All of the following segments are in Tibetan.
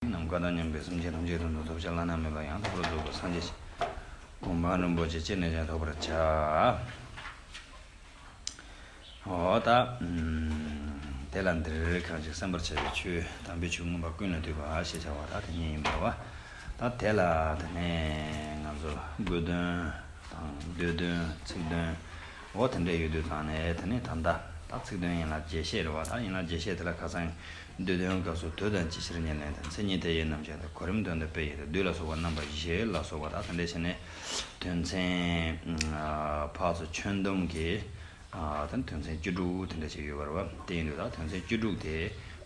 ནམ་མཁའ་དང་མཉམ་པའི་སེམས་ཅན་ཐམས་ཅད་དུ་འདུག་ཐོབ་བྱ་བླ་ན་མེད་པ་ཡང་དག་པར་རྫོགས་པར་སངས་རྒྱས་ཤིང། གོ་འཕང་རིན་པོ་ཆེ་སྐྱེས་ནས་ཀྱང་ཐོབ་པར་བྱ། ཧོ། དེ་ལ་འདིར་ཁ་ཅིག་སེམས་པར་བྱ་བའི་ཆོས་དམ་པའི་ཆོས་མངོན་པར་ཀུན་ལ་འདུས་པ་ཞེས་བྱ་བ་དག་དེ་ཉིད་ཡིན་པར་བ་དང་དེ་ལ་དེ་ནས་ང་ཚོར་དགོས་དོན་དང་འདོད་དོན་ཚིག་དོན་འོ་དེ་འདྲས་ཡོད་དུས་དང་ནས་དེ་ནི་ད་ལྟ་དང་ཚིག་དོན་ཡིན་ལ་རྒྱས་བཤད་རེ་བ་དག་ཡིན་ལ་རྒྱས་བཤད་དེ་ལ་ཁ་སང་འདོད་དོན་སྐབས་སུ་དུས་དང་ཅི་ཕྱིར་ཉེར་ལེན་དང་མཚན་ཉིད་དེ་ཡི་རྣམ་གཞག་དང་གོ་རིམ་དོན་དང་དཔེ་ཡི་དང་བསྡུས་ལ་སོགས་པ་རྣམ་པ་བཞི་ལ་སོགས་པ་དག་དེ་འདྲའི་ཕྱིར་ནི། དོན་ཚན། འཕགས་སུ་ཁྱོན་བསྡོམས་ཀྱི། དང་དོན་ཚན་བཅུ་དྲུག་དེ་འདྲ་ཅིག་ཡོད་པར་བ་དེ་ཡིན་དུས་དག་དོན་ཚན་བཅུ་དྲུག་དེ་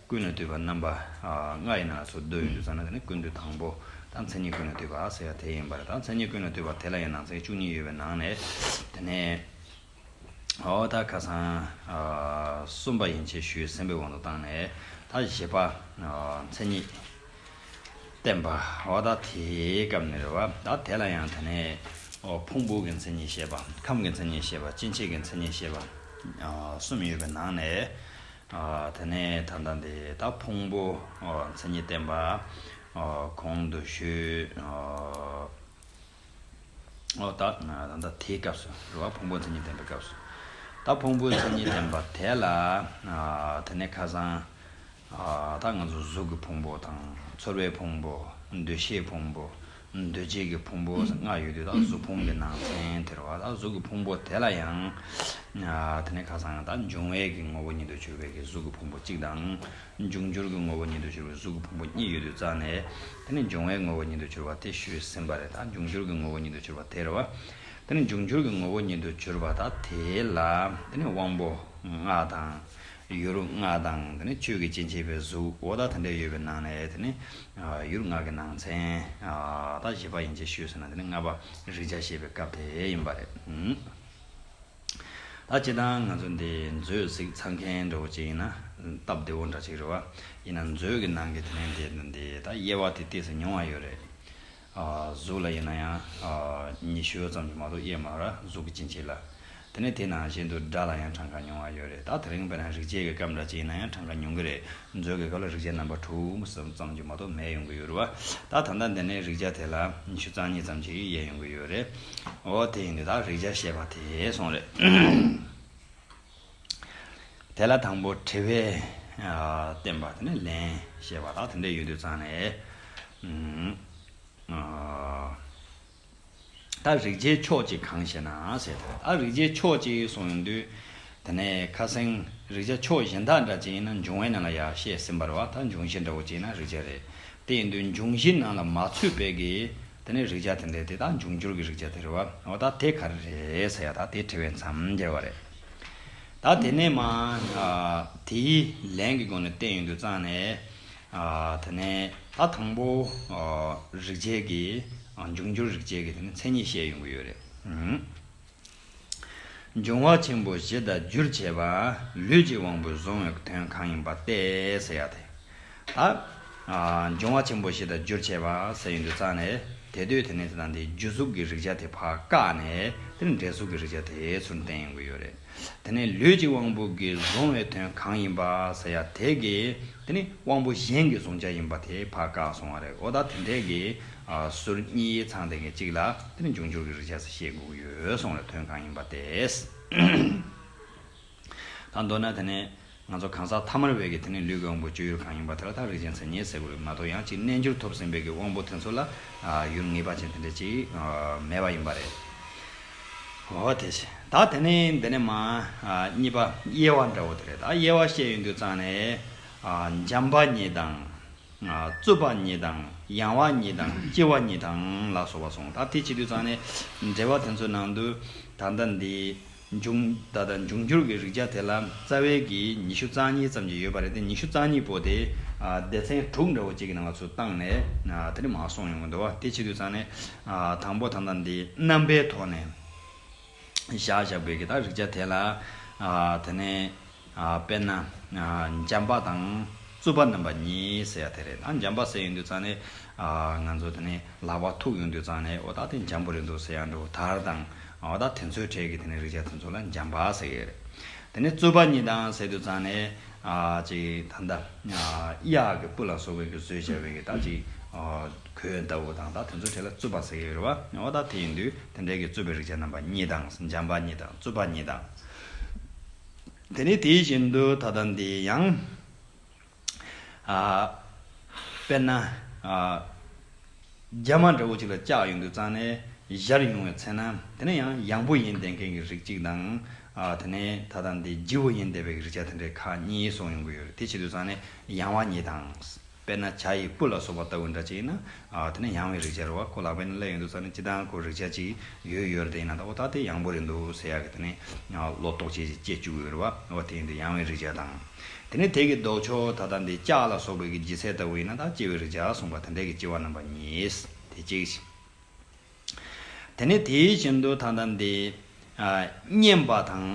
ཀུན་ལ་བསྡུས་པ་རྣམ་པ་ལྔ་ཡིན་ན་སོ་བསྡུ་ཡིན་དུས་ཙམ་ན་དེ་ནི་ཀུན་བསྡུ་དང་པོ་དག་མཚན་ཉིད་ཀུན་ལ་བསྡུས་པ་ཟེར་བ་དེ་ཡིན་པར་དག་མཚན་ཉིད་ཀུན་ལ་བསྡུས་པ་དེ་ལ་ཡང་ནང་ཚན་བཅུ་གཉིས་ཡོད་པའི་ནང་ནས་དེ་ནི། ད་ཁ་སང། གསུམ་པ་ཡིན་ཆེ་ཞུའི་སེམས་པའི་དབང་དུ་བཏང་ནས་ད་བཞི་པ། མཚན་ཉིད། བསྟན་པ། ད་དེའི་སྐབས་ནས་རེད་བ། ད་དེ་ལ་ཡང་དེ་ནས། ཕུང་པོ་གི་མཚན་ཉིད་ཤེས་པ། ཁམས་ཀྱི་མཚན་ཉིད་ཤེས་པ། སྐྱེ་མཆེད་ཀྱི་མཚན་ཉིད་ཤེས་པ། གསུམ་ཡོད་པའི་ནང་ནས། དེ་ནས་ད་ལྟ་འདི་ད་ཕུང་པོ། མཚན་ཉིད་བསྟན་པ། གོང་དུ་ཞུས། ཨོ་ད། ད་ལྟ་དེའི་སྐབས་སུ་རེད་བ། ཕུང་པོའི་མཚན་ཉིད་ལྡན་པའི་སྐབས་སུ། ད་ཕུང་པོའི་མཚན་ཉིད་ལྡན་པ་དེ་ལ། དེ་ནས་ཁ་སང། ད་ང་ཚོ་གཟུགས་ཀྱི་ཕུང་པོ་དང། ཚོར་བའི་ཕུང་པོ། འདུ་ཤེས་ཕུང་པོ། འདུ་བྱེད་ཀྱི་ཕུང་པོ་ཟེར་ལྔ་ཡོད་དུས་ད་གཟུགས་ཕུང་གི་ནང་ཚན་དེ་རེད་བ། ད་གཟུགས་ཀྱི་ཕུང་པོ་དེ་ལ་ཡང། དེ་ནས་ཁ་སང་ད་འབྱུང་བས་ཀྱི་ངོ་བོ་ཉིད་དུ་གྱུར་པའི་གཟུགས་ཀྱི་ཕུང་པོ་གཅིག་དང། འབྱུང་འགྱུར་གྱི་ངོ་བོ་ཉིད་དུ་གྱུར་པའི་གཟུགས་ཀྱི་ཕུང་པོ་གཉིས་ཡོད་དུས་རྩ་ནས་དེ་ནི་འབྱུང་བའི་ངོ་བོ་ཉིད་དུ་གྱུར་པ་དེ་ཞུས་ཟིན་པ་རེད་ད་འབྱུང་འགྱུར་གྱི་ངོ་བོ་ཉིད་དུ་གྱུར་པ་དེར་བ་དེ་ནི་འབྱུང་འགྱུར་གྱི་ངོ་བོ་ཉིད་དུ་གྱུར་པ་ད་དེ་ལ་དེ་ནི་དབང་པོ་ལྔ་དང། ཡུལ་ལྔ་དང་དེ་ནི་ཆོས་ཀྱི་སྤྱི་མཆེད་པའི་གཟུགས་འོ་ད་དེ་འདྲས་ཡོད་པའི་ནང་ནས་དེ་ནི་ཡུལ་ལྔ་གྱི་ནང་ཚན་ད་བཞི་པ་ཡིན་ཅེས་ཞུས་ཟིན་ན་དེ་ནི་ལྔ་པ་རིག་བྱ་ཞེས་པའི་སྐབས་དེ་ཡིན་པ་རེད། ད་བྱེད་དང་ང་ཚོ་འདི་མཛོད་གཟིགས་ཚང་མཁན་འདྲ་བོ་ཅིག་ཡིན་ན། སྟབས་བདེ་བོ་འདྲ་ཅིག་རེད་བ། ཡིན་ན་མཛོད་ཀྱི་ནང་གི་དེ་ནས་འདི་དང་འདི་ད་དབྱེ་བ་དེ་སྟེགས་སུ་མྱོང་བ་ཡོད་རེད། གཟུགས་ལ་ཡིན་ན་ཡང་ཉི་ཤུ་ཙམ་གྱི་མ་གཏོགས་དབྱེ་མ་ར་གཟུགས་ཀྱི་ཅི་མཆིས་ལ། དེ་ནས་དེ་ནང་བཞིན་དུ་སྒྲ་ལ་ཡང་གྲངས་ཀ་མྱོང་བ་ཡོད་རེད་ད་དེ་རིང་བས་ན་རིག་བྱེད་ཀྱི་སྐབས་འདྲ་ཅིག་ཡིན་ན་ཡང་གྲངས་ཀ་མྱོང་གི་རེད། མཛོད་ཀྱི་སྐབས་ལ་རིག་བྱེད་རྣམ་པ་དྲུག་མ་གསུམ་ཙམ་གྱི་མ་གཏོགས་མེད་ཡོང་གི་ཡོད་རུ་བ། ད་ད་ལྟ་འདི་ནས་རིག་བྱ་དེ་ལ་ཉི་ཤུ་རྩ་གཉིས་ཙམ་གྱི་དབྱེ་ཡོང་གི་ཡོད་རེད། འོ་དེ་ཡིན་དུས་ད་རིག་བྱ་བཤད་པ་དེ་སོང་རེད། དེ་ལ་དང་པོ་དྲི་བས་བསྟན་པ་དེ་ནས་ལན་བཤད་པ་དག་དེ་འདྲ་ཡོད་དུས་ཙང་ནས། ད་རིག་བྱེད་ཕྱོགས་གཅིག་གང་ཞེ་ན། ཨ་རིག་བྱེད་ཕྱོགས་གཅིག་གསུངས་ཡོང་དུས། དེ་ནས་ཁ་སེང་རིག་བྱ་ཕྱོགས་གཞན་དག་འདྲ་གཅིག་ཡིན་ན་འབྱུང་བའི་ནང་ལ་ཡག་བཤད་ཟིན་པར་བ་ད་འབྱུང་བཞི་འདྲ་བོ་གཅིག་ན་རིག་བྱ་རེད། དེ་ཡིན་དུས་འབྱུང་བཞི་ནང་ལ་མ་ཚུད་པའི་གི། དེ་ནས་རིག་བྱ་དེ་འདྲས་དེ་དག་འབྱུང་འགྱུར་གི་རིག་བྱ་དེ་རེད་བ། བ་ད་དེ་ག་རེ་རེད་ཟེར་ཡ་ད་དེ་དྲི་བའི་མཚམས་འགྱེལ་བ་རེད། ད་དེ་ནས་མ། དེའི་ལན་གི་སྒོ་ནས་བསྟན་ཡོང་དུས་གཙང་ནས། དེ་ནས་ད་དང་པོ་རིག་བྱེད་ཀྱི་འབྱུང་འགྱུར་རིག་བྱེད་ཀྱི་དེ་ནི་མཚན་ཉིད་བཤད་ཡོང་གི་ཡོད་རེད། འབྱུང་བ་ཆེན་པོ་བཞི་དང་རྒྱུར་བྱས་པ་ལུས་ཀྱི་དབང་པོས་བཟུང་བའི་དོན་གང་ཡིན་པ་སྟེ་ཟེར་ཡག་དེ། ད་འབྱུང་བ་ཆེན་པོ་བཞི་དང་རྒྱུར་བྱས་པ་ཟེར་ཡོང་དུས་ཙང་ནས་དེ་དུས་དེ་ནས་དེ་དང་དེའི་རྒྱུ་གཟུགས་ཀྱི་རིག་བྱ་དེ་བར་བཀག་ནས་དེ་ནི་འབྲས་གཟུགས་ཀྱི་རིག་བྱ་དེ་ཚུར་བསྟན་ཡོང་གི་ཡོད་རེད། དེ་ནས་ལུས་ཀྱི་དབང་པོ་གྱིས་གཟུང་བའི་དོན་གང་ཡིན་པ་ཟེར་ཡ་དེ་གི་དེ་ནི་དབང་པོ་གཞན་གྱིས་གཟུང་བྱ་ཡིན་པ་དེ་བར་བཀག་སོང་བ་རེད་འོ་ད་དེ་འདྲས་ཀྱི་ཟུར་གཉིས་ཡིག་ཚང་དེ་གི་གཅིག་ལ་དེ་ནི་འབྱུང་འགྱུར་གྱི་རིག་བྱ་ས་ཞེས་བསྒུགས་ཡོད་སོང་བའི་དོན་གང་ཡིན་པ་དེས་ད་མདོར་ན་དེ་ནི། ང་ཚོ་གང་ཟག་ཐ་མར་བས་ཀྱི་དེ་ནི་ལུས་ཀྱི་དབང་པོ་བཅུ་ཡུར་གང་ཡིན་པ་དེ་ལ་ཐག་རིང་ཅན་ཚད་མྱེད་ཟེར་དགོས་རིགས་མ་གཏོགས་ཡང་གཅིག་རྣལ་འབྱོར་ཐོབ་ཟིན་བས་ཀྱི་དབང་པོ་དེ་ཚོ་ལ་ཡུར་ངེས་པ་ཅན་དེ་འདྲ་ཅིག་མེད་པ་ཡིན་པ་རེད། ཧོ་དེ་བྱས་ད་དེ་ནི་འདི་ནས་མ། གཉིས་པ་དབྱེ་བ་འདྲ་བོ་དེ་རེད་ད་དབྱེ་བ་བཤད་ཡོད་འདུག་ཙང་ནས། འཇམ་པ་ཉིད་དང། རྩུབ་པ་ཉིད་དང་ཡང་བ་ཉིད་དང་ལྕི་བ་ཉིད་དང་ལ་སོགས་པ་གསུངས་ད་དེ་བྱེད་དུས་ཙང་ནས་འགྲེལ་བ་དེ་ཚོའི་ནང་དུ་ད་ལྟ་འདི། འབྱུང་བརྡ་དང་འབྱུང་འགྱུར་གྱི་རིགས་ཆ་དེ་ལ་རྩ་བའི་གིས་ཉི་ཤུ་རྩ་གཉིས་ཙམ་གྱི་ཡོད་པ་རེད་དེ་ཉི་ཤུ་རྩ་གཉིས་པོ་དེ་སྡེ་ཚན་དྲུག་འདྲ་བོ་གཅིག་གི་ནང་ལ་ཚུར་བཏང་ནས་དེ་འདྲ་མ་སོང་ཡོང་གི་འདུག་བ་དེ་ཕྱི་དུས་ཚང་ནས་དང་པོ་ད་ལྟ་འདི་རྣམ་པའི་ཐོག་ནས་བཞག་བཞག་དགོས་གི་ད་རིགས་ཆ་དེ་ལ་དེ་ནས། དཔེར་ན། འཇམ་པ་དང་རྩུབ་པ་རྣམ་པ་གཉིས་ཟེར་ཡ་དེ་རེད། འཇམ་པ་ཟེར་ཡོང་དུས་ཙང་ནས། ང་ཚོ་དེ་ནས་ལག་པ་ཐུག་ཡོང་དུས་ཙང་ནས་འོ་ད་དེ་འཇམ་པོ་རེད་འདུག་ཟེར་ཡ་འདུག་དར་དང། འོ་ད་དེ་ཚོའི་གྲས་ཀྱི་དེ་ནས་རིགས་ཅན་དེ་ཚོ་ལ་འཇམ་པ་ཟེར་ཡོད་རེད། དེ་ནས་རྩུབ་པ་གཉིས་དང་ཟེར་དུས་ཙང་ནས། ཅིག་ད་ལྟ། གཡག་གི་སྤུ་ལ་སོགས་པའི་གི་བཟོས་བྱས་པའི་གི་ད་ཅིག། གོས་ལྟ་བུ་དང་ད་དེ་ཚོའི་གྲས་ལ་རྩུབ་པ་ཟེར་ཡོད་རེད་བ། འོ་ད་དེ་ཡིན་དུས་དེ་འདྲའི་གི་རྩུབ་པའི་རིགས་ཅན་རྣམ་པ་གཉིས་དང་འཇམ་པ་གཉིས་དང་རྩུབ་པ་གཉིས་དང། དེ་ནི་དེ་བཞིན་དུ་ད་ལྟ་འདི་ཡང། དཔེར་ན། རྒྱ་མ་འདྲ་བོ་གཅིག་ལ་ལྕགས་ཡོད་འདུག་ཙང་ནས་གཞར་ཡོང་བའི་ཚེ་ན་དེ་ནི་ཡང་ཡངས་པོ་ཡིན་བསྡད་མཁན་གྱི་རིགས་གཅིག་དང། དེ་ནས་ད་ལྟ་འདི་སྒྱིད་བོ་ཡིན་བསྡད་པའི་རིགས་ཆ་དེ་འདྲའི་ཁག་གཉིས་སོགས་ཡོང་གི་ཡོད་རེད་དེ་ཕྱིར་དུ་ཙང་ནས་ཡངས་བ་ཉིད་དང། དཔེར་ན་བྱ་ཡི་སྤུ་ལ་སོགས་པ་ལྟ་བུའི་འདྲ་ཅིག་ཡིན་ན། དེ་ནི་ཡང་བའི་རིག་བྱ་རེད་བ་ཁོ་ལག་པས་ནི་བསླད་ཡོད་འདུག་ས་ནི་ཅི་ལྟའང་ཁོ་རིག་བྱ་ཅིག་ཡོད་ཡོད་རེད་ཡིན་ན་ད་ཨོ་ད་དེ་ཡང་བོ་རེད་འདུག་ཟེར་ཡག་གི་དེ་ནི་ལོ་ཏོག་ཅིག་ཅིག་སྐྱེས་བཅུག་ཡོད་རེད་བ་ཨོ་དེ་ཡིན་དུས་ཡང་བའི་རིག་བྱ་དང། དེ་ནི་དེ་གི་ལྡོག་ཕྱོགས་ད་ལྟ་འདི་ལྕགས་ལ་སོགས་པའི་གི་ལྗིད་ཚད་ལྟ་བུ་ཡིན་ན་ད་སྐྱེ་བའི་རིག་བྱ་གསུངས་པ་དེ་འདྲའི་གི་སྐྱེ་བ་རྣམ་པ་གཉིས། དེ་གཅིག། དེ་ནས་དེའི་གཞན་དུ་ཐང་དང་དེའི། བསྙེན་པ་དང།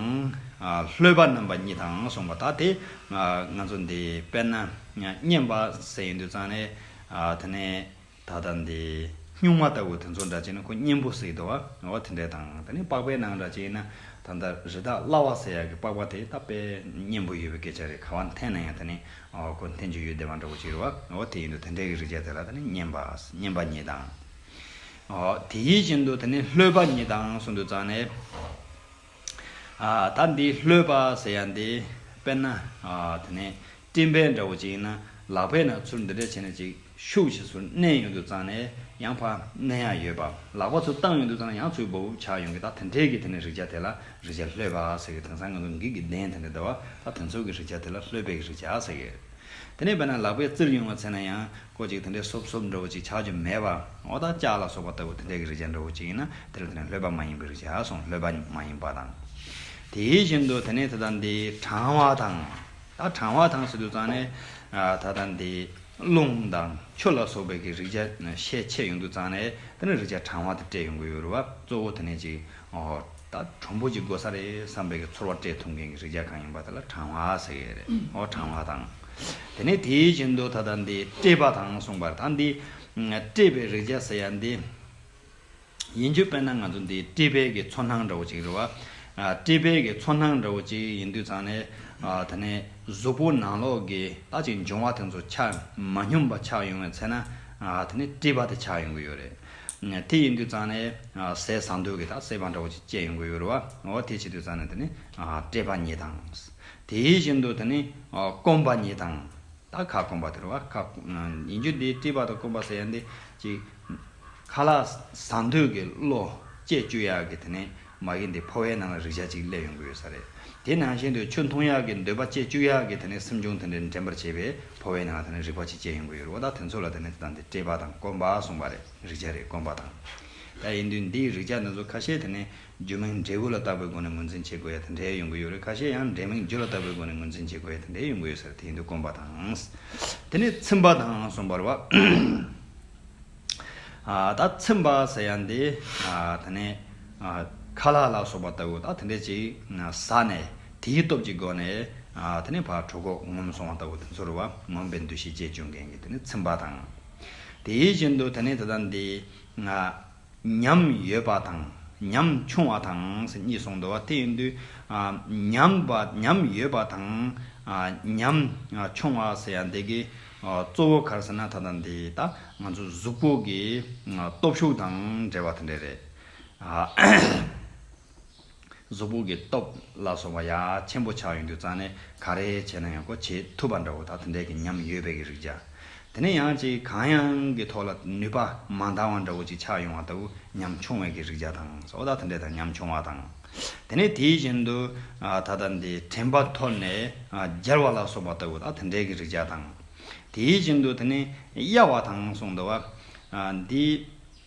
ལྷོད་པ་རྣམ་པ་གཉིས་དང་གསུངས་པ་དག་དེ། ང་ཚོ་འདི་དཔེར་ན། བསྙེན་པ་ཟེར་ཡིན་དུས་ཙང་ནས། དེ་ནས་ད་ལྟ་འདི། སྨྱུག་མ་ལྟ་བུ་དེ་ཚོ་འདྲ་ཅན་ནི་ཁོ་བསྙེན་པོ་ཟེར་དུ་བ་དེ་འདྲས་དང། དེ་ནས་པགས་པའི་ནང་འདྲ་ཅན་ཡིན་ན། ད་ལྟ་རི་དྭགས་གླ་བ་ཟེར་ཡག་གི་པགས་པ་དེ་ད་པས་བསྙེན་པོ་ཡོད་པའི་སྐད་ཆ་རེད་ག་བ་འཐེན་ན་ཡང་དེ་ནི། ཁོ་འཐེན་རྒྱུ་ཡོད་བདེ་བ་འདྲ་བོ་ཅིག་རེད་བ་དེ་ཡིན་དུས་དེ་འདྲས་ཀྱི་རིགས་ཆ་དེ་ལ་ད་ནི་བསྙེན་པ། བསྙེན་པ་གཉིས་དང། དེ་ཡིད་བཞིན་དུ་དེ་ནི་ལྷོད་པ་ཉིད་དང་གསུམ་དུ་བརྩམས་ནས། ད་འདི་ལྷོད་པ་ཟེར་ཡ་འདི། དཔེར་ན། དེ་ནི་སྤྲིན་བལ་འདྲ་བོ་ཅིག་ཡིན་ན་ལག་པས་ན་ཚུར་འདི་འདྲ་བྱས་ན་ཅིག་ཤུགས་ཆེ་ཚུར་མནན་ཡོང་དུ་བརྩམས་ནས་ཡང་ཕར་མནན་ཡ་ཡོད་པ་ལག་པ་ཚུར་བཏང་ཡོང་དུ་བརྩམས་ན་ཡང་ཚུར་བབ་བུབ་ཆགས་ཡོང་གི་ད་དེ་འདྲས་ཀྱི་དེ་ནི་རིག་བྱ་དེ་ལ་རིག་བྱ་ལྷོད་པ་ཟེར་གི་དེང་སང་ང་ཚོ་འགིག་གི་བདེན་དེ་འདྲ་འདི་བ་ད་དེ་ཚོ་གི་རིག་བྱ་དེ་ལ་ལྷོད་པའི་རིག་བྱ་ཟེར་གི། དེ་ནི་དཔེར་ན་ལག་པས་བཙིར་ཡོང་བ་བྱས་ན་ཡང་སྐོར་ཅིག་དེ་འདྲའི་སོབ་སོབ་འདྲ་བོ་ཅིག་ཆགས་རྒྱུ་མེད་པ། ཨོ་དང་ལྕགས་ལ་སོགས་པ་ལྟ་བུ་དེ་འདྲའི་གི་རིག་བྱ་འདྲ་བོ་ཅིག་ཡིན་ན་དེ་ལ་དེ་ནི་ལྷོད་པ་མ་ཡིན་པའི་རིག་བྱ་སོང་ལྷོད་པ་མ་ཡིན་པ་དང། དེའི་བཞིན་དུ་དེ་ནས་ད་ལྟ་འདི་གྲང་བ་དང། ད་གྲང་བ་དང་ཟེར་དུས་ཙང་ནས། ད་ལྟ་འདི་རླུང་དང་ཆུ་ལ་སོགས་པའི་གི་རིག་བྱ་ཤས་ཆེ་ཡོང་དུས་ཙང་ནས་དེ་ནི་རིག་བྱ་གྲང་བ་དེ་སྤྲད་ཡོང་གི་ཡོད་རུང་བ་གཙོ་བོ་དེ་ནས་ཅིག་ཨོ། ད་གྲུམ་བུ་ཅིག་དགོས་ས་རེད་བསམ་པའི་གི་ཚོར་བ་སྤྲད་ཐུབ་མཁན་གི་རིག་བྱ་གང་ཡིན་པ་དེ་ལ་གྲང་བ་ཟེར་གི་རེད་ཨོ་གྲང་བ་དང། དེ་ནས་དེའི་བཞིན་དུ་ད་ལྟ་འདི་བཀྲེས་པ་དང་གསུངས་པར་ད་འདི་བཀྲེས་པའི་རེག་བྱ་ཟེར་ཡ་འདི། ཡིན་རྒྱུ་དཔེར་ན་ང་ཚོ་འདི་བཀྲེས་པས་ཀྱི་ཚོར་སྣང་འདྲ་བོ་ཅིག་རེད་བ། བཀྲེས་པས་ཀྱི་ཚོར་སྣང་འདྲ་བོ་ཅིག་ཡིན་དུས་ཚང་ནས་ད་ནས་གཟུགས་པོ་ནང་ལོགས་ཀྱི་ལྟ་ཅིག་འབྱུང་བ་དེ་ཚོ་ཆགས་མ་སྙོམས་པ་ཆགས་ཡོང་བའི་ཚེ་ན་ད་ནས་བཀྲེས་པ་དེ་ཆགས་ཡོང་གི་ཡོད་རེད། དེ་ཡིན་དུས་ཚང་ནས་ཟས་བཟང་དུས་ཀྱི་དག་སེལ་བ་འདྲ་བོ་ཅིག་སྐྱེས་ཡོང་གི་ཡོད་རེད་བ། འོ་དེ་བྱེད་དུས་ཚང་ནས་ད་ནས་བཀྲེས་པ་ཉིད་དང། དེ་བཞིན་དུ་དེ་ནི་སྐོམ་པ་ཉིད་དང། ད་ཁ་སྐོམ་པ་དེར་བ་ཁ། ཡིན་རྒྱུ་འདི་དཀྲིས་པ་དང་སྐོམ་པ་ཟེར་ཡང་འདི་གཅིག། ཁ་ལ་ཟངས་དུད་ཀྱི་གློ། ལྕེ་བཅུ་ཡག་གི་དེ་ནི་མ་གིན་འདི་ཕོ་བའི་ནང་ལ་རིག་བྱ་གཅིག་སླེབས་ཡོང་གི་ཡོད་ས་རེད། དེ་ནང་བཞིན་དུ་ཆུ་འཐུང་ཡག་གི་འདོད་པ་ལྕེ་བཅུ་ཡག་གི་དེ་ནི་སེམས་བྱུང་དེ་འདྲའི་འདྲེན་པར་བྱེད་པའི་ཕོ་བའི་ནང་ལ་དེ་ནི་རིག་པ་གཅིག་སྐྱེ་ཡོང་གི་ཡོད་རེད་བ་ད་དེ་ཚོ་ལ་དེ་ནི་དེ་དང་འདི་དཀྲིས་པ་དང་སྐོམ་པ་གསུངས་པ་རེད་རིག་བྱ་རེད་སྐོམ་པ་དང། ད་ཡིན་དུས་འདིའི་རིག་བྱ་འདི་ཚོ་ཁ་ཤས་དེ་ནི་རྒྱུ་མིང་འབྲས་བུ་ལ་བཏགས་པའི་སྒོ་ནས་ངོས་འཛིན་བྱེད་དགོས་ཡ་དེ་འདྲའི་ཡོང་གི་ཡོད་རེད་ཁ་ཤས་ཡང་འབྲས་མིང་རྒྱུ་ལ་བཏགས་པའི་སྒོ་ནས་ངོས་འཛིན་བྱེད་དགོས་ཡ་དེ་འདྲའི་ཡོང་གི་ཡོད་ཟེར་དེ་ཡིན་དུས་དཀོན་པ་དང། དེ་ནས་ཚིམ་པ་དང་གསུམ་པར་བ། ད་ཚིམ་པ་ཟེར་ཡ་འདི་ད་ནི་ཁ་ལག་ལ་སོགས་པ་ལྟ་བུ་དང་དེ་འདྲས་ཅིག་ཟ་ནས་དེའི་སྟོབས་ཀྱི་སྒོ་ནས་དེ་ནི་བར་དྲོ་གོག་ངོམ་སོང་བ་ལྟ་བུ་དེ་ཚོར་བ་ངོམ་པའི་འདུ་ཤེས་བཅས་བྱུང་མཁན་གྱི་དེ་ནི་ཚིམ་པ་དང། དེ་བཞིན་དུ་དེ་ནི་ད་ལྟ་འདི། ཉམས་ཡོད་པ་དང་ཉམས་ཆུང་བ་དང་གཉིས་གསུངས་འདུག་དེ་ཡིན་དུས། ཉམས་ཡོད་པ་དང་ཉམས་ཆུང་བ་ཟེར་ཡང་འདི་གའི་གཙོ་བོ་གར་ཟེར་ན་ད་ལྟ་འདི་ལྟ། ང་ཚོ་གཟུགས་པོ་གི་སྟོབས་ཤུགས་དང་འབྲེལ་བ་དེ་འདྲ་རེད། གཟུགས་ཕུག་གི་སྟོབས་ལ་སོགས་པ་ཡ་ཆེན་པོ་ཆགས་ཡོང་དུས་རྩ་ནས་ག་རེ་བྱས་ན་ཡང་གོ་བྱེད་ཐུབ་པ་འདྲ་བོ་དག་དེ་འད་ཀྱི་ཉམས་ཡོད་པས་ཀྱི་རིག་བྱ། དེ་ནས་ཡང་ཅིག་གང་ཡང་གི་ཐོག་ལ་ནུས་པ་མ་འདང་བ་འདྲ་བོ་ཅིག་ཆགས་ཡོང་བ་ལྟ་བུ་ཉམས་ཆུང་བས་ཀྱི་རིག་བྱ་དང་སོགས་དག་དེ་འད་དང་ཉམས་ཆུང་བ་དང། དེ་ནས་དེ་བཞིན་དུ་ད་ལྟ་འདི་དྲན་པ་འཐོར་ནས་འགྱེལ་བ་ལ་སོགས་པ་ལྟ་བུ་དག་དེ་འད་ཀྱི་རིག་བྱ་དང། དེ་བཞིན་དུ་དེ་ནས་གཡའ་བ་དང་གསུངས་འདུག་བ། འདི།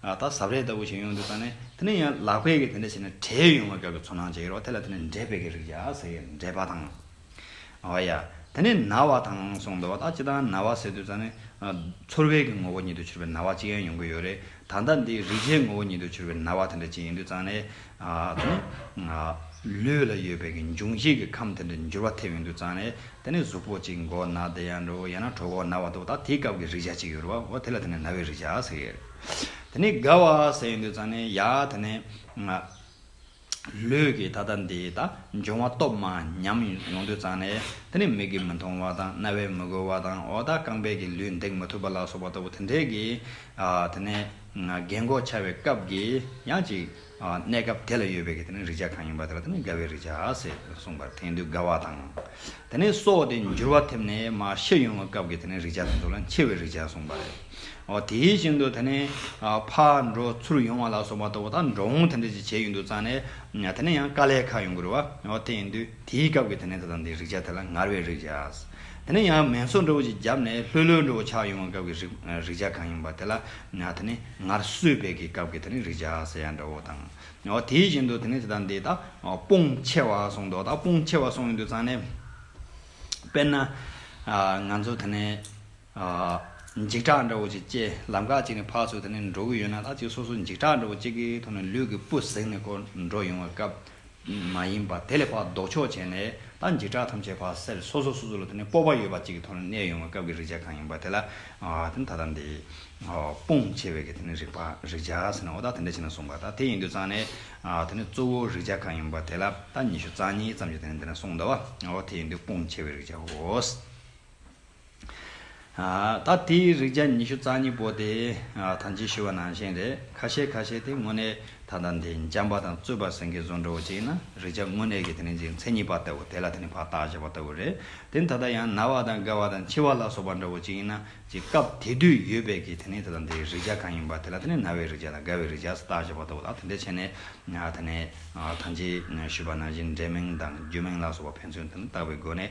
ད་གཟབ་རས་ལྟ་བུ་ཞིག་ཡོང་འདུག་ད་ནི་དེ་ནི་ཡང་ལག་པས་ཀྱིས་དེ་འདྲ་བྱས་ན་གྲེ་ཡོང་བའི་སྐབས་ཀྱི་ཚོར་སྣང་ཅིག་ཡོད་རོགས་དེ་ལ་དེ་ནི་འདྲེ་བད་ཀྱི་རིགས་ཡ་ཟེར་གྱི་འདྲེ་བ་དང། ཨོ་ཡ། དེ་ནི་ན་བ་དང་གསུངས་འདུག་ད་ཅི་དང་ན་བ་ཟེར་དུས་ད་ནི། ཚོར་བས་ཀྱི་ངོ་བོ་ཉིད་དུ་གྱུར་པའི་ན་བ་ཅིག་ཡང་ཡོང་གི་ཡོད་རེད་ད་ལྟ་འདི་རིག་བྱའི་ངོ་བོ་ཉིད་དུ་གྱུར་པའི་ན་བ་དེ་འདྲ་ཅིག་ཡིན་དུས་ད་ནི། དེ་ནི། ལུས་ལ་ཡོད་པའི་འབྱུང་བྱེད་ཀྱི་ཁམས་དེ་འདྲའི་འགྱུར་བ་ཐེབས་ཡོང་དུས་ཙང་ནས་དེ་ནི་གཟུགས་པོ་གཅིག་མགོ་ན་བདེ་ཡང་འགྲོ་ཡང་ན་གྲོགས་པོ་ན་བ་འདུག་ད་དེའི་སྐབས་ཀྱི་རེག་བྱ་གཅིག་ཡོད་རུང་བ་དེ་ལ་དེ་ནི་ན་བའི་རེག་བྱ་ཟེར་གྱི་ཡོད། དེ་ནི་དགའ་བ་ཟེར་ཡོང་དུས་ཙང་ནས་ཡ་དེ་ནི། ལུས་ཀྱི་ད་ལྟ་འདི་ད་འབྱུང་བ་སྟོབས་མ་ཉམས་ཡོང་དུས་ཙང་ནས་དེ་ནི་མིག་གིས་མི་མཐོང་བ་དང་རྣ་བས་མི་གོ་བ་དང་འོ་ད་རྐང་པས་ཀྱི་ལུས་འདེགས་མི་ཐུབ་པ་ལ་སོགས་པ་ལྟ་བུ་དེ་འདྲའི་གིས་དེ་ནི། རྒན་འགོག་བྱ་བའི་སྐབས་ཀྱི་ཡང་ཅིག་གནས་སྐབས་དེ་ལ་ཡོད་པའི་རིག་བྱ་གང་ཡིན་པ་དེ་ལ་དེ་ནི་དགའ་བའི་རིག་བྱ་ཞེས་གསུངས་པར་དེང་དུས་དགའ་བ་དང། དེ་ནས་སོགས་ཏེ་འགྱུར་བ་ཐེབས་ནས་མ་ཤི་ཡོང་བའི་སྐབས་ཀྱི་དེ་ནི་རིག་བྱ་དང་དུ་ལ་འཆི་བའི་རིག་བྱ་གསུངས་པ་ལས། དེ་བཞིན་དུ་དེ་ནི་ཕ་འགྲོ་ཚུར་ཡོང་བ་ལ་སོགས་པ་ལྟ་བུ་དག་འགྲོ་འོང་དེ་འདྲ་ཅིག་བྱས་ཡོད་འདུག་ཙང་ནས་དེ་ནི་ཡང་དཀའ་ལས་ཁག་ཡོང་གི་རུ་བ་དེ་ཡིན་དུས། དེའི་སྐབས་ཀྱི་དེ་ནས་ད་ལྟ་འདིའི་རིག་བྱ་དེ་ལ་ངར་བའི་རིག་བྱ། དེ་ནས་ཡང་མེ་མཚོ་འགྲོ་བོ་ཅིག་བརྒྱབ་ནས་ལྷོད་ལྷོད་འགྲོ་བོ་ཆགས་ཡོང་བའི་སྐབས་ཀྱི་རིག་བྱ་གང་ཡིན་པ་དེ་ལ་དེ་ནི་ངར་གསོད་བད་ཀྱི་སྐབས་ཀྱི་དེ་ནི་རིག་བྱ་ཟེར་ཡ་འདྲ་བོ་དང། དེ་བཞིན་དུ་དེ་ནས་ད་ལྟ་འདི་དག་སྤོང་ཆེ་བ་སོང་དོ་ད་སྤོང་ཆེ་བ་སོང་ཡོང་དུས་ཚང་ནས་དཔེར་ན། ང་ཚོ་དེ་ནས། འཇིགས་སྐྲག་འདྲ་བོ་ཅིག་སྐྱེས། ལམ་ཁ་ཅིག་ནས་ཕར་ཚུར་དེད་ནས་འགྲོ་གི་ཡོད་ན་ལྷ་གཅིག་སོ་སོ་འཇིགས་སྐྲག་འདྲ་བོ་ཅིག་གི་ཐོག་ནས་ལུས་ཀྱི་སྤུ་ཟེགས་ནས་འཁོར་འགྲོ་ཡོང་བའི་སྐབས་མ་ཡིན་པར་དེ་ལས་ཕར་ལྡོག་ཕྱོགས་བྱས་ནས་ད་འཇིགས་སྐྲག་ཐམས་ཅད་ཕར་སེལ་སོ་སོ་སོ་སོ་ལ་དེ་ནས་སྤོབས་པ་ཡོད་པ་ཅིག་གི་ཐོག་ནས་གནས་ཡོང་བའི་སྐབས་ཀྱི་རིག་བྱ་གང་ཡིན་པ་དེ་ལ་ད་ལྟ་འདི་སྤོང་བྱེད་པའི་དེ་ནས་རིག་པ་རིག་བྱ་ཟེར་ན་འོ་ད་དེ་འདྲ་བྱས་ན་གསུངས་པ་ད་དེ་ཡིན་དུས་ཙང་ནས་དེ་ནས་གཙོ་བོ་རིག་བྱ་གང་ཡིན་པ་དེ་ལ་ད་ཉི་ཤུ་རྩ་གཉིས་ཙམ་གྱི་དེ་ནས་འདི་ན་གསུངས་འདུག་བ་འོ་དེ་ཡིན་དུས་སྤོང་བྱེད་པའི་རིག་བྱའོ། ད་ལྟའི་རིག་བྱ་ཉི་ཤུ་རྩ་གཉིས་པོ་དེ་ཐམས་ཅད་ཤི་བ་ནང་བཞིན་རེད། ཁ་ཤས་ཁ་ཤས་དེ་དངོས་གནས་ད་ལྟ་འདི་འཇམ་པ་དང་རྩོད་པ་ཟིང་གེ་བཟོ་འདྲ་བོ་ཅིག་ན་རིག་བྱ་དངོས་གནས་ཀྱི་དེ་རིང་ཅིག་མཚན་ཉིད་པ་ལྟ་བུ་དེ་ལ་དེ་རིང་བར་ཐག་བཞག་པ་ལྟ་བུ་རེད། དེ་ད་ལྟ་ཡང་ན་བ་དང་རྒ་བ་དང་འཆི་བ་ལ་སོགས་པ་འདྲ་བོ་ཅིག་ཡིན་ན་ཅིག་སྐབས་དེ་དུས་ཡོད་པའི་ཀྱི་དེ་རིང་ད་ལྟ་འདི་རིག་བྱ་གང་ཡིན་པ་དེ་ལ་དེ་རིང་ན་བའི་རིག་བྱ་དང་རྒ་བའི་རིག་བྱ་ཟེར་བརྟག་བཞག་པ་ལྟ་བུ་ལ་དེ་འདྲའི་ཆེ་ནས་དེ་ནས་ཐམས་ཅད་ཤི་བ་ནང་བཞིན་འབྲས་མིང་དང་རྒྱུ་མིང་ལ་སོགས་པ་ཕན་ཚུན་དེ་རིང་བརྟག་པའི་སྒོ་ནས་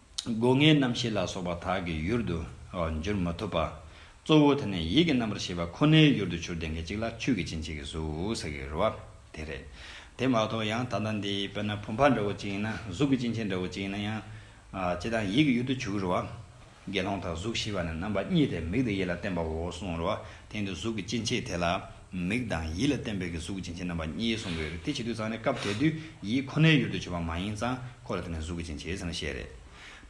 སྒོ་ངའི་རྣམ་ཤེས་ལ་སོགས་པ་དག་གི་ཡུལ་དུ་འགྱུར་མ་ཐུབ་པ། གཙོ་བོ་དེ་ནི་ཡིད་ཀྱི་རྣམ་པར་ཤེས་པ་ཁོ་ནའི་ཡུལ་དུ་འཕྱུར་ཏེ་མཁན་གཅིག་ལ་ཆོས་ཀྱི་སྤྱིན་ཆེ་གེ་སུ་ཟེར་གི་རུ་བ་དེ་རེད། དེ་མ་གཏོགས་ཡང་ད་ལྟ་འདི་དཔེར་ན་བུམ་པ་འདྲ་བོ་གཅིག་ཡིན་ན་གཟུགས་ཀྱི་སྤྱིན་ཆེན་འདྲ་བོ་གཅིག་ཡིན་ན་ཡང། ཅི་དང་ཡིད་ཀྱི་ཡུལ་དུ་འཕྱུར་གི་རུ་བ། དགེ་སློང་དག་གཟུགས་ཞི་བ་ནི་རྣམ་པ་གཉིས་ཏེ་མིག་དང་ཡིད་ལ་བརྟེན་པའོ་གསུང་རུ་བ་དེ་འདི་གཟུགས་ཀྱི་སྤྱིན་ཆེ་དེ་ལ། མིག་དང་ཡིད་ལ་བརྟེན་པའི་གི་གཟུགས་སྦྱིན་བྱེད་རྣམ་པ་གཉིས་གསུངས་པའི་རིགས་དེ་བྱེད་དུ་ཚང་ནས་སྐབས་དེ་དུས་ཡིད་ཁོ་ནའི་ཡུལ་དུ་བྱེད་པ་མ་ཡིན་ཙང་ཁོ་ལ་བརྟེན་ནས་གཟུགས་ཀྱི་སྦྱིན་བྱེད་ཚང་བཤད་རེད།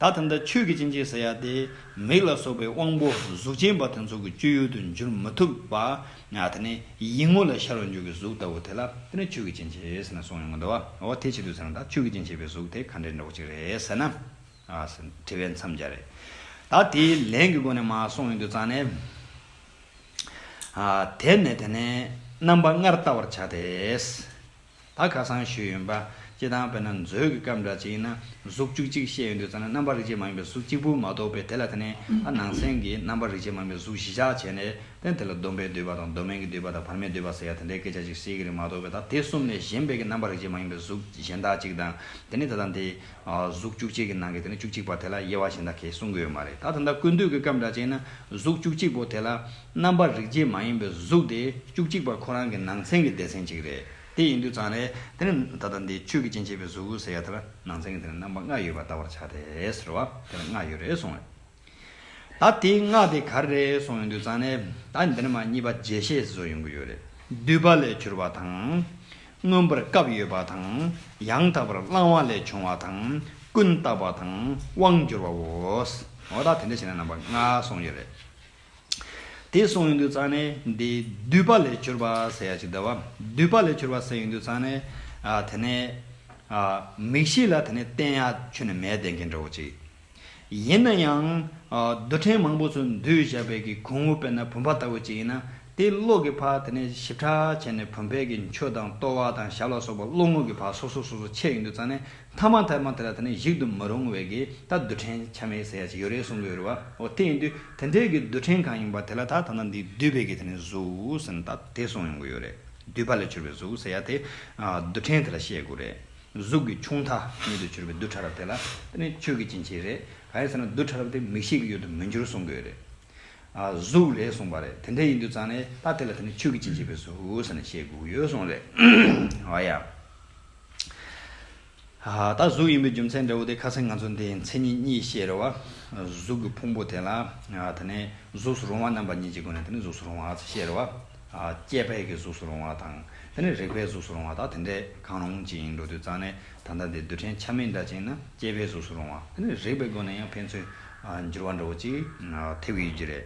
ད་ཐ་མཐའ་ཆོས་ཀྱི་སྦྱིན་བྱེད་ཟེར་ཡ་དེ་མིག་ལ་སོགས་པའི་དབང་པོ་གཟུགས་ཅན་པ་དེ་ཚོ་གི་སྤྱོད་ཡུལ་དུ་འགྱུར་མི་ཐུབ་པ། དེ་ནས་ཡིད་ངོ་ལ་ཤར་བ་མཇུག་གི་གཟུགས་ལྟ་བུ་དེ་ལ་བརྟེན་ནས་ཆོས་ཀྱི་སྦྱིན་བྱེད་ཟེར་ནས་གསུངས་ཡོང་གི་འདུག་བ་དེ་བྱེད་དུ་ཚང་ན་ད་ཆོས་ཀྱི་སྦྱིན་བྱེད་པའི་གཟུགས་དེ་ག་འདྲའི་འགྲོགས་གཅིག་རེད་ཟེར་ན། དྲི་བའི་མཚམས་སྦྱར་རེད། ད་དེའི་ལན་གི་སྒོ་ནས་མ་གསུངས་ཡོང་དུ་ཚང་ནས། དེར་ནི་དེ་ནས་རྣམ་པ་ལྔར་བལྟ་བར་བྱ་སྟེ། ད་ག་སང་ཞུས་ཡོན་པ་ཅི་དང་བས་ན་མཛོད་ཀྱི་སྐབས་འདྲ་ཅིག་ན་གཟུགས་བཅུ་གཅིག་བཤད་ཡོན་དུ་ཙམ་ན་རྣམ་པ་རིག་བྱེད་མ་ཡིན་པའི་གཟུགས་གཅིག་པུ་མ་གཏོགས་པས་དེ་ལ་དེ་ནས་ད་ནང་གསན་གྱི་རྣམ་པ་རིག་བྱེད་མ་ཡིན་པའི་གཟུགས་བཞི་ཆགས་བྱས་ནས་ཏེ་དེ་ལ་སྡོམ་པའི་བསྡུས་པ་དང་སྡོམ་མེད་ཀྱི་བསྡུས་པ་དང་བར་མའི་བསྡུས་པ་ཟེར་ཡང་དེ་འདྲའི་སྐད་ཆ་ཅིག་སྲིད་ཀྱི་རིགས་མ་གཏོགས་པས་ད་དེ་གསུམ་ལས་གཞན་པའི་གྱི་རྣམ་པ་རིག་བྱེད་མ་ཡིན་པའི་གཟུགས་གཞན་དག་ཅིག་དང་དེ་ནི་ད་དང་དེ་གཟུགས་བཅུ་གཅིག་གི་ནང་གི་དེ་ནི་བཅུ་གཅིག་པ་དེ་ལ་དབྱེ་བ་གཞན་དག་གིས་གསུང་གི་ཡོད་མ་རེད་ད་ད་ལྟ་ཀུན་འདུས་ཀྱི་སྐབས་འདྲ་བྱས་ན་གཟུགས་བཅུ་གཅིག་པོ་དེ་ལ་རྣམ་པར་རིག་བྱེད་མ་ཡིན་པའི་གཟུགས་དེ་བཅུ་གཅིག་པ་ཁོ་རང་གི་ནང་ཚན་གྱི་སྡེ་ཚན་གཅིག་རེད་དེ་ཡིན་དུས་ཙང་རེད་དེ་ནི་ད་ལྟ་འདི་ཆོས་ཀྱི་སྤྱན་ཕྱེད་པའི་གཟུགས་ཟེར་ཡ་དེ་ལ་ནང་ཚན་གྱི་དེ་ནི་རྣམ་པ་ལྔ་ཡོད་པར་བལྟ་བར་བྱ་སྟེ་ཟེར་བ་དེ་ལ་ལྔ་ཡོད་རེད་གསུང་རེད། ད་དེའི་སྔགས་དེ་གར་རེད་སོང་ཡོང་དུས་ཙང་ནས་ད་འདི་ནས་མ་གཉིས་པ་རྗེས་ཤེས་བཟོ་ཡོང་གི་ཡོད་རེད་བསྡུས་པ་ལས་གྱུར་པ་དང། མངོན་པར་སྐབས་ཡོད་པ་དང་ཡང་དག་པར་བླང་བ་ལས་བྱུང་བ་དང་ཀུན་བརྟགས་པ་དང་དབང་བསྒྱུར་བ་འོ། འོ་ད་དེ་འདྲ་བྱས་ན་རྣམ་པ་ལྔ་སོང་ཡོད་རེད། དེ་སོང་ཡོང་དུས་ཙང་ནས་འདི་བསྡུས་པ་ལས་གྱུར་པ་ཟེར་ཡག་ཅིག་འདུག་བསྡུས་པ་ལས་གྱུར་པ་ཟེར་ཡོང་དུས་ཙང་ནས་དེ་ནས། མིག་ཤེས་ལ་དེ་ནས་བསྟན་ཡག་ཆུ་ནས་མལ་བསྟན་མཁན་འདྲ་བོ་ཅིག། ཡིན་ན་ཡང། རྡུལ་ཕྲན་མང་པོ་ཚོ་འདུས་བཞག་བལ་གྱི་གུང་བུ་དཔེར་ན་བུམ་པ་ལྟ་བུ་ཅིག་ཡིན་ན། དེའི་གློག་གི་བག་དེ་ནས་ཞིབ་ཕྲ་བྱས་ནས་བུམ་བལ་གྱི་མཆུ་དང་ལྟོ་བ་དང་ཞབས་ལ་སོགས་པ་གློག་དངུལ་གྱི་བག་སོ་སོ་སོ་སོ་ཕྱེ་ཡི་འདུག་ཙང་ནས་ཐ་མ་ཐལ་མ་དེ་ལ་དེ་ནས་གཞིག་ཏུ་མི་རུང་བས་ཀྱིས་ད་རྡུལ་ཕྲན་ཆ་མེད་ཟེར་ཡ་ཅིག་ཡོད་རེད་གསུང་གི་ཡོད་རེད་བ། ཨོ་དེ་ཡིན་དུས་དེ་འདྲའི་གྱི་རྡུལ་ཕྲན་གང་ཡིན་པ་དེ་ལ་ད་ད་ནང་འདི་རྡུལ་བལ་གྱི་དེ་ནས་གཟུགས་ཟེར་ན་ད་དེ་གསུང་ཡོང་གི་ཡོད་རེད། རྡུལ་བལ་ལས་གྱུར་པའི་གཟུགས་ཟེར་ཡ་དེ། རྡུལ་ཕྲན་དེ་ལ་བཤད་དགོས་རེད། གཟུགས་ཀྱི་ཆུང་མཐའ་ཉིད་དུ་གྱུར་པའི་རྡུལ་ཕྲ་རབ་དེ་ལ་དེ་ནི་ཆོས་ཀྱི་སྐྱེ་མཆེད་རེད། གང་ཡིན་ཟེར་ན་རྡུལ་ཕྲ་རབ་དེ་མིག་ཤེས་ཀྱི་ཡུལ་དུ་མི་འགྱུར་གསུངས་དགོས་རེད། གཟུགས་ལས་གསུངས་པ་རེད། དེ་འདྲ་ཡིན་དུས་ཙང་ནས་ད་དེ་ལ་དེ་ནི་ཆོས་ཀྱི་སྐྱེ་མཆེད་པས་གཟུགས་ཟེར་ནས་བཤད་དགོས་ཀྱི་ཡོད་གསུངས་རེད། ཨ་ཡ། ད་གཟུགས་ཡིན་པའི་རྒྱུ་མཚན་འདྲ་བོ་དེ་ཁ་སང་ང་ཚོ་འདིའི་མཚན་ཉིད་གཉིས་བཤད་རེད་བ། གཟུགས་ཀྱི་ཕུང་པོ་དེ་ལ་དེ་ནི་གཟུགས་སུ་རུང་བ་རྣམ་པ་གཉིས་ཀྱི་སྒོ་ནས་དེ་ནི་གཟུགས་སུ་རུང་བ་ཨ་ཚ་བཤད་རེད་བ། སྐྱེས་པའི་གི་གཟུགས་སུ་རུང་བ་དང། དེ་ནས་རེག་པའི་གཟུགས་སུ་རུང་བ་དག་དེ་འདྲས་གང་རུང་ཅི་ཡིན་འགྲོ་དུས་གཙང་ནས་ད་ལྟ་འདི་རྡུལ་ཕྲན་ཆ་མེད་འདྲ་ཅན་ན་སྐྱེས་པའི་གཟུགས་སུ་རུང་བ་དེ་ནི་རེག་པའི་སྒོ་ནས་ཡང་ཕན་ཚུན་འགྱུར་བ་འདྲ་བོ་ཅིག་ཐེབས་ཀྱི་ཡོད་རྒྱུ་རེད།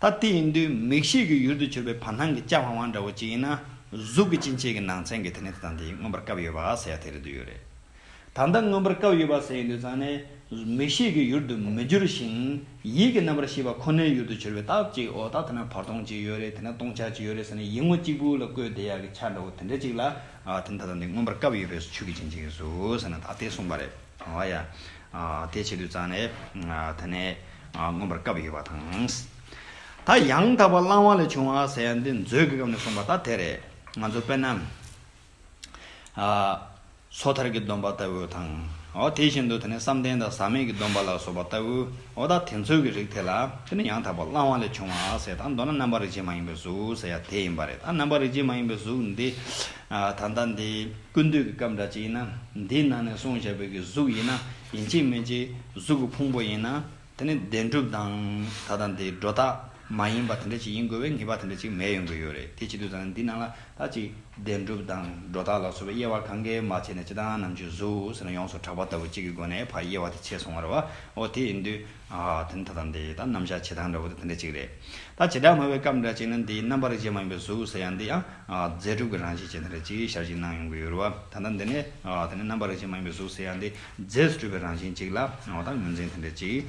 ད་ལྟའི་ཨིན་དུའི་མིག་ཤེས་ཀྱི་ཡུལ་དུ་གྱུར་པའི་བར་སྣང་གི་ལྕགས་བང་བང་འདྲ་བོ་གཅིག་ཡིན་ན། གཟུགས་ཀྱི་སྤྱིན་ཆས་ཀྱི་ནང་ཚན་གྱི་དེ་ནས་དེ་དང་དེ་ཡིས་མངོན་པར་བཀབ་ཡོད་པ་ཟེར་ཡག་དེ་རེད་འདོད་ཡོད་རེད། ད་ལྟ་མངོན་པར་བཀབ་ཡོད་པ་ཟེར་ཡིན་དུས་ཙང་ནས་མིག་ཤེས་ཀྱི་ཡུལ་དུ་མི་འགྱུར་ཞིང། ཡིད་ཀྱི་རྣམ་པར་ཤེས་པ་ཁོ་ནའི་ཡུལ་དུ་གྱུར་པའི་སྟབས་ཅིག་འོ་ད་དེ་ན་བར་སྟོང་ཅིག་ཡོད་རེད་དེ་ན་སྟོང་ཆ་ཅིག་ཡོད་རེད་ཟེར་ནས་ཡིད་ངོ་གཅིག་པུ་ལ་བཀོད་བསྡད་ཡག་གི་ཆ་འདྲ་བོ་དེ་འདྲ་ཅིག་ལ། དེ་ནི་ད་ལྟ་འདི་མངོན་པར་བཀབ་ཡོད་པའི་ཆུ་གི་སྤྱིན་ཆས་ཡིན་ཟུག་ཟེར་ན་ད་ལྟའི་གསུངས་པ་རེད། ཨོ་ཡ། དེ་བྱེད་དུས་རྩ་ནས་ད་ནས་མངོན་པར་བཀའ་བ་ཡོད་པ་དང། ད་ཡང་དག་པར་བླང་བ་ལས་བྱུང་བ་ཟེར་ཡང་འདི་མཛོད་ཀྱི་སྐབས་ནས་གསུངས་པ་ད་དེ་རེད། ང་ཚོ་དཔེར་ན། སོ་ཐར་གྱི་སྡོམ་པ་ལྟ་བུ་དང། ཨོ་དེ་བཞིན་དུ་ད་ནས་བསམ་གཏན་དང་ཟག་མེད་ཀྱི་སྡོམ་པ་ལ་སོགས་པ་ལྟ་བུ། ཨོ་ད་དེ་ཚོའི་གྱི་རིགས་དེ་ལ་དེ་ནི་ཡང་དག་པར་བླང་བ་ལས་བྱུང་བ་ཟེར་དང་མདོར་ན་རྣམ་པར་རིག་བྱེད་མ་ཡིན་པའི་གཟུགས་ཟེར་ཡ་དེ་ཡིན་པ་རེད། ད་རྣམ་པར་རིག་བྱེད་མ་ཡིན་པའི་གཟུགས་འདི། ད་ལྟ་འདི་ཀུན་འདུས་ཀྱི་སྐབས་འདྲ་ཅིག་ཡིན་ན། འདིའི་ནང་ནས་སོང་བྱ་བོད་ཀྱི་གཟུགས་ཡིན་ན་ཡིན་གཅིག་མིན་གཅིག་གཟུགས་ཀྱི་ཕུང་པོ་ཡིན་ན། དེ་ནི་བདེན་གྲུབ་དང་ད་ལྟ་འདི་སྒྲོ་བཏགས་མ་ཡིན་པ་དེ་འདྲ་ཅིག་ཡིན་དགོས་པའི་ངེས་པ་དེ་འདྲ་ཅིག་མེད་ཡོང་གི་ཡོད་རེད་དེ་བྱེད་དུས་ད་ལྟ་འདི་ནང་ལ་ད་ཅིག་བདེན་གྲུབ་དང་སྒྲོ་བཏགས་ལ་སོགས་པའི་དབྱེ་བ་གང་གཱའི་མ་ཕྱེད་ནས་ཅི་ད་ནམ་གྱི་གཟུགས་ཟེར་ན་ཡོངས་སུ་གྲགས་པ་ལྟ་བུ་གཅིག་གི་སྒོ་ནས་བར་དབྱེ་བ་དེ་ཕྱེ་སོང་བར་བ་འོ་དེ་ཡིན་དུས། ད་ལྟ་འདི་ད་རྣམ་གཞག་བྱེད་སྟངས་འདྲ་བོ་དེ་དེ་འདྲ་ཅིག་རེད། ད་བྱེད་སྒྲ་སྨྲ་བའི་སྐབས་འདྲ་ཅིག་ན་འདིའི་རྣམ་པར་རིག་བྱེད་མ་ཡིན་པའི་གཟུགས་ཟེར་ཡང་འདི་ཡང། རྫས་གྲུབ་ཀྱི་རང་བཞིན་ཅན་དེ་ལ་ཅིག་ཞར་གཅིག་སྣང་ཡོང་གི་ཡོད་རེད་བ། ད་ལྟ་འདི་ནས། དེ་ནི་རྣམ་པ་རིག་བྱེད་མ་ཡིན་པའི་གཟུགས་ཟེར་ཡ་འདི་རྫས་སུ་གྲུབ་པའི་རང་བཞིན་ཅིག་ལ་འོ་ད་ངོས་འཛིན་དེ་འདྲ་ཅིག།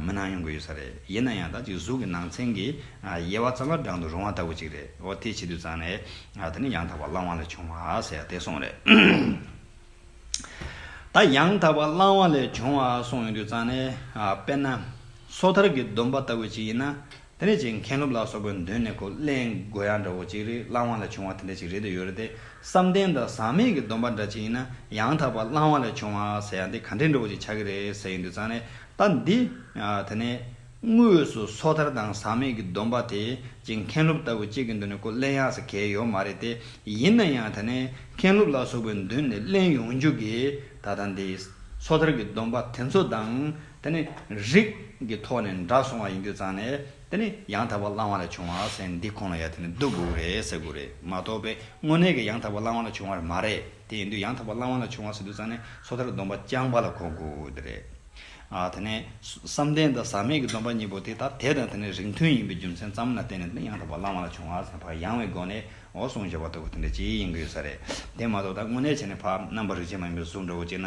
མི་སྣང་ཡོང་གི་ཡོད་ས་རེད། ཡིན་ན་ཡང་ད་ཅིག་གཟུགས་ཀྱི་ནང་ཚན་གྱི། དབྱེ་བ་ཙམ་ལ་བགྲང་དུ་རུང་བ་ལྟ་བུ་ཅིག་རེད་བ་དེའི་ཕྱི་དུས་ཙམ་ནས། དེ་ནི་ཡང་དག་པར་བླང་བ་ལས་བྱུང་བ་ཟེར་ཡ་དེ་སོང་རེད། ད་ཡང་དག་པར་བླང་བ་ལས་བྱུང་བ་སོང་ཡོང་དུས་ཙམ་ནས། དཔེར་ན། སོ་ཐར་གྱི་སྡོམ་པ་ལྟ་བུ་ཅིག་ཡིན་ན། དེ་འདྲ་ཅིག་མཁན་སློབ་ལ་སོགས་པའི་མདུན་ནས་གོ་གླེང་དགོས་ཡ་འདྲ་བོ་ཅིག་རེད་བླང་བ་ལས་བྱུང་བ་དེ་འདྲ་ཅིག་རེད་འདོད་ཡོད་རེད་དེ་བསམ་གཏན་དང་ཟག་མེད་ཀྱི་སྡོམ་པ་འདྲ་ཅིག་ཡིན་ན་ཡང་དག་པ་བླང་བ་ལས་བྱུང་བ་ཟེར་ཡ་འདི་ག་འདྲེ་འདྲ་བོ་ཅིག་ཆགས་ཀྱི་རེད་ཟེར་ཡོད་འདུག་ཙང་ནས་ད་འདི་དེ་ནས་དངོས་སུ་སོ་ཐར་དང་ཟག་མེད་ཀྱི་སྡོམ་པ་དེ་ཅིག་མཁན་སློབ་ལྟ་བུ་ཅིག་གི་མདུན་ནས་གོ་གླེང་ཡ་ས་གལ་ཡོད་མ་རེད་དེ་ཡིན་ན་ཡང་དེ་ནས་མཁན་སློབ་ལ་སོགས་པའི་མདུན་ནས་གླེང་ཡོང་རྒྱུ་གིས་ད་ད་འདི་སོ་ཐར་གྱི་སྡོམ་པ་དེ་ཚོ་དང། དེ་ནི་རིགས་ཀྱི་ཐོག་ནས་འདྲ་སོང་བ་ཡིན་རྒྱུ་ཙང་ནས་དེ་ནི་ཡང་དག་པར་བླང་བ་ལས་བྱུང་བ་ཟེར་འདི་ཁོང་ལ་ཡ་དེ་ནི་སྡུག་གུ་རེད་ཟེར་གུ་རེད་མ་གཏོགས་པའི་དངོས་གནས་ཀྱི་ཡང་དག་པར་བླང་བ་ལས་བྱུང་བ་རེད་མ་རེད་དེ་ཡིན་དུས་ཡང་དག་པར་བླང་བ་ལས་བྱུང་བ་ཟེར་དུས་ཙང་ནས་སོ་ཐར་སྡོམ་པ་རྐྱང་པ་ལ་གོ་གུ་དེ་རེད། དེ་ནས་བསམ་གཏན་དང་ཟག་མེད་ཀྱི་སྡོམ་པ་གཉིས་པོ་དེ་དག་དེ་དང་དེ་ནི་རིགས་མཐུན་ཡིན་པའི་རྒྱུ་མཚན་ཙམ་ལ་བརྟེན་ནས་དེ་ནི་ཡང་དག་པར་བླང་བ་ལས་བྱུང་བ་ཟེར་བག་ཡངས་བའི་སྒོ་ནས་འོ་གསུངས་བྱས་པ་ལྟ་བུ་དེ་འདྲ་ཅིག་ཡིན་གྱི་ཡོད་ས་རེད་དེ་མ་གཏོགས་ད་དངོས་གནས་བྱས་ནས་བག་རྣམ་པར་རིག་བྱེད་མ་ཡིན་པའི་གཟུགས་འདྲ་བོ་གཅིག་ན་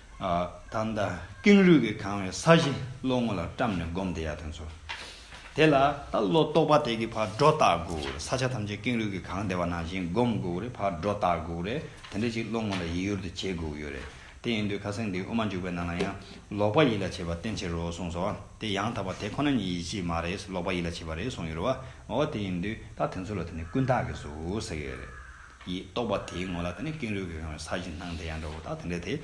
ད་ལྟ་ཀེང་རུས་ཀྱིས་གང་བའི་ས་གཞི་བློ་ངོ་ལ་བཀྲམ་ནས་སྒོམ་བདེ་ཡག་དེ་ཚོ། དེ་ལ་ད་བློ་རྟོག་པ་དེ་གི་བར་སྒྲོ་བཏགས་དགོས་རེད་ས་ཆ་ཐམས་ཅད་ཀེང་རུས་ཀྱིས་གང་བདེ་བ་ནང་བཞིན་སྒོམ་དགོས་རེད་བར་སྒྲོ་བཏགས་དགོས་རེད་དེ་འདྲ་ཞིག་བློ་ངོ་ལ་ཡིད་ཡུར་དུ་བྱེད་དགོས་ཀྱི་ཡོད་རེད་དེ་ཡིན་དུས་ཁ་སེང་འདི་དབུ་མ་འཇུག་པའི་ནང་ལ་ཡང་ལོག་པ་ཡིད་ལ་བྱེད་པ་བསྟན་ཕྱིར་རོ་གསུངས་སོ་དེ་ཡང་དག་པ་དེ་ཁོ་ན་ཉིད་ཡིད་བྱེད་མ་རེད་ལོག་པ་ཡིད་ལ་བྱེད་པ་རེད་གསུངས་ཡོད་རེད་བ་འོ་དེ་ཡིན་དུས་ད་དེ་ཚོ་ལ་དེ་ནི་ཀུན་བརྟགས་ཀྱི་གཟུགས་ཟེར་གྱི་ཡོད་རེད། ཡིས་རྟོགས་པ་དེའི་ངོ་ལ་དེ་ནི་ཀེང་རུས་ཀྱིས་གང་བའི་ས་གཞི་སྣང་དེ་ཡང་འདྲ་བོ་དང་དེ་འདྲ་དེ།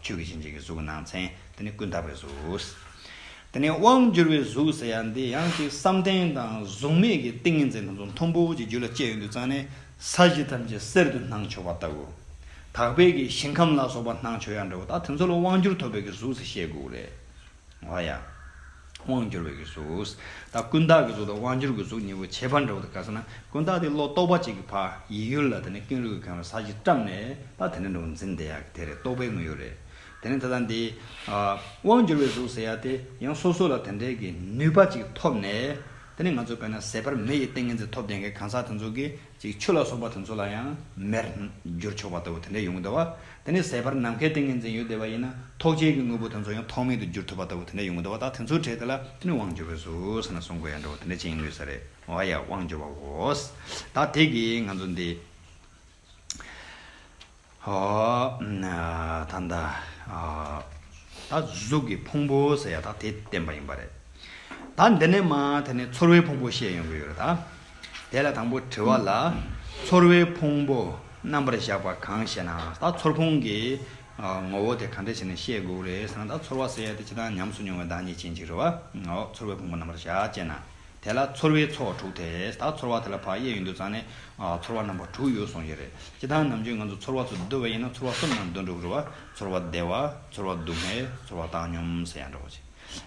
ཆོས་ཀྱི་བྱིན་ཅན་གྱི་གཟུགས་སྣང་མཚན་དེ་ནི་ཀུན་དག་པའི་གཟུགས། དེ་ནི་དབང་བསྒྱུར་བའི་གཟུགས་ཟེར་ཡ་འདི་ཡང་ཏིང་བསམ་གཏན་དང་གཟུགས་མེད་ཀྱི་ཏིང་ངེ་འཛིན་རྣམས་སུ་མཐོང་བོ་ཅི་རྒྱུ་ལ་སྤྱད་ཡོད་འདུག་ཙང་ནས་ས་གཞི་ཐམས་ཅད་གསེར་དུ་སྣང་ཆོག་པ་ལྟ་བུ། དག་པས་ཀྱི་ཞིང་ཁམས་ལ་སོགས་པ་སྣང་ཆོག་ཡ་འདྲ་བོ་དང་དེ་ཚོ་ལ་དབང་བསྒྱུར་ཐོབ་པའི་གཟུགས་སུ་བཤད་དགོས་རེད། བ་ཡང། དབང་བསྒྱུར་བའི་གཟུགས། དང་ཀུན་བཏགས་ཀྱི་གཟུགས་དང་དབང་བསྒྱུར་གྱི་གཟུགས་གཉིས་པོ་ཁྱད་པར་འདྲ་བོ་དང་དགའ་ས་ན་ཀུན་བཏགས་དེ་བློ་རྟོག་པ་གཅིག་གི་བག་ཡིད་ཡུལ་ལ་དེ་ནས་ཀུན་རིག་གི་ཁམས་ལ་ས་གཞི་བཀྲམ་ནས་ལ་དེ་ནས་འགྲོ་འཛིན་དེ་ཡང་དེ་རེད་རྟོག་པའི་དངོས་ཡོད་རེད། དེ་ནས་དེ་དང་དེའི། དབང་བསྒྱུར་བའི་གཟུགས་ཟེར་ཡ་དེ་ཡང་སོ་སོ་ལ་དེ་འདྲའི་གི་ནུས་པ་གཅིག་ཐོབ་ནས། དེ་ནས་ང་ཚོ་བས་ན་ཟད་པར་མེ་ཡི་ཏིང་ངེ་འཛིན་ཐོབ་བསྡད་མཁན་གང་ཟག་དེ་ཚོ་གི་ཅིག་ཆུ་ལ་སོགས་པ་དེ་ཚོ་ལ་ཡང་མེར་བསྒྱུར་ཆོག་པ་ལྟ་བུ་དེ་འདྲ་ཡོང་གི་འདུག་བ་དེ་ནས་ཟད་པར་ནམ་མཁའི་ཏིང་ངེ་འཛིན་ཡོད་བསྡད་པ་ཡིན་ན་ཐོག་བཅས་ཀྱི་དངོས་པོ་དེ་ཚོ་ཡང་ཐོག་མེད་དུ་བསྒྱུར་ཐུབ་པ་ལྟ་བུ་དེ་འདྲ་ཡོང་གི་འདུག་བ་ད་དེ་ཚོའི་གྲས་དེ་ལ་དེ་ནི་དབང་འབྱོར་བས་སུ་ཟེར་ན་སོང་དགོས་ཡ་འདྲ་བ་དེ་འདྲ་ཅན་ཡིན་དགོས་ས་རེད་བ་ཡ་དབང་འབྱོར་བ་འོ་ཟད་དེ་གིས་ང་ཚོ་འདི། ད་ལྟ། ད་གཟུགས་ཀྱི་ཕུང་པོ་ཟེར་ཡ་ད་དེ་བསྟན་པ་ཡིན་པ་རེད། ད་འདི་ནས་མ་དེ་ནས་ཚོར་བའི་ཕུང་པོ་བཤད་ཡོང་གི་ཡོད་རེད་ད། དེ་ལ་དང་པོ་དྲི་བ་ལ། ཚོར་བའི་ཕུང་པོ་རྣམ་པར་བཞག་པ་གང་ཞེ་ན་ད་ཚོར་ཕུང་གི་ངོ་བོ་དེ་གང་འདྲ་ཞེ་ན་བཤད་དགོས་རེད་ཟེར་ན་ད་ཚོར་བ་ཟེར་ཡ་དེ་ཅི་ད་ཉམས་སུ་མྱོང་བའི་བདག་ཉིད་ཅན་ཅིག་རེད་བ། ཚོར་བའི་ཕུང་པོ་རྣམ་པར་བཞག་ཅེ་ན། དེ་ལ་ཚོར་བའི་ཚོགས་དྲུག་དེ་དག་ཚོར་བ་དེ་ལ་བག་ཡས་ཡོད་འདུག་ཙང་ནས། ཚོར་བ་རྣམ་པ་དྲུག་ཡོད་གསུངས་ཀྱི་རེད། སྤྱི་དང་ནམ་རྒྱུན་ང་ཚོ་ཚོར་བ་ཚོ་བསྡུ་བ་ཡིན་ན་ཚོར་བ་གསུམ་ཡང་བསྡུ་འགྲོ་གི་རེད་བ། ཚོར་བ་བདེ་བ། ཚོར་བ་སྡུག་བསྔལ། ཚོར་བ་བཏང་སྙོམས་ཟེར་ཡང་འགྲོ་གི་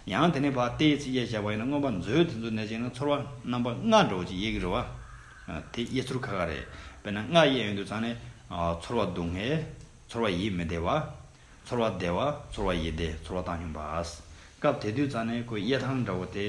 རེད། ཡང་དེ་ནས་བ་ལྟའི་ཚིག་གཡས་བཞག་པ་ཡིན་ན་མངོན་པ་མཛོད་དེ་ཚོ་ནས་བཅིངས་ན་ཚོར་བ་རྣམ་པ་ལྔ་འགྲོ་གི་ཡེད་གི་རེད་བ། དེ་གཡས་ཚུར་ཁ་ཁ་རེད། དཔེར་ན་ལྔ་གཡས་ཡོད་འདུག་ཙང་ནས། ཚོར་བ་སྡུག་བསྔལ། ཚོར་བ་ཡིད་མི་བདེ་བ། ཚོར་བ་བདེ་བ་ཚོར་བ་ཡིད་བདེ་ཚོར་བ་བཏང་སྙོམས་པ། སྐབས་དེ་དུས་རྩ་ནི་ཁོའི་གཡས་ཐང་འདྲ་བོ་དེ། དེ་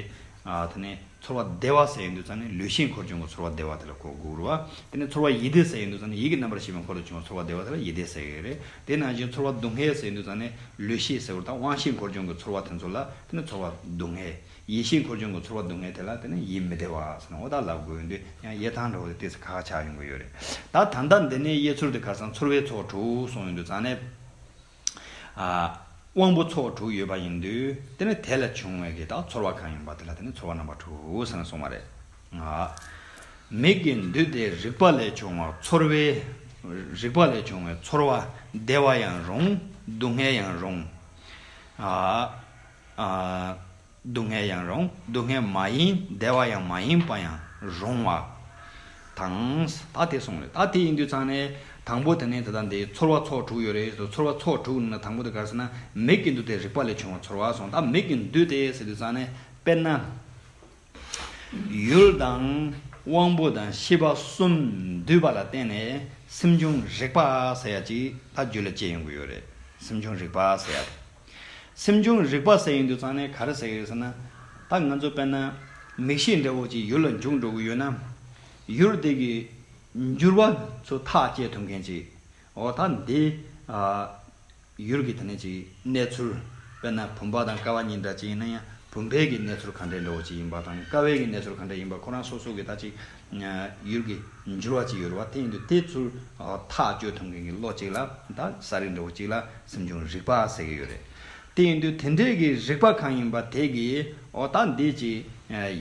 ནས་ཚོར་བ་བདེ་བ་ཟེར་ཡོང་དུས་རྩ་ནི་ལུས་ཤེས་འཁོར་བྱུང་གི་ཚོར་བ་བདེ་བ་དེ་ལ་གོ་དགོས་རུ་བ། དེ་ནས་ཚོར་བ་ཡིད་བདེ་ཟེར་ཡོང་དུས་རྩ་ནི་ཡིད་ཀྱི་རྣམ་པར་ཤེས་པའི་འཁོར་དུ་བྱུང་བ་ཚོར་བ་བདེ་བ་དེ་ལ་ཡིད་བདེ་ཟེར་གི་རེད། དེ་ནང་བཞིན་ཚོར་བ་སྡུག་བསྔལ་ཟེར་ཡོང་དུས་རྩ་ནི་ལུས་ཤེས་གཟེར་བོ་དང་དབང་ཤེས་འཁོར་བྱུང་གི་ཚོར་བ་དེ་ཚོ་ལ་དེ་ནི་ཚོར་བ་སྡུག་བསྔལ། ཡེ་ཤེས་འཁོར་བྱུང་གི་ཚོར་བ་སྡུག་བསྔལ་དེ་ལ་བརྟེན་ནས་ཡིད་མི་བདེ་བ་ཟེར་ན་འོ་ད་ལབ་དགོས་འདི་ཡང་ཡེ་ཐང་གྲོགས་ལས་ལྟས་ས་ཁག་ཆགས་ཡོང་གི་ཡོད་རེད་ད། ད་ལྟ་འདི་ནས་ཡེ་ཚོར་དེ་ཁ་སང་ཚོར་བའི་ཚོགས་དྲུག་གསུངས་ཡོད་འདུག་ཚང་ནས་དབང་པོ་ཚོགས་དྲུག་ཡོད་པ་ཡིན་འདུག་དེ་ནས་དེ་ལས་བྱུང་བའི་དེ་དག་ཚོར་བ་གང་ཡིན་པ་དེ་ལ་བརྟེན་ནས་ཚོར་བ་རྣམ་པ་དྲུག་ཟེར་ནས་གསུངས་པ་རེད། མིག་གི་འདུས་ཏེ་རིག་པ་ལས་བྱུང་བ་ཚོར་བའི་རིག་པ་ལས་བྱུང་བའི་ཚོར་བ་བདེ་བ་ཡང་རུང་སྡུག་བསྔལ་ཡང་རུང། སྡུག་བསྔལ་ཡང་རུང་སྡུག་བསྔལ་མ་ཡིན་བདེ་བ་ཡང་མ་ཡིན་པ་ཡང་རུང་བ་དང། ད་དེ་སོང་རེད་ད་དེ་ཡིན་དུས་ཚང་ནས་དང་པོ་དེ་ནས་དེ་དང་དེ་ཚོར་བ་ཚོགས་དྲུག་ཡོད་རེད་ཟེར་དུས་ཚོར་བ་ཚོགས་དྲུག་ནང་ན་དང་པོ་དེ་ག་རེ་ཟེར་ན་མིག་གི་འདུ་དེ་རིག་པ་ལས་བྱུང་བ་ཚོར་བ་སོང་ད་མིག་གི་འདུ་དེ་ཟེར་དུས་ཚང་ནས་དཔེར་ན། ཡུལ་དང། དབང་པོ་དང་ཤེས་པ་གསུམ་འདུས་པ་ལ་བརྟེན་ནས་སེམས་བྱུང་རིག་པ་ཟེར་ཡ་གཅིག་ད་རྒྱུད་ལ་སྐྱེ་ཡོང་གི་ཡོད་རེད་སེམས་བྱུང་རིག་པ་ཟེར་ཡ་དེ། སེམས་བྱུང་རིག་པ་ཟེར་ཡིན་དུ་ཚང་ནས་ག་རེ་ཟེར་གི་རེད་ཟེར་ན། ད་ང་ཚོ་དཔལ་ན་མིག་ཤེས་འདྲ་བོ་ཅིག་ཡུལ་ལ་འཇུག་འགྲོ་གི་ཡོད་ན། ཡུལ་དེ་གི་འགྱུར་བ་ཚོ་ཐག་བཅད་ཐུབ་མཁན་ཅིག་འོ་ད་འདི། ཡུལ་གི་དེ་ནས་ཅིག་གནས་ཚུལ་དཔལ་ན་བུམ་པ་དང་ཀ་བ་གཉིས་འདྲ་ཅིག་ཡིན་ན་ཡང་བུམ་པའི་གི་གནས་ཚུལ་ག་འདྲའི་འདྲ་བོ་ཅིག་ཡིན་པ་དང་ཀ་བའི་གི་གནས་ཚུལ་ག་འདྲ་ཡིན་པ་ཁོ་རང་སོ་སོ་གི་ད་ཅིག་ཡུལ་གྱི་འགྱུར་བ་ཅིག་ཡོད་པ་དེ་ཡིན་དུས་དེ་ཚུར་ཐག་གཅོད་ཐུབ་མཁན་གྱི་བློ་གཅིག་ལ་ད་ས་རིས་འདྲ་བོ་གཅིག་ལ་སེམས་བྱུང་རིག་པ་ཟེར་གྱི་ཡོད་རེད། དེ་ཡིན་དུས་དེ་འདྲའི་གི་རིག་པ་གང་ཡིན་པ་དེ་གི་འོ་ད་འདི་ཅིག་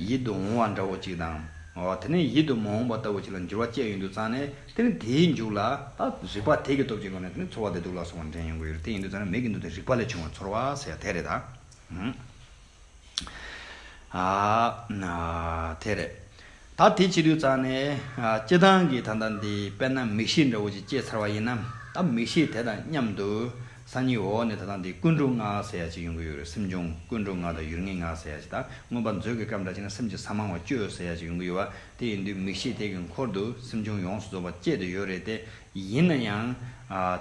ཡིད་དུ་འོང་བ་འདྲ་བོ་གཅིག་དང། དེ་ནས་ཡིད་དུ་མ་འོང་བ་ལྟ་བུ་ཅིག་ལ་འགྱུར་བ་བསྐྱལ་ཡོང་དུས་ཙང་ནས་དེ་ནི་དེའི་མཇུག་ལ་ད་རིག་པ་དེ་གི་སྟོབས་ཀྱི་སྒོ་ནས་དེ་ནི་ཚོར་བ་བདེ་སྡུག་ལ་སོགས་པ་འདྲེན་ཡོང་གི་ཡོད་རེད་དེ་ཡིན་དུས་ཙང་ནས་མིག་གི་མདུན་དུ་རིག་པ་ལས་བྱུང་བ་ཚོར་བ་ཟེར་ཡ་དེ་རེད་ད། དེ་རེད། ད་དེ་ཅི་ལུས་གཙང་ནས། སྤྱི་བཏང་གི་ད་ལྟ་འདི་དཔེར་ན་མིག་ཤེས་འདྲ་བོ་ཅིག་སྐྱེས་ཚར་བ་ཡིན་ན། ད་མིག་ཤེས་དེ་དང་མཉམ་དུ། སང་ཉིན་འོག་ནས་ད་ལྟ་འདི་ཀུན་འགྲོ་ངག་ཟེར་ཡ་ཅིག་ཡོང་གི་ཡོད་རེད་སེམས་གཅོང་ཀུན་འགྲོ་ངག་དང་ཡུལ་ངན་ངག་ཟེར་ཡ་ཅིག་དང་མངོན་པར་མཛོད་ཀྱི་སྐབས་འདྲ་ཅིག་ན་སེམས་ཀྱི་ས་མང་བ་སྐྱོ་ཟེར་ཡ་ཅིག་ཡོང་གི་ཡོད་བ་དེ་ཡིན་དུས་མིག་ཤེས་དེ་གི་འཁོར་དུ་སེམས་གཅོང་ཡོངས་སུ་རྫོགས་པ་སྐྱེས་དུ་ཡོད་རེད་དེ། ཡིན་ན་ཡང།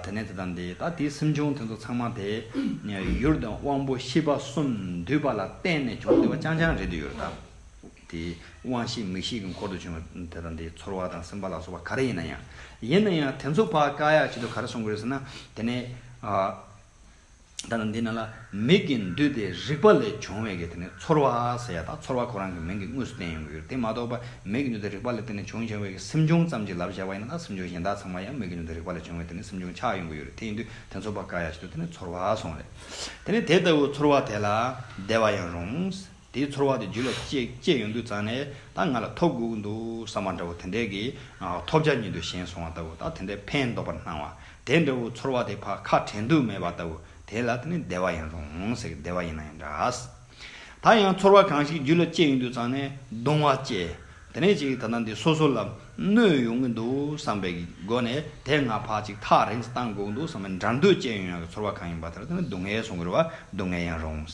དེ་ནས་དེ་དང་དེ་ད་དེའི་སེམས་བྱུང་དེ་ཚོ་ཚང་མ་དེ། ཡུལ་དང་དབང་པོ་ཤེས་པ་གསུམ་འདུས་པ་ལ་བརྟེན་ནས་བྱུང་བདེ་བ་རྐྱང་རྐྱང་རེད་དུ་ཡོད་དཱ། དེ། དབང་ཤེས་མིག་ཤེས་ཀྱི་འཁོར་དུ་བྱུང་བ་དེ་དང་དེའི་ཚོར་བ་དང་སེམས་པ་ལ་སོགས་པ་ག་རེ་ཡིན་ན་ཡང། ཡིན་ན་ཡང་དེ་ཚོ་བར་བཀག་ཡག་བྱེད་དུ་ག་རེ་སོང་དགོས་རེད་ཟེར་ན། དེ་ནས། ད་ལྟ་འདི་ན་ལ་མིག་གི་འདུས་ཏེ་རིག་པ་ལས་བྱུང་བའི་དེ་ནི་ཚོར་བ་ཟེར་ཡ་དང་ཚོར་བ་ཁོ་རང་གི་མིང་གི་དངོས་སུ་བསྟན་ཡོང་གི་ཡོད་དེ་མ་གཏོགས་པ་མིག་གི་འདུས་ཏེ་རིག་པ་ལས་དེ་ནི་བྱུང་བྱ་བའི་གི་སེམས་བྱུང་ཙམ་གྱི་ལབ་བཞག་པ་ཡིན་ན་ད་སེམས་བྱུང་གཞན་དག་ཚང་མ་ཡང་མིག་གི་འདུས་ཏེ་རིག་པ་ལས་བྱུང་བའི་དེ་ནི་སེམས་བྱུང་ཆགས་ཡོང་གི་ཡོད་རེད་དེ་ཡིན་དུས་དེ་ཚོར་བ་འགའ་ཡང་བྱེད་དུ་དེ་ནི་ཚོར་བ་སོང་རེད་དེ་ནི་དེ་ལྟ་བུ་ཚོར་བ་དེ་ལ་བདེ་བ་ཡང་རུང། དེའི་ཚོར་བ་དེ་རྒྱུད་ལ་སྐྱེས་ཡོང་དུས་ཙང་ནས་ད་ང་ལ་ཐོབ་དགོས་འདུག་བསམ་པ་འདྲ་བོ་དེ་འདྲས་ཀྱི་ཐོབ་བྱ་ཉིད་དུ་ཞེན་སོང་བ་ལྟ་བུ་དང་དེ་འདྲའི་ཕན་འདོགས་པར་སྣང་བ་དེ་འདྲ་བོའི་ཚོར་བ་དེ་ཕ་ཁ་དྲན་དུས་མེད་པ་ལྟ་བུ་དེ་ལ་དེ་ནི་བདེ་བ་ཡིན་རུང་ཟེར་གི་བདེ་བ་ཡིན་ན་ཡང་འདྲ། ད་ཡང་ཚོར་བ་གང་ཞིག་རྒྱུད་ལ་སྐྱེས་ཡོང་དུས་ཙང་ནས་གདུང་བ་སྐྱེས། དེ་ནས་ཅིག་ད་ལྟ་འདི་སོ་སོ་ལ་གནོད་ཡོང་གི་འདུག་བསམ་པའི་སྒོ་ནས་དེ་སྔ་ཕག་ཅིག་ཐག་རིང་བཏང་དགོས་འདུག་བསམ་པའི་འདྲར་འདོད་ཅན་ཡོན་ཡང་གི་ཚོར་བ་གང་ཡིན་པ་དེ་ལ་བརྟེན་ནས་སྡུག་བསྔལ་སོང་གི་རེད་བ་སྡུག་བསྔལ་ཡང་རུང།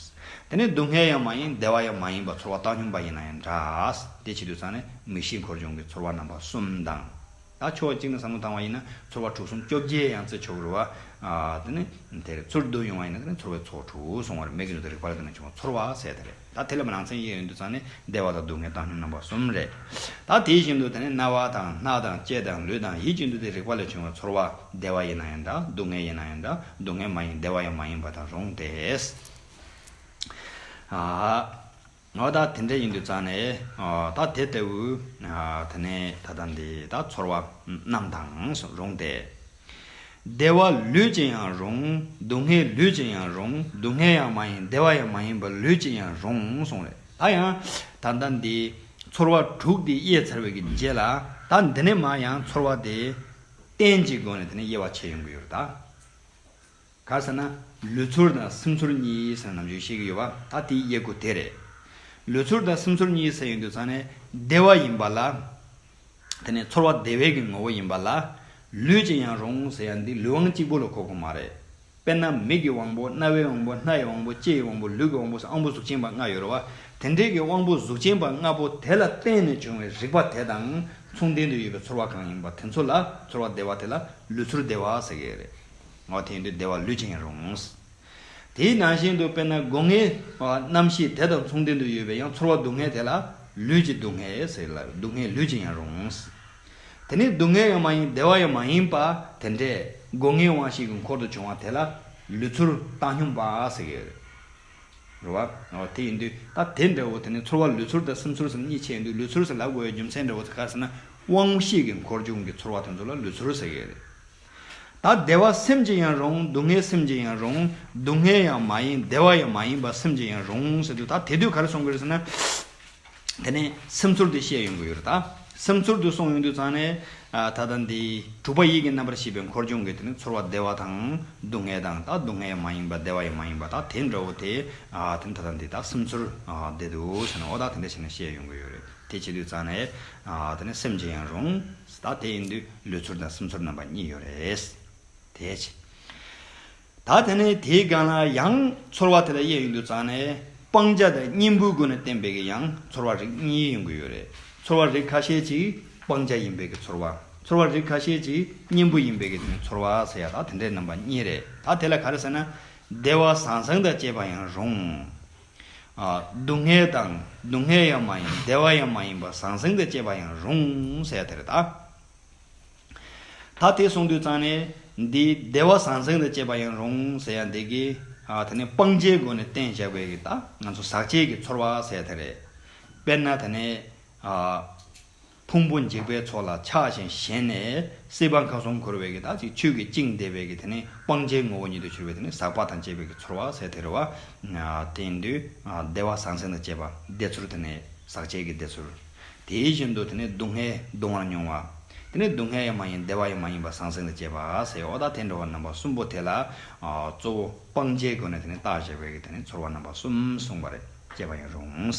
དེ་ནས་སྡུག་བསྔལ་ཡང་མ་ཡིན་བདེ་བ་ཡང་མ་ཡིན་པ་ཚོར་བ་བཏང་སྙོམས་པ་ཡིན་ན་ཡང་འདྲ། དེ་ཕྱི་དུས་ཚང་ནས་མིག་ཤེས་འཁོར་བྱུང་གི་ཚོར་བ་རྣམ་པ་གསུམ་དང། ད་ཕྱོགས་གཅིག་ནས་བསམ་བློ་བཏང་བ་ཡིན་ན་ཚོར་བ་དྲུག་གསུམ་བཅོ་བརྒྱད་ཡང་བརྩི་ཆོག་གི་རེད་བ། དེ་ནས་དེ་རེད་ཚུར་བསྡུ་ཡོང་བ་ཡིན་ན་དེ་ནས་ཚོར་བའི་ཚོགས་དྲུག་སོང་བ་རེད་མིག་གི་ནུས་ལྟར་རིག་པ་ལ་བརྟེན་ནས་བྱུང་བ་ཚོར་བ་ཟད་དེ་རེད། ད་དེ་ལ་མི་རང་མཚན་ཡོད་འདུག་ཚང་ནི་བདེ་བ་དང་སྡུག་བསྔལ་བཏང་སྙོམས་རྣམ་པ་གསུམ་རེད། ད་དེ་བཞིན་དུ་ད་ནི་རྣ་བ་དང་སྣ་དང་ལྕེ་དང་ལུས་དང་ཡིད་ཀྱི་འདུ་དེ་རེག་པ་ལས་བྱུང་བའི་ཚོར་བ་བདེ་བ་ཡིན་ན་ཡང་འདྲ་སྡུག་བསྔལ་ཡིན་ན་ཡང་འདྲ་སྡུག་བསྔལ་མ་ཡིན་བདེ་བ་ཡང་མ་ཡིན་པ་དང་རུང་སྟེ། འོ་ད་དེ་འདྲ་ཡིན་འདུག་ཚང་ནི་ད་དེ་ལྟ་བུའི་ད་ནི་ད་ལྟ་འདི་ད་ཚོར་བ་རྣམས་དང་རུང་སྟེ། བདེ་བ་ལུས་ཅན་ཡང་རུང་སྡུག་བསྔལ་ལུས་ཅན་ཡང་རུང་སྡུག་བསྔལ་ཡང་མ་ཡིན་བདེ་བ་ཡང་མ་ཡིན་པ་ལུས་ཅན་ཡང་རུང་གསུངས་ལས་ད་ཡང་ད་ལྟ་འདི་ཚོར་བ་དྲུག་འདི་དབྱེ་ཚར་བའི་རྗེས་ལ་ད་འདི་ནས་མ་ཡང་ཚོར་བ་དེ་གཏན་གྱི་སྒོ་ནས་དེ་ནས་དབྱེ་བ་ཕྱེ་ཡོང་གི་ཡོད་རེད་ད། ག་ཟེར་ན། ལུས་ཚོར་དང་སེམས་ཚོར་གཉིས་ཡིན་ཟེར་ན་ནམ་ཞིག་ཤེས་ཀྱི་ཡོད་པ་ད་དེའི་དབྱེ་སྒོ་དེ་རེད། ལུས་ཚོར་དང་སེམས་ཚོར་གཉིས་ཟེར་ཡོད་དུས་ཚང་ནས་བདེ་བ་ཡིན་པ་ལ། དེ་ནས་ཚོར་བ་བདེ་བས་ཀྱི་ངོ་བོ་ཡིན་པ་ལ། ལུས་ཅན་ཡང་རུང་ཟེར་ཡ་འདི་ལུས་དབང་གཅིག་པོ་ལ་གོ་གོ་མ་རེད། དཔེར་ན་མིག་གི་དབང་པོ་རྣ་བའི་དབང་པོ་སྣ་ཡི་དབང་པོ་ལྕེ་ཡི་དབང་པོ་ལུས་ཀྱི་དབང་པོ་སོགས་དབང་པོ་གཟུགས་ཅན་པ་ལྔ་ཡོད་རེད་བ། དེ་འདྲའི་གི་དབང་པོ་གཟུགས་ཅན་པ་ལྔ་པོ་དེ་ལ་བརྟེན་ནས་བྱུང་བའི་རིག་པ་དེ་དང་མཚུངས་ལྡན་དུ་ཡོད་པའི་ཚོར་བ་གང་ཡིན་པ་དེ་ཚོ་ལ་ཚོར་བ་བདེ་བ་དེ་ལ་ལུས་ཚོར་བདེ་བ་ཟེར་གྱི་རེད། ངོ་ཐེངས་དུ་བདེ་བ་ལུས་ཅན་རུང། དེའི་ནང་བཞིན་དུ་དཔེར་ན་སྒོ་ངའི་རྣམ་ཤེས་དེ་དང་མཚུངས་ལྡན་དུ་ཡོད་པའི་ཡང་ཚོར་བ་སྡུག་བསྔལ་དེ་ལ་ལུས་ཀྱི་སྡུག་བསྔལ་ཟེར་ལ་སྡུག་བསྔལ་ལུས་ཅན་ཡང་རུང། དེ་ནི་སྡུག་བསྔལ་ཡང་མ་ཡིན་བདེ་བ་ཡང་མ་ཡིན་པ་དེ་འདྲས་སྒོ་ངའི་དབང་ཤེས་ཀྱི་འཁོར་དུ་བྱུང་བ་དེ་ལ་ལུས་ཚོར་བཏང་སྙོམས་པ་ཟེར་གྱི། རུ་བ། དེ་ཡིན་དུས་ད་དེ་འདྲའོ་དེ་ནི་ཚོར་བ་ལུས་ཚོར་དང་སེམས་ཚོར་སམ་གཉིས་ཆད་འདུག་ལུས་ཚོར་ཟེར་ལ་སྒོ་བའི་རྒྱུ་མཚན་འདྲའོ་ཟེར་ག་ཟེར་ན་དབང་ཤེས་ཀྱི་འཁོར་བྱུང་གི་ཚོར་བ་དེ་ཚོ་ལ་ལུས་ཚོར་ཟེར་གྱི། ད་བདེ་བ་སེམས་ཀྱི་ཡང་རུང་སྡུག་བསྔལ་སེམས་ཀྱི་ཡང་རུང་སྡུག་བསྔལ་ཡང་མ་ཡིན་བདེ་བ་ཡང་མ་ཡིན་པ་སེམས་ཀྱི་ཡང་རུང་ཟེར་དུས་ད་དེ་དུས་ག་རེ་གསུང་གི་རེད་ཟེར་ན། དེ་ནས་སེམས་ཚོར་དུ་བཤད་ཡོང་གི་ཡོད་རེད་ད། སེམས་ཚོར་དུ་གསུང་ཡོང་དུས་ཙང་ནས། ད་ལྟ་འདི་དྲུག་པ་ཡིད་ཀྱི་རྣམ་པར་ཤེས་པའི་འཁོར་སྦྱོང་གི་དེ་ནས་ཚོར་བ་བདེ་བ་དང་སྡུག་བསྔལ་དང་ད་སྡུག་བསྔལ་ཡང་མ་ཡིན་པ་བདེ་བ་ཡང་མ་ཡིན་པ་ད་དེ་འདྲ་བོ་དེ། དེ་ནས་ད་ལྟ་འདི་ད་སེམས་ཚོར་བདེ་འདུག་ཟེར་ན་འོ་ད་དེ་འདྲ་བྱས་ནས་བཤད་ཡོང་གི་ཡོད་རེད་དེ་བྱས་དུས་ཙང་ནས། དེ་ནས་སེམས་ཀྱི་ཡང་རུང། ད་དེ་ཡིན་དུས་ལུས་ཚོར་དང་སེམས་ཚོར་རྣམ་པ་གཉིས་ཡོད་རེད། དེའི་ཕྱིར། ད་དེ་ནི་དེའི་སྒང་ལ་ཡང་ཚོར་བ་དེ་ལ་དབྱེ་ཡོད་འདུག་ཙང་ནས་སྤང་བྱ་དང་གཉེན་པོའི་སྒོ་ནས་བསྟན་པས་ཀྱི་ཡང་ཚོར་བ་རིགས་གཉིས་ཡོང་གི་ཡོད་རེད། ཚོར་བ་རིགས་ཁ་ཤས་ཅིག་སྤང་བྱ་ཡིན་པས་ཀྱི་ཚོར་བ། ཚོར་བ་རིགས་ཁ་ཤས་ཅིག་གཉེན་པོ་ཡིན་པས་ཀྱི་དོན་ཚོར་བ་ཟེར་ཡ་ད་དེ་འདྲའི་རྣམ་པ་གཉིས་རེད། ད་དེ་ལ་ག་རེ་ཟེར་ན། བདེ་བ་བཟང་བཟང་དང་བཅས་པ་ཡང་རུང། སྡུག་བསྔལ་དང་སྡུག་བསྔལ་ཡང་མ་ཡིན་བདེ་བ་ཡང་མ་ཡིན་པ་ཟང་ཟིང་དང་བཅས་པ་ཡང་རུང་ཟེར་དེར་ད། ད་དེ་གསུངས་དུས་ཙང་ནས་འདི་བདེ་བ་ཟང་ཟིང་དང་བཅས་པ་ཡང་རུང་ཟེར་ཡང་འདི་གི། ད་ནི་སྤང་བྱའི་སྒོ་ནས་བསྟན་བཞག་པའི་གི་ད་ང་ཚོ་ཟག་བཅས་ཀྱི་ཚོར་བ་ཟེར་དེ་རེད། དཔེར་ན་ད་ནི། ཕུང་པོ་འཇིག་པའི་ཚོགས་ལ་ཆགས་ཤིང་ཞེན་ནས་སྲིད་པ་མཁའ་གསུམ་འཁོར་བའི་གེ་དག་ཅིག་ཆོས་ཀྱི་དབྱིངས་བདེ་བའི་གེ་དེ་ནི་སྤང་བྱའི་ངོ་བོ་ཉིད་དུ་གྱུར་པའི་དེ་ནི་ཟག་པ་དང་བཅས་པའི་གེ་ཚོར་བ་ཟད་དེ་རེ་བ། དེའི་འདུས། བདེ་བ་ཟང་ཟིང་དང་བཅས་པ་བདེ་ཚོར་དེ་ནི་ཟག་བཅས་ཀྱི་བདེ་ཚོར། དེ་བཞིན་དུ་དེ་ནི་སྡུག་བསྔལ་གདུང་བར་མྱོང་བ། དེ་ནི་སྡུག་བསྔལ་ཡང་མ་ཡིན་བདེ་བ་ཡང་མ་ཡིན་པ་ཟང་ཟིང་དང་བཅས་པ་ཟད་འོ་དག་དེ་འདྲ་བ་རྣམ་པ་གསུམ་པོ་དེ་ལ། གཙོ་བོ་སྤང་བྱའི་སྒོ་ནས་དེ་ནི་བརྟག་བྱ་བའི་གེ་དེ་ནི་ཚོར་བ་རྣམ་པ་གསུམ་གསུངས་པ་རེད་ཅེས་པ་ཡང་རུང།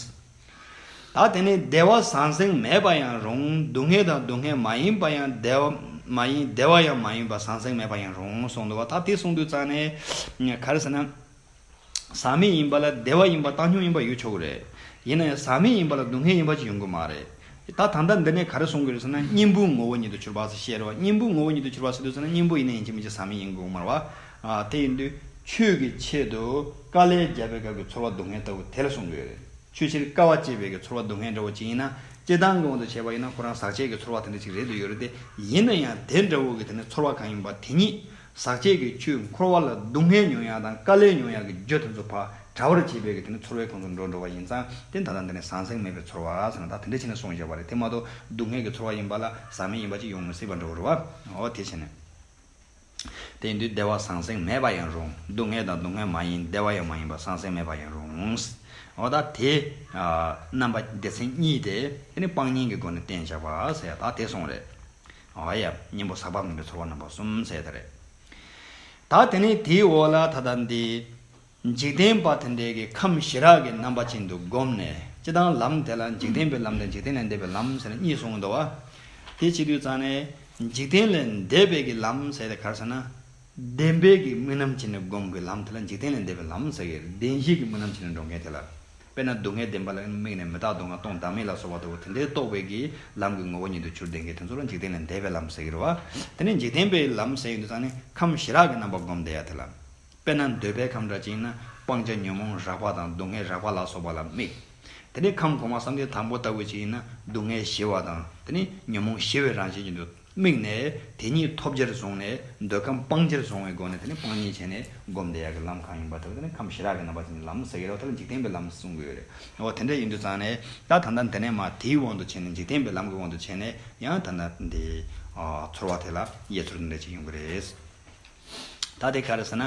ད་དེ་ནི་བདེ་བ་ཟང་ཟིང་མེད་པ་ཡང་རུང་སྡུག་བསྔལ་དང་སྡུག་བསྔལ་མ་ཡིན་པ་ཡང་བདེ་བ་མ་ཡིན་བདེ་བ་ཡང་མ་ཡིན་པ་ཟང་ཟིང་མེད་པ་ཡང་རུང་གསུངས་འདུག་བ་ད་དེ་གསུངས་དུས་རྩ་ནས་གར་ཟེར་ན། ཟག་མེད་ཡིན་པ་ལ་བདེ་བ་ཡིན་པ་བཏང་སྙོམས་ཡིན་པ་ཡོད་ཆོག་གི་རེད། ཡིན་ན་ཡང་ཟག་མེད་ཡིན་པ་ལ་སྡུག་བསྔལ་ཡིན་པ་ཅིག་ཡོང་གི་མ་རེད། ད་ད་ལྟ་འདི་ནས་ག་རེ་གསུངས་ཀྱི་རེད་ཟེར་ན་གཉེན་པོའི་ངོ་བོ་ཉིད་དུ་གྱུར་པ་ཟེར་བཤད་རེད་བ་གཉེན་པོའི་ངོ་བོ་ཉིད་དུ་གྱུར་པ་ཟེར་དུས་ཟེར་ན་གཉེན་པོ་ཡིན་ན་ཡིན་གཅིག་མིན་གཅིག་ཟག་མེད་ཡིན་གྱི་འོང་མར་བ། དེ་ཡིན་དུས་ཆོས་ཀྱི་ཆེད་དུ་དཀའ་ལས་བརྒྱབ་པའི་སྐབས་ཀྱི་ཚོར་བ་སྡུག་བསྔལ་ལྟ་བུ་དེ་ལ་གསུངས་ཀྱི་ཡོད་རེད། ཆོས་ཕྱིར་དཀའ་བ་སྤྱད་པའི་ཀྱི་ཚོར་བ་སྡུག་བསྔལ་འདྲ་བོ་ཅིག་ཡིན་ན། སྤྱི་བཏང་གི་དབང་དུ་བྱས་པ་ཡིན་ན་ཁོ་རང་ཟག་བཅས་ཀྱི་ཚོར་བ་དེ་འདྲ་ཅིག་རེད་དུ་ཡོད་རེད་དེ། ཡིན་ན་ཡང་དེ་འདྲ་བོ་ཀྱི་དེ་ནི་ཚོར་བ་གང་ཡིན་པ་དེ་ཉིད། ཟག་བཅས་ཀྱི་ཆུས་འཁོར་བ་ལ་སྡུག་བསྔལ་མྱོང་ཡག་དང་དཀའ་ལས་མྱོང་ཡག་གི་རྒྱུ་དེ་ཚོ་བག་དྲ་བར་བྱེད་པའི་ཀྱི་དེ་ནི་ཚོར་བའི་ཁོངས་སུ་འགྲོ་འགྲོ་བ་ཡིན་ཙང་དེ་ད་ལྟ་འདི་ནས་ཟང་ཟིང་མེད་པའི་ཚོར་བ་ཟེར་ན་ད་དེ་འདྲ་ཆེ་ནས་སོང་བཞག་པ་རེད་དེ་མ་གཏོགས་སྡུག་བསྔལ་གྱི་ཚོར་བ་ཡིན་པ་ལ་ཟག་མེད་ཡིན་པ་ཅིག་ཡོང་མི་སྲིད་པ་འདྲ་བོ་རེད་བ། འོ་དེ་བྱས་ནས། དེ་འདུས་བདེ་བ་ཟང་ཟིང་མེད་པ་ཡང་རུང་སྡུག་བསྔལ་དང་སྡུག་བསྔལ་མ་ཡིན་བདེ་བ་ཡང་མ་ཡིན་པ་ཟང་ཟིང་མེད་པ་ཡང་རུང། འོ་ད་དེ། རྣམ་པ་སྡེ་ཚན་གཉིས་ཏེ་དེ་ནི་སྤང་གཉེན་གྱི་སྒོ་ནས་བསྟན་བྱ་བ་ཟད་ད་དེ་སོང་རེད། འོ་ཡ། གཉེན་པོ་ཟག་པ་མིན་པའི་ཚོར་བ་རྣམ་པ་གསུམ་ཟད་ད་རེད། ད་དེ་ནི་དེའི་འོག་ལ་ད་ད་འདི། འཇིག་རྟེན་པ་དེ་འདྲས་ཀྱི་ཁམས་ཞི་རགས་ཀྱི་རྣམ་པ་ཅན་དུ་བསྒོམས་ནས་སྤྱི་དང་ལམ་དེ་ལ་འཇིག་རྟེན་པའི་ལམ་དང་འཇིག་རྟེན་ལས་འདས་པའི་ལམ་ཟེར་ན་གཉིས་གསུངས་འདུག་བ། དེ་གཅིག་དུས་ཙང་ནས་འཇིག་རྟེན་ལས་འདས་པའི་ཀྱི་ལམ་ཟེར་ཏེ་གར་ཟེར་ན། བདེན་པའི་ཀྱི་རྨི་ལམ་བྱས་ནས་བསྒོམ་ཀྱི་ལམ་དེ་ལ་འཇིག་རྟེན་ལས་འདས་པའི་ལམ་ཟེར་ཀྱི་བདེན་བཞིའི་ཀྱི་རྨི་ལམ་བྱས་ནས་འགྲོ་མཁན་དེ་ལ། དཔེར་ན་སྡུག་བསྔལ་བདེན་པ་ལ་དམིགས་ནས་མི་རྟག་སྡུག་བསྔལ་སྟོང་བདག་མེད་ལ་སོགས་པ་ལྟ་བུ་དེ་འདྲའི་རྟོགས་པའི་ཀྱི་ལམ་གྱི་ངོ་བོ་ཉིད་དུ་ཆུར་ལྡན་ཀྱི་དེ་ཚོ་ལ་འཇིག་རྟེན་ལས་འདས་པའི་ལམ་ཟེར་ཀྱི་རུ་བ། དེ་ནས་འཇིག་རྟེན་པའི་ལམ་ཟེར་ཡོད་དུས་ཙང་ནས་ཁམས་ཞི་རགས་ཀྱི་རྣམ་པ་བསྒོམས་བསྡད་ཡ་དེ་ལ། དཔེར་ན་འདོད་པའི་ཁམས་འདྲ་བཅིངས་ན་སྤང་བྱ་ཉོན་མོངས་རགས་པ་དང་སྡུག་བསྔལ་རགས་པ་ལ་སོགས་པ་ལ་དམིགས། དེ་ནས་ཁམས་གོང་མ་བསམ་གཏན་དང་པོ་ལྟ་བུ་བཅིངས་ན་སྡུག་བསྔལ་ཞི་བ་དང་དེ་ནས་ཉོན་མོངས་ཞི་བའི་རང་བཞིན་གྱི་དུ་དམིགས་ནས་དེ་གཉིས་ཐོབ་བྱར་བཟུང་ནས་འདོད་ཁམས་སྤང་བྱར་བཟུང་བའི་སྒོ་ནས་དེ་ནས་སྤང་གཉིས་བྱས་ནས་བསྒོམ་བཟླས་ཡ་གི་ལམ་གང་ཡིན་པ་དེ་ལ་དེ་ནས་ཁམས་ཞི་རགས་ཀྱི་རྣམ་པ་ཅན་གྱི་ལམ་ཟེར་གྱི་རོ་དེ་ལ་འཇིག་རྟེན་པའི་ལམ་གསུང་གི་ཡོད་རེད་འོ་དེ་འདྲ་ཡིན་དུས་ཙང་ནས་ད་ད་ལྟ་འདི་ནས་མ་དེའི་དབང་དུ་བྱས་ནས་འཇིག་རྟེན་པའི་ལམ་གྱི་དབང་དུ་བྱས་ནས་ཡང་ད་ད་འདིའི་ཚོར་བ་དེ་ལ་དབྱེ་ཚོར་འདི་འདྲ་ཅིག་ཡོང་གི་རེད། ད་དེ་ག་རེ་ཟེར་ན།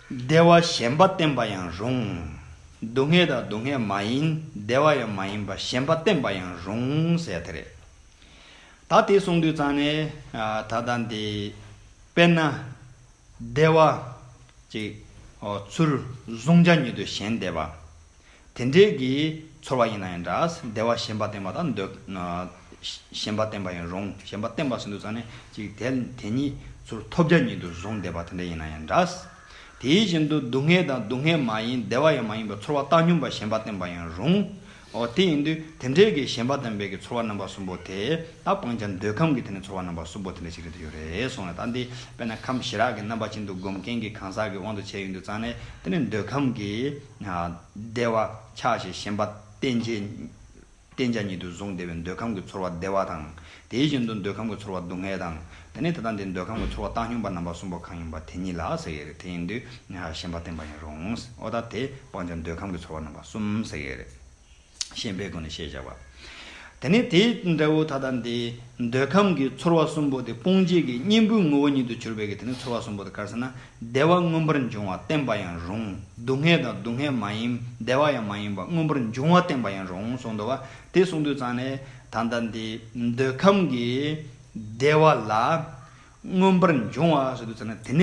བདེ་བ་གཞན་པ་བསྟེན་པ་ཡང་རུང། སྡུག་བསྔལ་དང་སྡུག་བསྔལ་མ་ཡིན་བདེ་བ་ཡང་མ་ཡིན་པ་གཞན་པ་བསྟེན་པ་ཡང་རུང་ཟེར་དེ་རེད། ད་དེ་གསུངས་དུས་ཙང་ནས་ད་ལྟ་འདི་དཔེར་ན། བདེ་བ། གཅིག། ཚུར་བཟུང་བྱ་ཉིད་དུ་གཞན་བདེ་བ། དེ་འདྲའི་གི་ཚོར་བ་ཡིན་ན་ཡང་འདྲ། བདེ་བ་ཞེན་པ་བསྟེན་པ་དང་འདོད། ཞེན་པ་བསྟེན་པ་ཡང་རུང་ཞེན་པ་བསྟེན་པ་ཟིན་དུ་ཚང་ནས་ཅིག་དེ་དེ་ཉིད་ཚུར་ཐོབ་རྒྱ་ཉིད་དུ་བཟུང་བདེ་བ་དེ་འདྲ་ཡིན་ན་ཡང་འདྲ། དེའི་བཞིན་དུ་སྡུག་བསྔལ་དང་སྡུག་བསྔལ་མ་ཡིན་བདེ་བ་ཡང་མ་ཡིན་པའི་ཚོར་བ་བཏང་སྙོམས་པ་ཞེན་པ་བསྟེན་པ་ཡང་རུང་ངོ། དེ་ཡིན་དུས་དེ་འདྲའི་གི་ཞེན་པ་བསྟེན་པའི་གི་ཚོར་བ་རྣམ་པ་གསུམ་པོ་དེ་དག་སྤང་བྱ་འདོད་ཁམས་ཀྱི་དེ་ནི་ཚོར་བ་རྣམ་པ་གསུམ་པོ་དེ་འདྲ་ཞིག་རེད་དུ་ཡོད་རེད་གསུངས་ལ་ད་འདི་དཔེར་ན་ཁམས་ཞི་རགས་ཀྱི་རྣམ་པ་ཅན་དུ་སྒོམ་མཁན་གྱི་གང་ཟག་གི་དབང་དུ་བྱས་ཡོད་འདུག་ཚང་ནས་དེ་ནི་འདོད་ཁམས་ཀྱི། བདེ་བ་ཆགས་ཞེས་ཞེན་པ་བརྟེན་བྱ་ཉིད་དུ་བཟུང་བདེ་བའི་འདོད་ཁམས་ཀྱི་ཚོར་བ་བདེ་བ་དང། དེ་བཞིན་དུ་འདོད་ཁམས་ཀྱི་ཚོར་བ་སྡུག་བསྔལ་དང། དེ་ནས་ད་ལྟ་འདིར་འདོད་ཁམས་ཀྱི་ཚོར་བ་བཏང་སྙོམས་པ་རྣམ་པ་གསུམ་པོ་གང་ཡིན་པ་དེ་ཉིད་ལ་ཟེར་ཡོད་རེད་དེ་ཡིན་དུས་ཞེན་པ་བརྟེན་པ་ཡིན་རུང་ཨོ་ད་དེ་སྤང་བྱ་འདོད་ཁམས་ཀྱི་ཚོར་བ་རྣམ་པ་གསུམ་ཟེར་ཡོད་རེད། ཤེས་པའི་སྒོ་ནས་ཤེས་བྱ་བ། དེ་ནི་དེའི་འབྲས་བུ་ད་ལྟ་འདི། འདོད་ཁམས་ཀྱི་ཚོར་བ་གསུམ་པོ་དེ་སྤོང་བྱེད་ཀྱི་གཉེན་པོའི་ངོ་བོ་ཉིད་དུ་གྱུར་པའི་གིས་དེ་ནི་ཚོར་བ་གསུམ་པོ་དེ་དཀར་སེར་ན་བདེ་བ་མངོན་པར་འབྱུང་བ་བསྟན་པ་ཡང་རུང་སྡུག་བསྔལ་དང་སྡུག་བསྔལ་མ་ཡིན་བདེ་བ་ཡང་མ་ཡིན་པ་མངོན་པར་འབྱུང་བ་བསྟན་པ་ཡང་རུང་གསུངས་འདུག་བ་དེ་གསུངས་དུས་ཙང་ནས་ད་ལྟ་འདི། འདོད་ཁམས་ཀྱི་བདེ་བ་ལ། མངོན་པར་འབྱུང་བ་ཞེས་བསྡུ་ཚར་ན་དེ་ནས་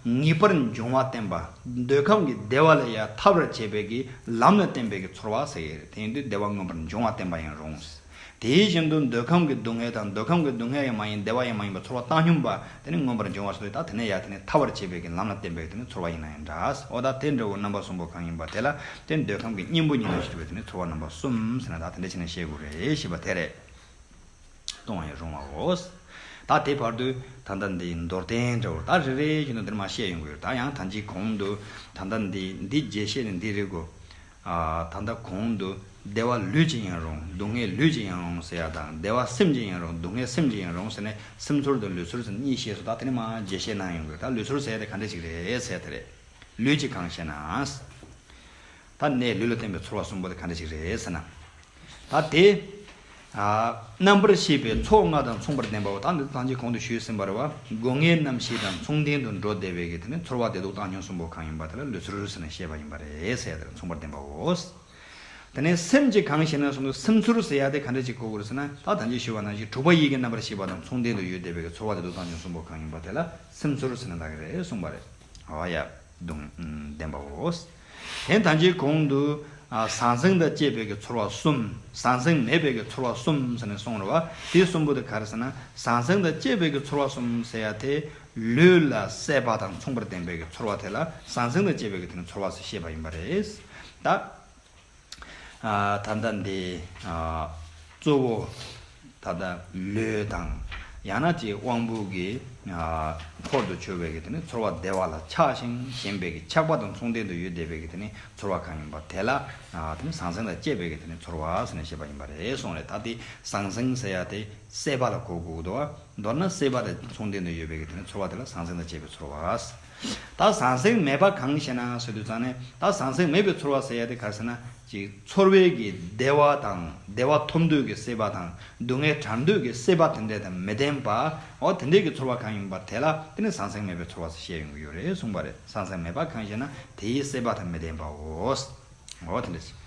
ཡང་ངེས་པར་འབྱུང་བ་བསྟན་པ། འདོད་ཁམས་ཀྱི་བདེ་བ་ལ་ཡང་ཐར་བར་བྱེད་པའི་གྱི་ལམ་ལ་བརྟེན་པའི་གྱི་ཚོར་བ་ཟེར་ཡོད། དེ་ཡིན་དུས་བདེ་བ་མངོན་པར་འབྱུང་བ་བསྟན་པ་ཡང་རུང། དེ་བཞིན་དུ་འདོད་ཁམས་ཀྱི་སྡུག་བསྔལ་དང་འདོད་ཁམས་ཀྱི་སྡུག་བསྔལ་ཡང་མ་ཡིན་བདེ་བ་ཡང་མ་ཡིན་པའི་ཚོར་བ་བཏང་སྙོམས་པ་དེ་ནི་མངོན་པར་འབྱུང་བ་ཞེས་བསྡུ་ཡི་དྭ་དེ་ནས་ཡང་དེ་ནི་ཐར་བར་བྱེད་པའི་གྱི་ལམ་ལ་བརྟེན་པའི་དེ་ནི་ཚོར་བ་ཡིན་ན་ཡང་འདྲ། འོ་ད་དེ་འདྲ་བའི་རྣམ་པ་གསུམ་པོ་གང་ཡིན་པ་དེ་ལ་དེ་འདོད་ཁམས་ཀྱི་གཉེན་པོ་ཉིད་དུ་ཞེས་བསྡུ་བའི་དེ་ནི་ཚོར་བ་རྣམ་པ་གསུམ་ཟེར་ན་ད་དེ་འདྲ་བྱས་ན་ཤེས་དགོས་རེད་ཞེས་པ་དེ་རེད། གཏོང་བའི་རུང་བའོ། ད་དེ་བར་དུ་ད་ལྟ་འདི་མདོར་བསྟན་འདྲ་བོར་ད་རེ་རེ་བཞིན་དུ་འདིར་མ་བཤད་ཡོང་གི་ཡོད་ད་ཡང་ད་འཇིག་གོང་དུ་ད་ལྟ་འདི་འདི་རྗེས་བཤད་ནས་འདི་རིག་གོ། ད་ལྟ་གོང་དུ་བདེ་བ་ལུས་ཀྱི་ཡིན་རུང་སྡུག་བསྔལ་ལུས་ཀྱི་ཡིན་རུང་ཟེར་བ་དང་བདེ་བ་སེམས་ཀྱི་ཡིན་རུང་སྡུག་བསྔལ་སེམས་ཀྱི་ཡིན་རུང་ཟེར་ནས་སེམས་ཚོར་དང་ལུས་ཚོར་ཟེར་ནས་གཉིས་བཤད་སོ་ད་དེ་ནི་མ་རྗེས་བཤད་གནང་ཡོང་གི་ཡོད་ད་ལུས་ཚོར་ཟེར་ཡ་དེ་ག་འདྲས་ཅིག་རེད་ཟེར་ཡ་དེ་རེད། ལུས་ཀྱི་གང་བཤད་ན། ད་ནས་ལུས་ལ་སྟོན་པའི་ཚོར་བ་གསུམ་པོ་དེ་ག་འདྲ་ཞིག་རེད་ཟེར་ན། ད་དེ། རྣམ་པར་ཤེས་པའི་ཚོགས་ལྔ་དང་མཚུངས་པར་ལྡན་པའོ་ད་འདི་ཐང་ཅིག་གོང་དུ་ཞུས་ཟིན་པར་བ་སྒོ་ངའི་རྣམ་ཤེས་དང་མཚུངས་ལྡན་དུ་འགྲོ་བདེ་བའི་གེགས་དེ་ནི་ཚོར་བ་བདེ་སྡུག་བཏང་སྙོམས་གསུམ་པོ་གང་ཡིན་པ་དེ་ལ་ལུས་ཚོར་ཟེར་ནས་བཤད་པ་ཡིན་པ་རེད་ཟེར་ཡ་དེ་ལ་མཚུངས་པར་ལྡན་པའོ། དེ་ནས་སེམས་ཀྱི་གང་ཞེ་ན་གསུམ་དུ་སེམས་ཚོར་ཟེར་ཡ་དེ་ག་འདྲ་ཞིག་གོ་དགོས་རེད་ཟེར་ན་ད་ཐང་ཅིག་ཞུས་པ་ནང་བཞིན་དྲུག་པ་ཡིད་ཀྱི་རྣམ་པར་ཤེས་པ་དང་མཚུངས་ལྡན་དུ་ཡོད་བདེ་བའི་གེགས་ཚོར་བ་བདེ་སྡུག་བཏང་སྙོམས་གསུམ་པོ་གང་ཡིན་པ་དེ་ལ་སེམས་ཚོར་ཟེར་ན་ད་ག་རེད་གསུངས་པ་རེད། ཨོ་ཡ། ལྡན་པའོ། དེང་དང་ཅིའི་གོང་དུ། ཟང་ཟིང་དང་བཅས་པའི་ཀྱི་ཚོར་བ་གསུམ། ཟང་ཟིང་མེད་པའི་ཀྱི་ཚོར་བ་གསུམ་ཟེར་ནས་གསུངས་རོ། བ་དེ་གསུམ་པོ་དེ་ག་རེ་ཟེར་ན་ཟང་ཟིང་དང་བཅས་པའི་ཀྱི་ཚོར་བ་གསུམ་ཟེར་ཡ་དེ། ལུས་ལ་སྲེད་པ་དང་མཚུངས་པར་ལྡན་པའི་ཀྱི་ཚོར་བ་དེ་ལ་ཟང་ཟིང་དང་བཅས་པའི་ཀྱི་དེ་ནི་ཚོར་བ་ཟེར་ཤེས་པ་ཡིན་པ་རེད། ད། ད་ལྟ་འདི། གཙོ་བོ། ད་ལྟ་ལུས་དང། ཡང་ན་ཅིག་དབང་པོ་གི། འཁོར་དུ་གྱུར་པའི་དེ་ནི་ཚོར་བ་བདེ་བ་ལ་ཆགས་ཤིང་ཞེན་པའི་ཆགས་པ་དང་མཚུངས་ལྡན་དུ་ཡུལ་བདེ་བའི་དེ་ནི་ཚོར་བ་གང་ཡིན་པ་དེ་ལ། དེ་ནི་ཟང་ཟིང་དང་བཅས་པའི་དེ་ནི་ཚོར་བ་ཟེར་ནས་བཤད་པ་ཡིན་པ་རེད་གསུངས་རེད་ད་དེ་ཟང་ཟིང་ཟེར་ཡ་དེ་སྲེད་པ་ལ་གོ་དགོས། མདོར་ན་སྲེད་པ་དང་མཚུངས་ལྡན་དུ་ཡོད་པའི་དེ་ནི་ཚོར་བ་དེ་ལ་ཟང་ཟིང་དང་བཅས་པའི་ཚོར་བ། ད་ཟང་ཟིང་མེད་པ་གང་ཞེ་ན་ཟེར་དུས་ཙང་ནས་ད་ཟང་ཟིང་མེད་པའི་ཚོར་བ་ཟེར་ཡ་དེ་ག་ཟེར་ན་གཅིག་ཚོར་བའི་གི་བདེ་བ་དང་བདེ་བ་ཐོབ་འདོད་ཀྱི་སྲེད་པ་དང་སྡུག་བསྔལ་དྲར་འདོད་ཀྱི་སྲེད་པ་དེ་འདྲ་དང་མི་ལྡན་པ་འོ་དེ་འདྲའི་གི་ཚོར་བ་གང་ཡིན་པ་དེ་ལ་དེ་ནི་ཟང་ཟིང་མེད་པའི་ཚོར་བ་ཞེས་བཤད་ཡོང་གི་ཡོད་རེད་གསུངས་པ་རེད་ཟང་ཟིང་མེད་པ་གང་ཞེ་ན་དེའི་སྲེད་པ་དང་མི་ལྡན་པའོ། འོ་དེ་འདྲ་ཞིག།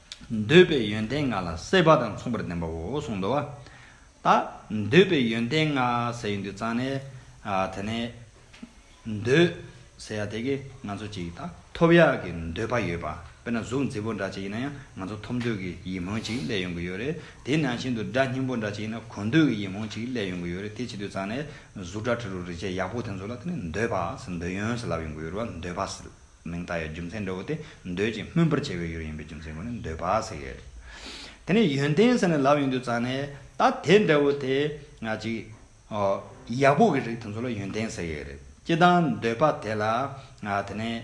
འདོད་པའི་ཡོན་ཏན་ལྔ་ལ་སྲེད་པ་དང་མཚུངས་པར་ལྡན་པའོ་གསུངས་མདོ། ད་འདོད་པའི་ཡོན་ཏན་ལྔ་ཟེར་ཡོད་འདུག་ཙང་ནས། དེ་ནས། འདོད། ཟེར་ཡ་དེ་གི་ང་ཚོ་ཅིག་ད་ཐོབ་ཡ་གི་འདོད་པ་ཡོད་པ། དཔེར་ན་གཟུགས་མཛེས་པོ་འདྲ་ཅིག་ཡིན་ན་ཡང་ང་ཚོ་ཐོབ་འདོད་ཀྱི་ཡིད་སྨོན་ཅིག་སླེབས་ཡོང་གི་ཡོད་རེད། དེ་ནང་བཞིན་དུ་སྒྲ་སྙན་པོ་འདྲ་ཅིག་ཡིན་ན་གོ་འདོད་ཀྱི་ཡིད་སྨོན་ཅིག་སླེབས་ཡོང་གི་ཡོད་རེད་དེ་བྱེད་དུས་ཙང་ནས། གཟུགས་སྒྲ་དྲི་རོ་རིག་བྱེད་ཡག་པོ་དེ་ཚོ་ལ་དེ་ནས་འདོད་པ། འདོད་ཡོན་ཟེར་ལབ་ཡོང་གི་ཡོད་རེད་བ་འདོད་པ། མིང་བཏགས་ཡོད་རྒྱུ་མཚན་འདྲ་བོ་སྟེ་འདོད་ཅིང་སྨོན་པར་བྱེད་པའི་ཡུལ་ཡིན་པའི་རྒྱུ་མཚན་ཁོ་ནས་འདོད་པ་ཟེར་ཡོད། དེ་ནས་ཡོན་ཏན་ཟེར་ནས་ལབ་ཡོང་དུས་ཙང་ནས་ད་དེ་འདྲ་བོ་དེ་ང་ཅིག་ཡག་པོ་གི་རིགས་དེ་ཚོ་ལ་ཡོན་ཏན་ཟེར་ཡོད་རེད་སྤྱི་དང་འདོད་པ་དེ་ལ་དེ་ནས་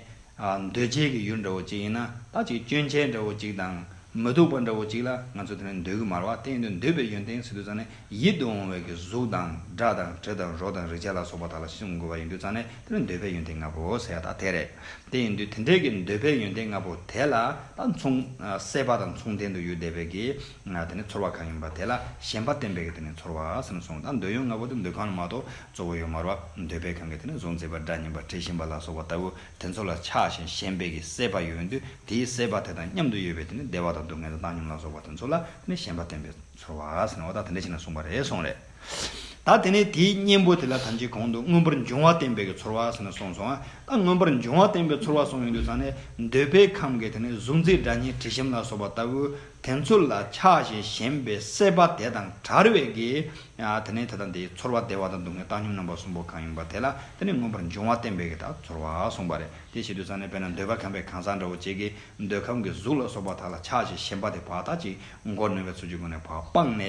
འདོད་བྱེད་ཀྱི་ཡུལ་འདྲ་བོ་ཅིག་ཡིན་ན་ད་ཅིག་སྐྱོན་ཆ་འདྲ་བོ་ཅིག་དང་མི་སྡུག་པ་འདྲ་བོ་ཅིག་ལ་ང་ཚོ་དེ་ནས་འདོད་གི་མ་རེད་བ་དེ་ཡིན་དུས་འདོད་པའི་ཡོན་ཏན་ཟེར་དུས་ཙང་ནས་ཡིད་དུ་འོང་བའི་གི་གཟུགས་དང་སྒྲ་དང་དྲི་དང་རོ་དང་རེག་བྱ་ལ་སོགས་པ་དག་ལ་སེམས་འགོད་པ་ཡིན་དུས་ཙང་ནས་དེ་ལ་འདོད་པའི་ཡོན་ཏན་ལྔ་པོ་ཟེར་བ་དག་དེ་རེད། དེ་ཡིན་དུས་དེ་འདྲའི་གི་འདོད་པའི་ཡོན་ཏན་ལྔ་པོ་དེ་ལ་དང་མཚུངས། སྲེད་པ་དང་མཚུངས་ལྡན་དུ་ཡུལ་འདས་པའི་གི་དེ་ནི་ཚོར་བ་གང་ཡིན་པ་དེ་ལ་ཞེན་པ་བརྟེན་པའི་གི་དེ་ནི་ཚོར་བ་སེམས་གསུམ་དང་འདོད་ཡོན་ལྔ་པོ་དེ་འདོད་གང་ལ་མ་གཏོགས་གཙོ་བོ་ཡོད་མ་རོ། འདོད་པའི་གང་གི་དེ་ནི་གཟུགས་མཛེས་པ་སྒྲ་སྙན་པ་དྲི་ཞིམ་པ་ལ་སོགས་པ་ལྟ་བུ་དེ་ཚོ་ལ་ཆགས་ཞེན་ཞེན་པའི་གི་སྲེད་པ་ཡོད་དུས་དེའི་སྲེད་པ་དེ་དང་མཉམ་དུ་ཡོད་པའི་དེ་ནི་བདེ་བ་དང་སྡུག་བསྔལ་དང་བཏང་སྙོམས་ལ་སོགས་པ་དེ་ཚོ་ལ་དེ་ནི་ཞེན་པ་བརྟེན་པའི། ཚོར་བ་ཟེར་ན་བ་ད་དེ་འདྲ་ཞིག་ན་གསུངས་པ་རེད་སོང་རེད། ད་དེ་ནས་དེའི་གཉེན་པོ་དེ་ལ་ཐམས་ཅད་གང་དུ་མངོན་པར་འབྱུང་བ་བསྟན་པའི་གི་ཚོར་བ་ཟེར་ན་གསུངས་སོང་ད་མངོན་པར་འབྱུང་བ་བསྟན་པའི་ཚོར་བ་གསུངས་ཡོད་དུས་ཚང་ནས་འདོད་པའི་ཁམས་ཀྱི་དེ་ནས་གཟུགས་མཛེས་སྒྲ་སྙན་དྲི་ཞིམ་ལ་སོགས་པ་ལྟ་བུ་དེ་ཚོ་ལ་ཆགས་ཞེན་ཞེན་པའི་སྲེད་པ་དེ་དང་བྲལ་བའི་གི་དེ་ནས་དེ་དང་དེའི་ཚོར་བ་བདེ་བ་དང་སྡུག་བསྔལ་བཏང་སྙོམས་རྣམ་པ་གསུམ་པོ་གང་ཡིན་པ་དེ་ལ་དེ་ནས་མངོན་པར་འབྱུང་བ་བསྟན་པའི་གི་དག་ཚོར་བ་གསུངས་པ་རེད་དེ་བྱེད་དུས་ཚང་ནས་དཔེར་ན་འདོད་པ་ཁམས་པའི་གང་ཟག་འདྲ་བོ་གཅིག་གིས་འདོད་ཁམས་ཀྱི་གཟུགས་ལ་སོགས་པ་དག་ལ་ཆགས་ཞེན་ཞེན་པ་དེ་བ་དག་ཅིག་མགོ་ནོན་པའི་ཚུལ་གྱིས་ཀུན་ནས་བག་སྤངས་ནས།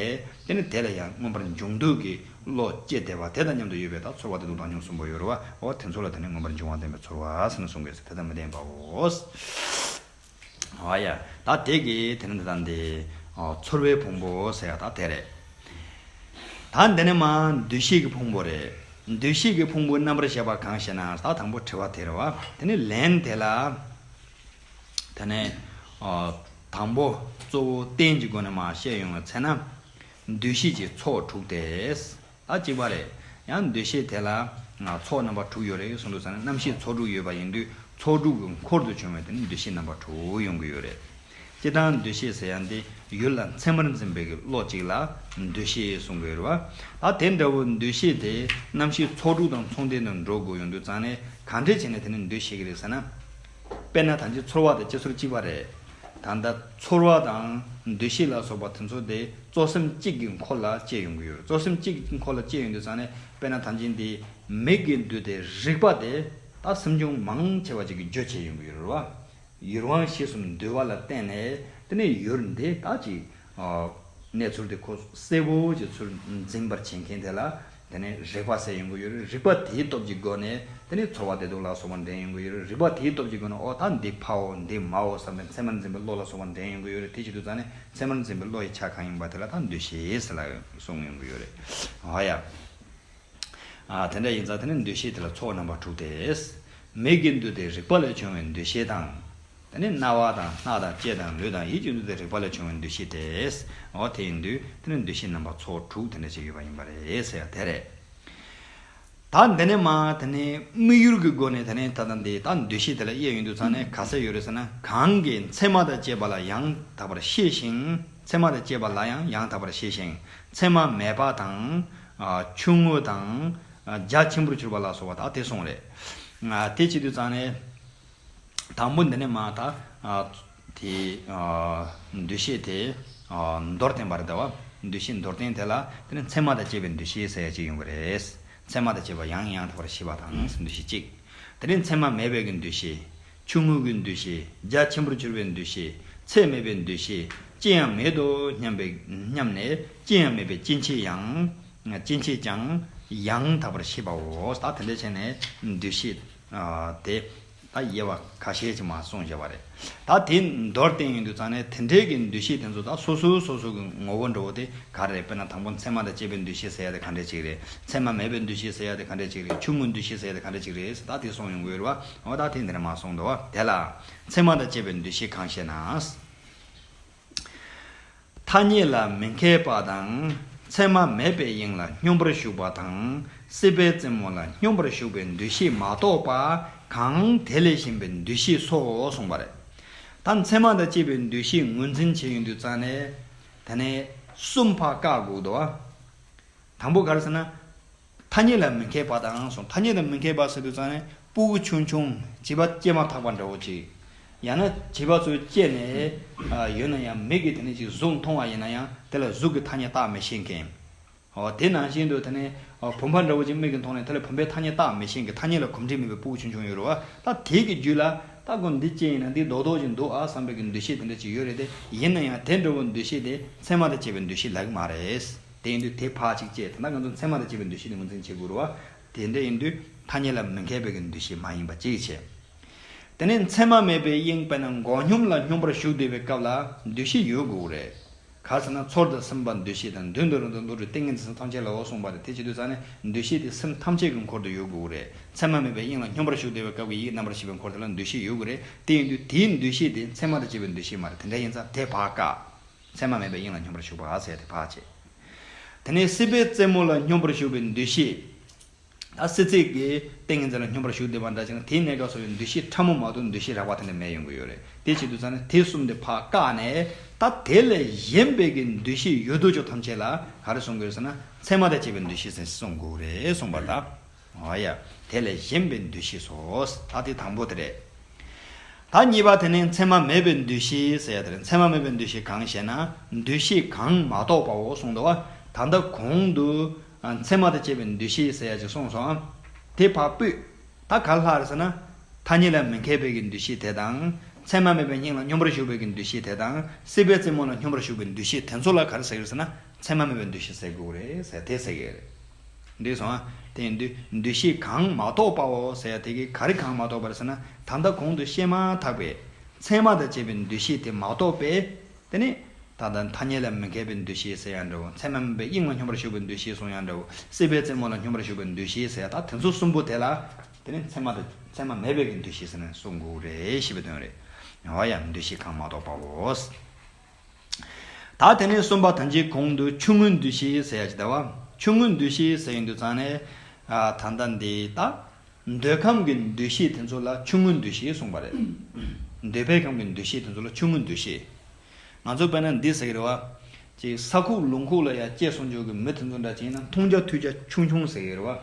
དེ་ནི་དེ་ལ་ཡང་མངོན་པར་འབྱུང་འདོད་ཀྱི་བློ་སྐྱེ་བདེ་བ་དེ་དང་མཉམ་དུ་ཡོད་པའི་དག་ཚོར་བ་དེ་དུག་དང་ཉོན་གསུམ་པོ་ཡོར་བའོ། དེ་ཚོ་ལ་དེ་ནི་མངོན་པར་འབྱུང་བ་བདེན་པའི་ཚོར་བ་ཟེར་ནས་གསུངས་པས་སོ་དེ་དང་མི་ལྡན་པའོ། ཨོ་ཡ། ད་དེ་ཀས་དེ་ནི་འདི་དང་འདི། ཚོར་བའི་ཕུང་པོ་ཟེར་ཡ་ད་དེ་རེད། ད་འདི་ནི་མ། འདུ་ཤེས་ཀྱི་ཕུང་པོ་རེད། འདུ་ཤེས་ཀྱི་ཕུང་པོའི་རྣམ་པར་ཤེས་པ་གང་ཞེ་ན་ད་དང་པོ་དྲི་བ་དེ་རེད་བ། དེ་ནི་ལན་དེ་ལ། དེ་ནས། དང་པོ། གཙོ་བོ་རྟེན་གྱི་སྒོ་ནས་མ་བཤད་ཡོང་བའི་ཚེ་ན། འདུ་ཤེས་ཀྱི་ཚོགས་དྲུག་སྟེ། ད་གཅིག་པ་རེད། ཡང་འདུ་ཤེས་དེ་ལ། ཚོགས་རྣམ་པ་དྲུག་ཡོད་རེད་གསུངས་འདུག་ཟེར་ན་རྣམ་ཤེས་ཚོགས་དྲུག་ཡོད་པ་ཡིན་དུས་ཚོགས་དྲུག་གི་འཁོར་དུ་བྱུང་བའི་དེ་ནི་འདུ་ཤེས་རྣམ་པ་དྲུག་ཡོང་གི་ཡོད་རེད། སྤྱིར་བཏང་འདུ་ཤེས་ཟེར་ཡ་འདི་ཡུལ་ལ་མཚན་མར་འཛིན་པའི་བློ་གཅིག་ལ་འདུ་ཤེས་གསུངས་དགོས་རེད་བ། ད་དེ་འདྲ་བོ་འདུ་ཤེས་དེ་རྣམ་ཤེས་ཚོགས་དྲུག་དང་མཚུངས་ལྡན་དུ་འགྲོ་དགོས་ཡོང་དུས་ཙང་ནས་གང་འདྲས་བྱས་ནས་དེ་ནི་འདུ་ཤེས་ཀྱི་རེད་ཟེར་ན། དཔེར་ན་ད་ཅི་ཚོར་བ་དང་ཅི་ཚོར་གཅིག་པ་རེད། ད་ལྟ་ཚོར་བ་དང་འདུ་ཤེས་ལ་སོགས་པ་དེ་ཚོ་དེ་གཙོ་སེམས་གཅིག་གི་འཁོར་ལ་བཅས་ཡོང་གི་ཡོད་རེད་གཙོ་སེམས་གཅིག་གི་འཁོར་ལ་བཅས་ཡོང་དུས་ཚང་ནས་དཔེར་ན་ད་ཅི་འདི་མིག་གི་འདུས་ཏེ་རིག་པ་དེ་ད་སེམས་ཅུང་མང་ཆེ་བ་ཅིག་གིས་རྗོད་བྱེད་ཡོང་གི་ཡོད་རེད་བ། ཡུལ་དབང་གཞི་གསུམ་འདུས་བ་ལ་བརྟེན་ནས་དེ་ནས་ཡུལ་འདི་ད་ཅི། གནས་ཚུལ་དེ་ཁོ་གསལ་བོ་ཅིག་ཚུར་འཛིན་པར་བྱེད་མཁན་དེ་ལ་དེ་ནི་རེག་པ་ཟད་ཡོང་གི་ཡོད་རེག་པ་དེའི་སྟོབས་ཀྱི་སྒོ་ནས་དེ་ནི་ཚོར་བ་བདེ་སྡུག་ལ་སོགས་པ་འདྲེན་ཡོང་གི་ཡོད་རེག་པ་དེའི་སྟོབས་ཀྱི་སྒོ་ནས་འོ་ད་འདི་ཕའོ་འདི་མའོ་བསམ་པའི་མཚན་མར་འཛིན་པའི་བློ་ལ་སོགས་པ་འདྲེན་ཡོང་གི་ཡོད་རེད་དེ་བྱེད་དུ་ཙང་ནི་མཚན་མར་འཛིན་པའི་བློ་ཡི་ཆ་གང་ཡིན་པ་དེ་ལ་ད་འདུ་ཤེས་ལ་སོང་ཡོང་གི་ཡོད་རེད་ཨ་ཡ། ཨ་དེ་འདྲ་ཡིན་ཙང་དེ་ནི་འདུ་ཤེས་དེ་ལ་ཚོར་བ་རྣམ་པ་དྲུག་སྟེ། མིག་གི་འདུ་དེ་རེག་པ་ལས་བྱུང་བའི་འདུ་ཤེས་དང། དེ་ནི་རྣ་བ་དང་སྣ་དང་ལྕེ་དང་ལུས་དང་ཡིད་ཀྱི་འདུ་དང་རེག་པ་ལས་བྱུང་བའི་འདུ་ཤེས་དེས་འོ་དེ་ཡིན་དུས་དེ་ནི་འདུ་ཤེས་རྣམ་པ་ཚོགས་དྲུག་དེ་འདྲ་ཅིག་ཡོད་པ་ཡིན་པ་རེད་ཟེར་དེ་རེད། ད་འདི་ནས་མ་དེ་ནི་དམིགས་ཡུལ་གྱི་སྒོ་ནས་དེ་ནི་ད་ལྟ་འདི་ལྟ་འདུ་ཤེས་དེ་ལ་དབྱེ་ཡོད་འདུག་ཚང་ནས་ག་ས་ཡོད་རེད་ཟེར་ན་གང་གིས་མཚན་མ་དང་བཅས་པ་ལ་ཡང་དག་པར་ཤེས་ཤིང་མཚན་མ་དང་བཅས་པ་ལ་ཡང་ཡང་དག་པར་ཤེས་ཤིང་མཚན་མ་མེད་པ་དང། ཆུང་ངུ་དང། རྒྱ་ཆེན་པོར་གྱུར་པ་ལ་སོགས་པ་དག་དེ་གསུངས་རེད། དེ་བྱེད་དུས་ཚང་ནས། དང་པོ་འདི་ནི་མ་དག། དེ། འདུ་ཤེས་དེ། མདོར་བསྟན་པར་བལྟ་བ། འདུ་ཤེས་མདོར་བསྟན་དེ་ལ་དེ་ནི་མཚན་མ་དང་བཅས་པའི་འདུ་ཤེས་ཟེར་ཡ་གཅིག་ཡོང་གི་རེད། མཚན་མ་དང་བཅས་པ་ཡང་ཡང་དག་པར་ཤེས་པ་དང་འདུ་ཤེས་གཅིག། དེ་ནས་མཚན་མ་མེད་པའི་གི་འདུ་ཤེས། ཆུང་ངུ་གི་འདུ་ཤེས། རྒྱ་ཆེན་པོར་གྱུར་པའི་འདུ་ཤེས། ཚད་མེད་པའི་འདུ་ཤེས། ཅི་ཡང་མེད་དོ་སྙམ་པའི། སྙམ་ནས་ཅི་ཡང་མེད་པའི་སྐྱེ་མཆེད་ཡང། སྐྱེ་མཆེད་ཀྱང། ཡང་དག་པར་ཤེས་པའོ། ད་དེ་འདྲ་བྱས་ནས་འདུ་ཤེས། དེ། ད་དབྱེ་བ་ཁ་ཤས་ཅིག་མ་གསུངས་བཞེད་པ་རེད། ད་དེ་མདོར་བསྟན་ཡིན་དུས་ཙང་ནས་དེ་འབྲེལ་གྱི་འདུ་ཤེས་དེ་ཚོ་དང་སོ་སོའི་སོ་སོ་གི་ངོ་བོ་འགྲོ་བོ་དེ་ག་རེད་དཔེར་ན་དང་པོ་མཚན་མ་དང་བཅས་པའི་འདུ་ཤེས་ཟེར་ཡ་དེ་ག་འདྲས་ཅིག་རེད་མཚན་མ་མེད་པའི་འདུ་ཤེས་ཟེར་ཡ་དེ་ག་འདྲས་ཅིག་རེད་ཆུང་ངུའི་འདུ་ཤེས་ཟེར་ཡ་དེ་ག་འདྲས་ཅིག་རེད་ད་དེ་གསུངས་ཡོང་གི་རེད་བ་འོ་ད་དེ་འདིར་མ་གསུངས་འདུག་དེ་ལ། མཚན་མ་དང་བཅས་པའི་འདུ་ཤེས་གང་ཞེ་ན། ཐ་སྙད་ལ་མི་མཁས་པ་དང། མཚན་མ་མེད་པའི་དབྱིངས་ལ་སྙོམས་པར་ཞུགས་པ་དང། སྲིད་པའི་རྩེ་མོ་ལ་སྙོམས་པར་ཞུགས་པའི་འདུ་ཤེས་མ་གཏོགས་པ་གང་དེ་ལས་གཞན་པའི་འདུ་ཤེས་སོ་གསུངས་པ་རེད། ད་མཚན་མ་དང་བཅས་པའི་འདུ་ཤེས་ངོས་འཛིན་བྱས་ཡོང་དུས་རྩ་ནས། ད་ནས་གསུམ་བར་བཀག་འགུག་ཏུ། དང་པོ་ག་རེ་ཟེར་ན། ཐ་སྙད་ལ་མི་མཁས་པ་དང་སོགས་ཐ་སྙད་ལ་མི་མཁས་པ་ཟེར་དུས་ཙང་ནས་སྤུ་གུ་ཆུང་ཆུང་བྱིས་པ་སྐྱེས་མ་ཐག་པ་འདྲ་བོ་ཅིག་ཡང་ན་བྱིས་པ་ཚོས་སྐྱེས་ནས་ཡོད་ན་ཡང་མིག་གིས་དེ་ནས་ཅིག་གཟུགས་མཐོང་བ་ཡིན་ན་ཡང་དེ་ལ་གཟུགས་ཀྱི་ཐ་སྙད་བཏགས་མི་ཤེས་མཁན། དེ་ནང་བཞིན་དུ་དེ་ནས་བུམ་པ་འདྲ་བོ་ཅིག་མིག་གིས་མཐོང་ནས་དེ་ལ་བུམ་པའི་ཐ་སྙད་བཏགས་མི་ཤེས་མཁན་ཐ་སྙད་ལ་གོམས་འདྲིས་མེད་པའི་སྤུ་གུ་ཆུང་ཆུང་ཡོད་རུང་བ་ད་དེ་གི་རྒྱུད་ལ་ད་དགོན་འདི་སྐྱེས་ཡིན་ན་འདི་རྡོག་རྡོག་ཅིག་འདུག་ཨ་བསམ་པའི་གི་འདུ་ཤེས་དེ་འདྲ་ཅིག་ཡོད་རེད་དེ་ཡིན་ན་ཡང་དེ་འདྲ་བོ་འདུ་ཤེས་དེ་མཚན་མ་དང་བཅས་པའི་འདུ་ཤེས་ལག་གི་མ་རེད། དེ་ཡིན་དུས་དེ་ཕག་ཅིག་ཅེས་ད་ལྟ་ང་ཚོ་མཚན་མ་དང་བཅས་པའི་འདུ་ཤེས་དེ་ངོས་འཛིན་བྱེད་དགོས་རུང་བ་དེ་འདྲ་ཡིན་དུས་ཐ་སྙད་ལ་མི་མཁས་པའི་གི་འདུ་ཤེས་མ་ཡིན་པ་ཅིག་བྱེད། དེ་ནས་མཚན་མ་མེད་པའི་དབྱིངས་དཔེར་ན་མགོ་སྙོམས་ལ་སྙོམས་པར་ཞུགས་འདོད་པའི་སྐབས་ལ་འདུ་ཤེས་ཡོད་དགོས་ཀྱི་རེད། ག་ཚོད་ན་ཚོར་དང་སེམས་པ་འདུ་ཤེས་དང་མདུན་དུ་རང་དང་ལུས་དྲོད་ཏིང་ངེ་འཛིན་ས་ཐམས་ཅད་ལ་འོ་གསུངས་པ་རེད་དེ་བྱེད་དུས་ཙང་ནས་འདུ་ཤེས་དེ་སེམས་ཐམས་ཅད་ཀྱི་འཁོར་དུ་ཡོད་དགོས་ཀྱི་རེད་མཚན་མ་མེད་པའི་དབྱིངས་ལ་སྙོམས་པར་ཞུགས་འདོད་པའི་སྐབས་ཀྱི་ཡིད་རྣམ་པར་ཤེས་པའི་འཁོར་དེ་ལ་འདུ་ཤེས་ཡོད་དགོས་རེད་དེ་ཡིན་དུས་དེའི་འདུ་ཤེས་དེ་མཚན་མ་དང་བཅས་པའི་འདུ་ཤེས་མ་རེད་དེ་འདྲ་ཡིན་ཙང་དེ་ཕག་དཀའ། མཚན་མ་མེད་པའི་དབྱིངས་ལ་སྙོམས་པར་ཞུགས་པ་ཟད་དེ་བག་བཅས། དེ་ནས་སྲིད་པའི་རྩེ་མོ་ལ་སྙོམས་པར་ཞུགས་པའི་འདུ་ཤེས། ད་སྲིད་རྩེ་གའི་ཏིང་ངེ་འཛིན་ལ་སྙོམས་པར་ཞུགས་བདེ་བར་འདྲ་ཅིང་དེའི་གནས་སྐབས་སོ་བའི་འདུ་ཤེས་ཕྲ་མོ་མ་གཏོགས་འདུ་ཤེས་རགས་པ་དེ་འདྲ་མེད་ཡོང་གི་ཡོད་རེད་དེ་བྱེད་དུ་ཚར་ནས་དེ་གསུམ་དེ་བག་བཀག་ནས་ད་དེ་ལས་གཞན་པའི་གི་འདུ་ཤེས་ཡོད་དོ་ཅོག་ཐམས་ཅད་ལ་ག་རེ་གསུང་གི་ཡོད་ཟེར་ན་མཚན་མ་དང་བཅས་པའི་འདུ་ཤེས་ཟིན་གསུང་གོ་རེ་གསུང་པ་ལ། མ་ཡ། དེ་ལས་གཞན་པའི་འདུ་ཤེས་སོ། ད་དེ་དང་པོ་དེ་རེད། ད་གཉིས་པ་དེ་ནི་མཚན་མ་མེད་པའི་འདུ་ཤེས་ཟེར་ཡ་དེ་རེད། མཚན་མ་མེད་པའི་འདུ་ཤེས་གང་ཞེ་ན། འདུ་ཤེས་གང་མ་གཏོགས་པའོ་གསུངས་འདུག་ད་ལྟ་གོང་དུ། མཚན་མ་དང་བཅས་པའི་འདུ་ཤེས་ཟེར་ཡ་ཅིག་གསུངས་སོང་ཨ། དེ་བར་སྤུད། ད་ག་ལ་ལྷག་རེད་ཟེར་ན། ཐ་སྙད་ལ་མི་མཁས་པའི་གི་འདུ་ཤེས་དེ་དང། མཚན་མ་མེད་པའི་སྙིང་ལ་སྙོམས་པར་ཞུགས་པའི་གི་འདུ་ཤེས་དེ་དང། སྲིད་པའི་རྩེ་མོ་ལ་སྙོམས་པར་ཞུགས་པའི་འདུ་ཤེས་དེ་ཚོ་ལ་ག་རེ་ཟེར་ཡོད་ཟེར་ན། མཚན་མ་མེད་པའི་འདུ་ཤེས་ཟེར་དགོས་རེད་ཟེར་དེ་ཟེར་ཡོད་རེད། འདུས་སོ། དེ་འདུས་ཤེས་གང་མ་གཏོགས་པའོ་ཟེར་ཡ་དེ་གའི་ག་རེ་གང་མ་གཏོགས་པར་ཟེར་ན་ད་ལྟ་གོང་དུ་བཤད་མ་ཐག་པའི། མཚན་མ་དང་བཅས་པའི་འདུས་ཤེས་དེ་མ་གཏོགས་པས། དེ་ནི། ད་ལྟ་ཐ་སྙད་ལ་མི་མཁས་པའི་འདུས་ཤེས་ཟེར་ཡང་འདྲའོ་མཚན་མ་མིན་པའི་དབྱིངས་ལ་སྙོམས་པར་ཞུགས་པའི་འདུས་ཤེས་གསུངས་ཡང་འདྲའོ་སྲིད་པའི་རྩེ་མོ་ལ་སྙོམས་པར་ཞུགས་པའི་འདུས་ཤེས་ཟེར་ཡ་ད་དེ་ཚོ་གསུམ་པོ་དེ་ལ། དེ་ནི་མཚན་མ་དང་མཚན་མ་མེད་པའི་གི་འདུས་ཤེས་ཟེར་ན་གསུངས་འགུགས་རེད་ཞེས་པའི་དོན་རེད། ཡང་བ་ཡང་འདུས་ཤེས་གང་མ་གཏོགས་པའོ། ད་དེ་ནས་གསུམ་པ་དང་གཅིག་གོང་དུ་ཆུང་ངུའི་འདུ་ཤེས་ཟེར་ཡ་ཅི་བདེ་བ། ཆུང་ངུའི་འདུ་ཤེས་ཟེར་ཡི་འདུག་ཙང་ནས། ད་ལྟ་འདི་ལྟ། འདོད་ཁམས་ཀྱི་འདུ་ཤེས་དེ་ཚོ་ལ་ཆུང་ངུའི་འདུ་ཤེས་གསུངས་པ་རེད། འདོད་པའི་ཁམས་ཀྱི་འདུ་ཤེས་དེ་ཚོ་ལ་ཆུང་ངུའི་འདུ་ཤེས། ང་ཚོ་དཔེར་ན་འདི་ཟེར་གི་རེད་བ། གཅིག་ས་ཁུག་ལུང་ཁུག་ལ་ཡ་སྐྱེས་སོང་འཇུག་གི་མི་དེ་ཚོ་འདྲ་གཅིག་ཡིན་ན་འཐུང་རྒྱ་ཐུལ་རྒྱ་ཆུང་ཆུང་ཟེར་གི་རེད་བ།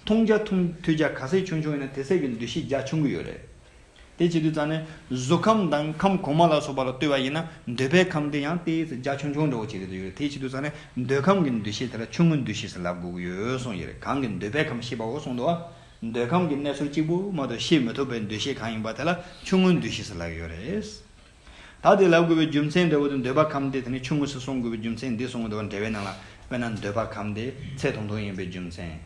འཐུང་རྒྱ་ཐུལ་རྒྱ་ག་ཟེ་ཆུང་ཆུང་ཡིན་ན་དེ་ཟེར་གི་འདུ་ཤེས་རྒྱ་ཆུང་གི་ཡོད་རེད། དེ་བྱེད་དུས་རྩ་ནི་གཟུགས་ཁམས་དང་ཁམས་གོང་མ་ལ་སོགས་པ་ལ་ལྟོས་པ་ཡིན་ན་འདོད་པའི་ཁམས་དེ་ཡང་དེའི་རྒྱ་ཆུང་ཆུང་འདྲ་བོ་བྱེད་དུ་ཡོད་རེད་དེ་བྱེད་དུས་རྩ་ནི་འདོད་ཁམས་ཀྱི་འདུ་ཤེས་དེ་ལ་ཆུང་ངུའི་འདུ་ཤེས་སུ་ལབ་དགོས་ཀྱི་ཡོད་གསུངས་ཀྱི་རེད་གང་གི་འདོད་པའི་ཁམས་ཤེས་པའོ་གསུངས་འདུག་བ། འདོད་ཁམས་ཀྱི་གནས་ཚུལ་གཅིག་པུ་མ་གཏོགས་ཤེས་མི་ཐུབ་པའི་འདུ་ཤེས་གང་ཡིན་པ་དེ་ལ་ཆུང་ངུའི་འདུ་ཤེས་སུ་ལབ་ཡོད་རེད། ད་དེ་ལབ་དགོས་པའི་རྒྱུ་མཚན་འདྲ་བོ་དེ་འདོད་པ་གམ་དེ་དེ་ནས་ཆུང་ངུ་ཞིག་སོང་དགོས་པའི་རྒྱུ་མཚན་འདི་སོང་དགོས་འདོད་པ་འདྲ་བས་ན་ལ་དཔེར་ན་འདོད་པ་གམ་དེ་ཚད་ཐུང་ཐུང་ཡིན་པའི་རྒྱུ་མཚན།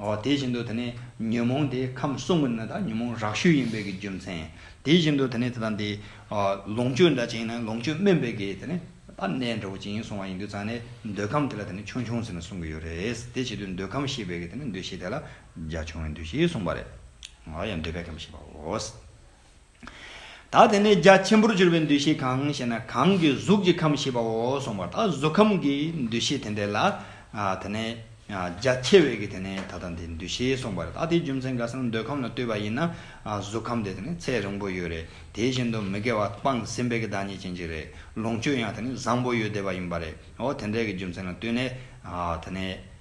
འོ་དེ་བཞིན་དུ་དེ་ནས་ཉོན་མོངས་དེ་ཁམས་གསུམ་གྱི་ནི་དག་ཉོན་མོངས་རགས་ཤུལ་ཡིན་པའི་གི་རྒྱུ་མཚན། དེ་བཞིན་དུ་དེ་ནས་དེ་དང་དེ་ལོངས་སྤྱོད་འདྲ་ཅན་ཡིན་ན་ལོངས་སྤྱོད་སྨིན་པའི་གི་དེ་ནས་པ་གནས་འདྲ་བོ་ཅན་ཡིན་སོང་བ་ཡིན་དུས་ཙང་ནས་འདོད་ཁམས་དེ་ལ་དེ་ནས་ཆུང་ཆུང་ཟེར་ནས་གསུངས་གི་ཡོད་རེད། དེ་བྱེད་དུས་འདོད་ཁམས་ཞེས་པའི་གི་དེ་ནས་འདོད་ཞེས་དེ་ལ་རྒྱ་ཆུང་བས་འདོད་ཞེས་གསུངས་པ་རེད། ཡང་འདོད་པའི་ཁམས་ཞེས་པའོ། ད་དེ་ནས་རྒྱ་ཆེན་པོར་གྱུར་པའི་འདུ་ཤེས་གང་ཞེ་ན་གང་གིས་གཟུགས་ཀྱི་ཁམས་ཞེས་པའོ་གསུངས་པ་ལྟར་གཟུགས་ཁམས་ཀྱི་འདུ་ཤེས་དེ་འདས་ལ། དེ་ནས་རྒྱ་ཆེ་བས་ཀྱིས་དེ་ནས་ད་ལྟ་འདི་འདུ་ཤེས་གསུངས་པ་རེད་ད་དེའི་རྒྱུ་མཚན་ག་ས་ན་འདོད་ཁམས་ལ་ལྟོས་པ་ཡིན་ན་གཟུགས་ཁམས་དེ་དེ་ནས་ཚད་རིང་པོ་ཡོད་རེད་དེ་བཞིན་དུ་མི་དགེ་བ་སྤངས་ཟིན་པས་ཀྱི་བདག་ཉིད་ཅན་གྱི་རེད་ལོངས་སྤྱོད་ཡང་དེ་ནས་བཟང་པོ་ཡོད་བསྡད་པ་ཡིན་པ་རེད་འོ་དེ་འདྲའི་ཀྱི་རྒྱུ་མཚན་ལ་ལྟོས་ནས་དེ་ནས།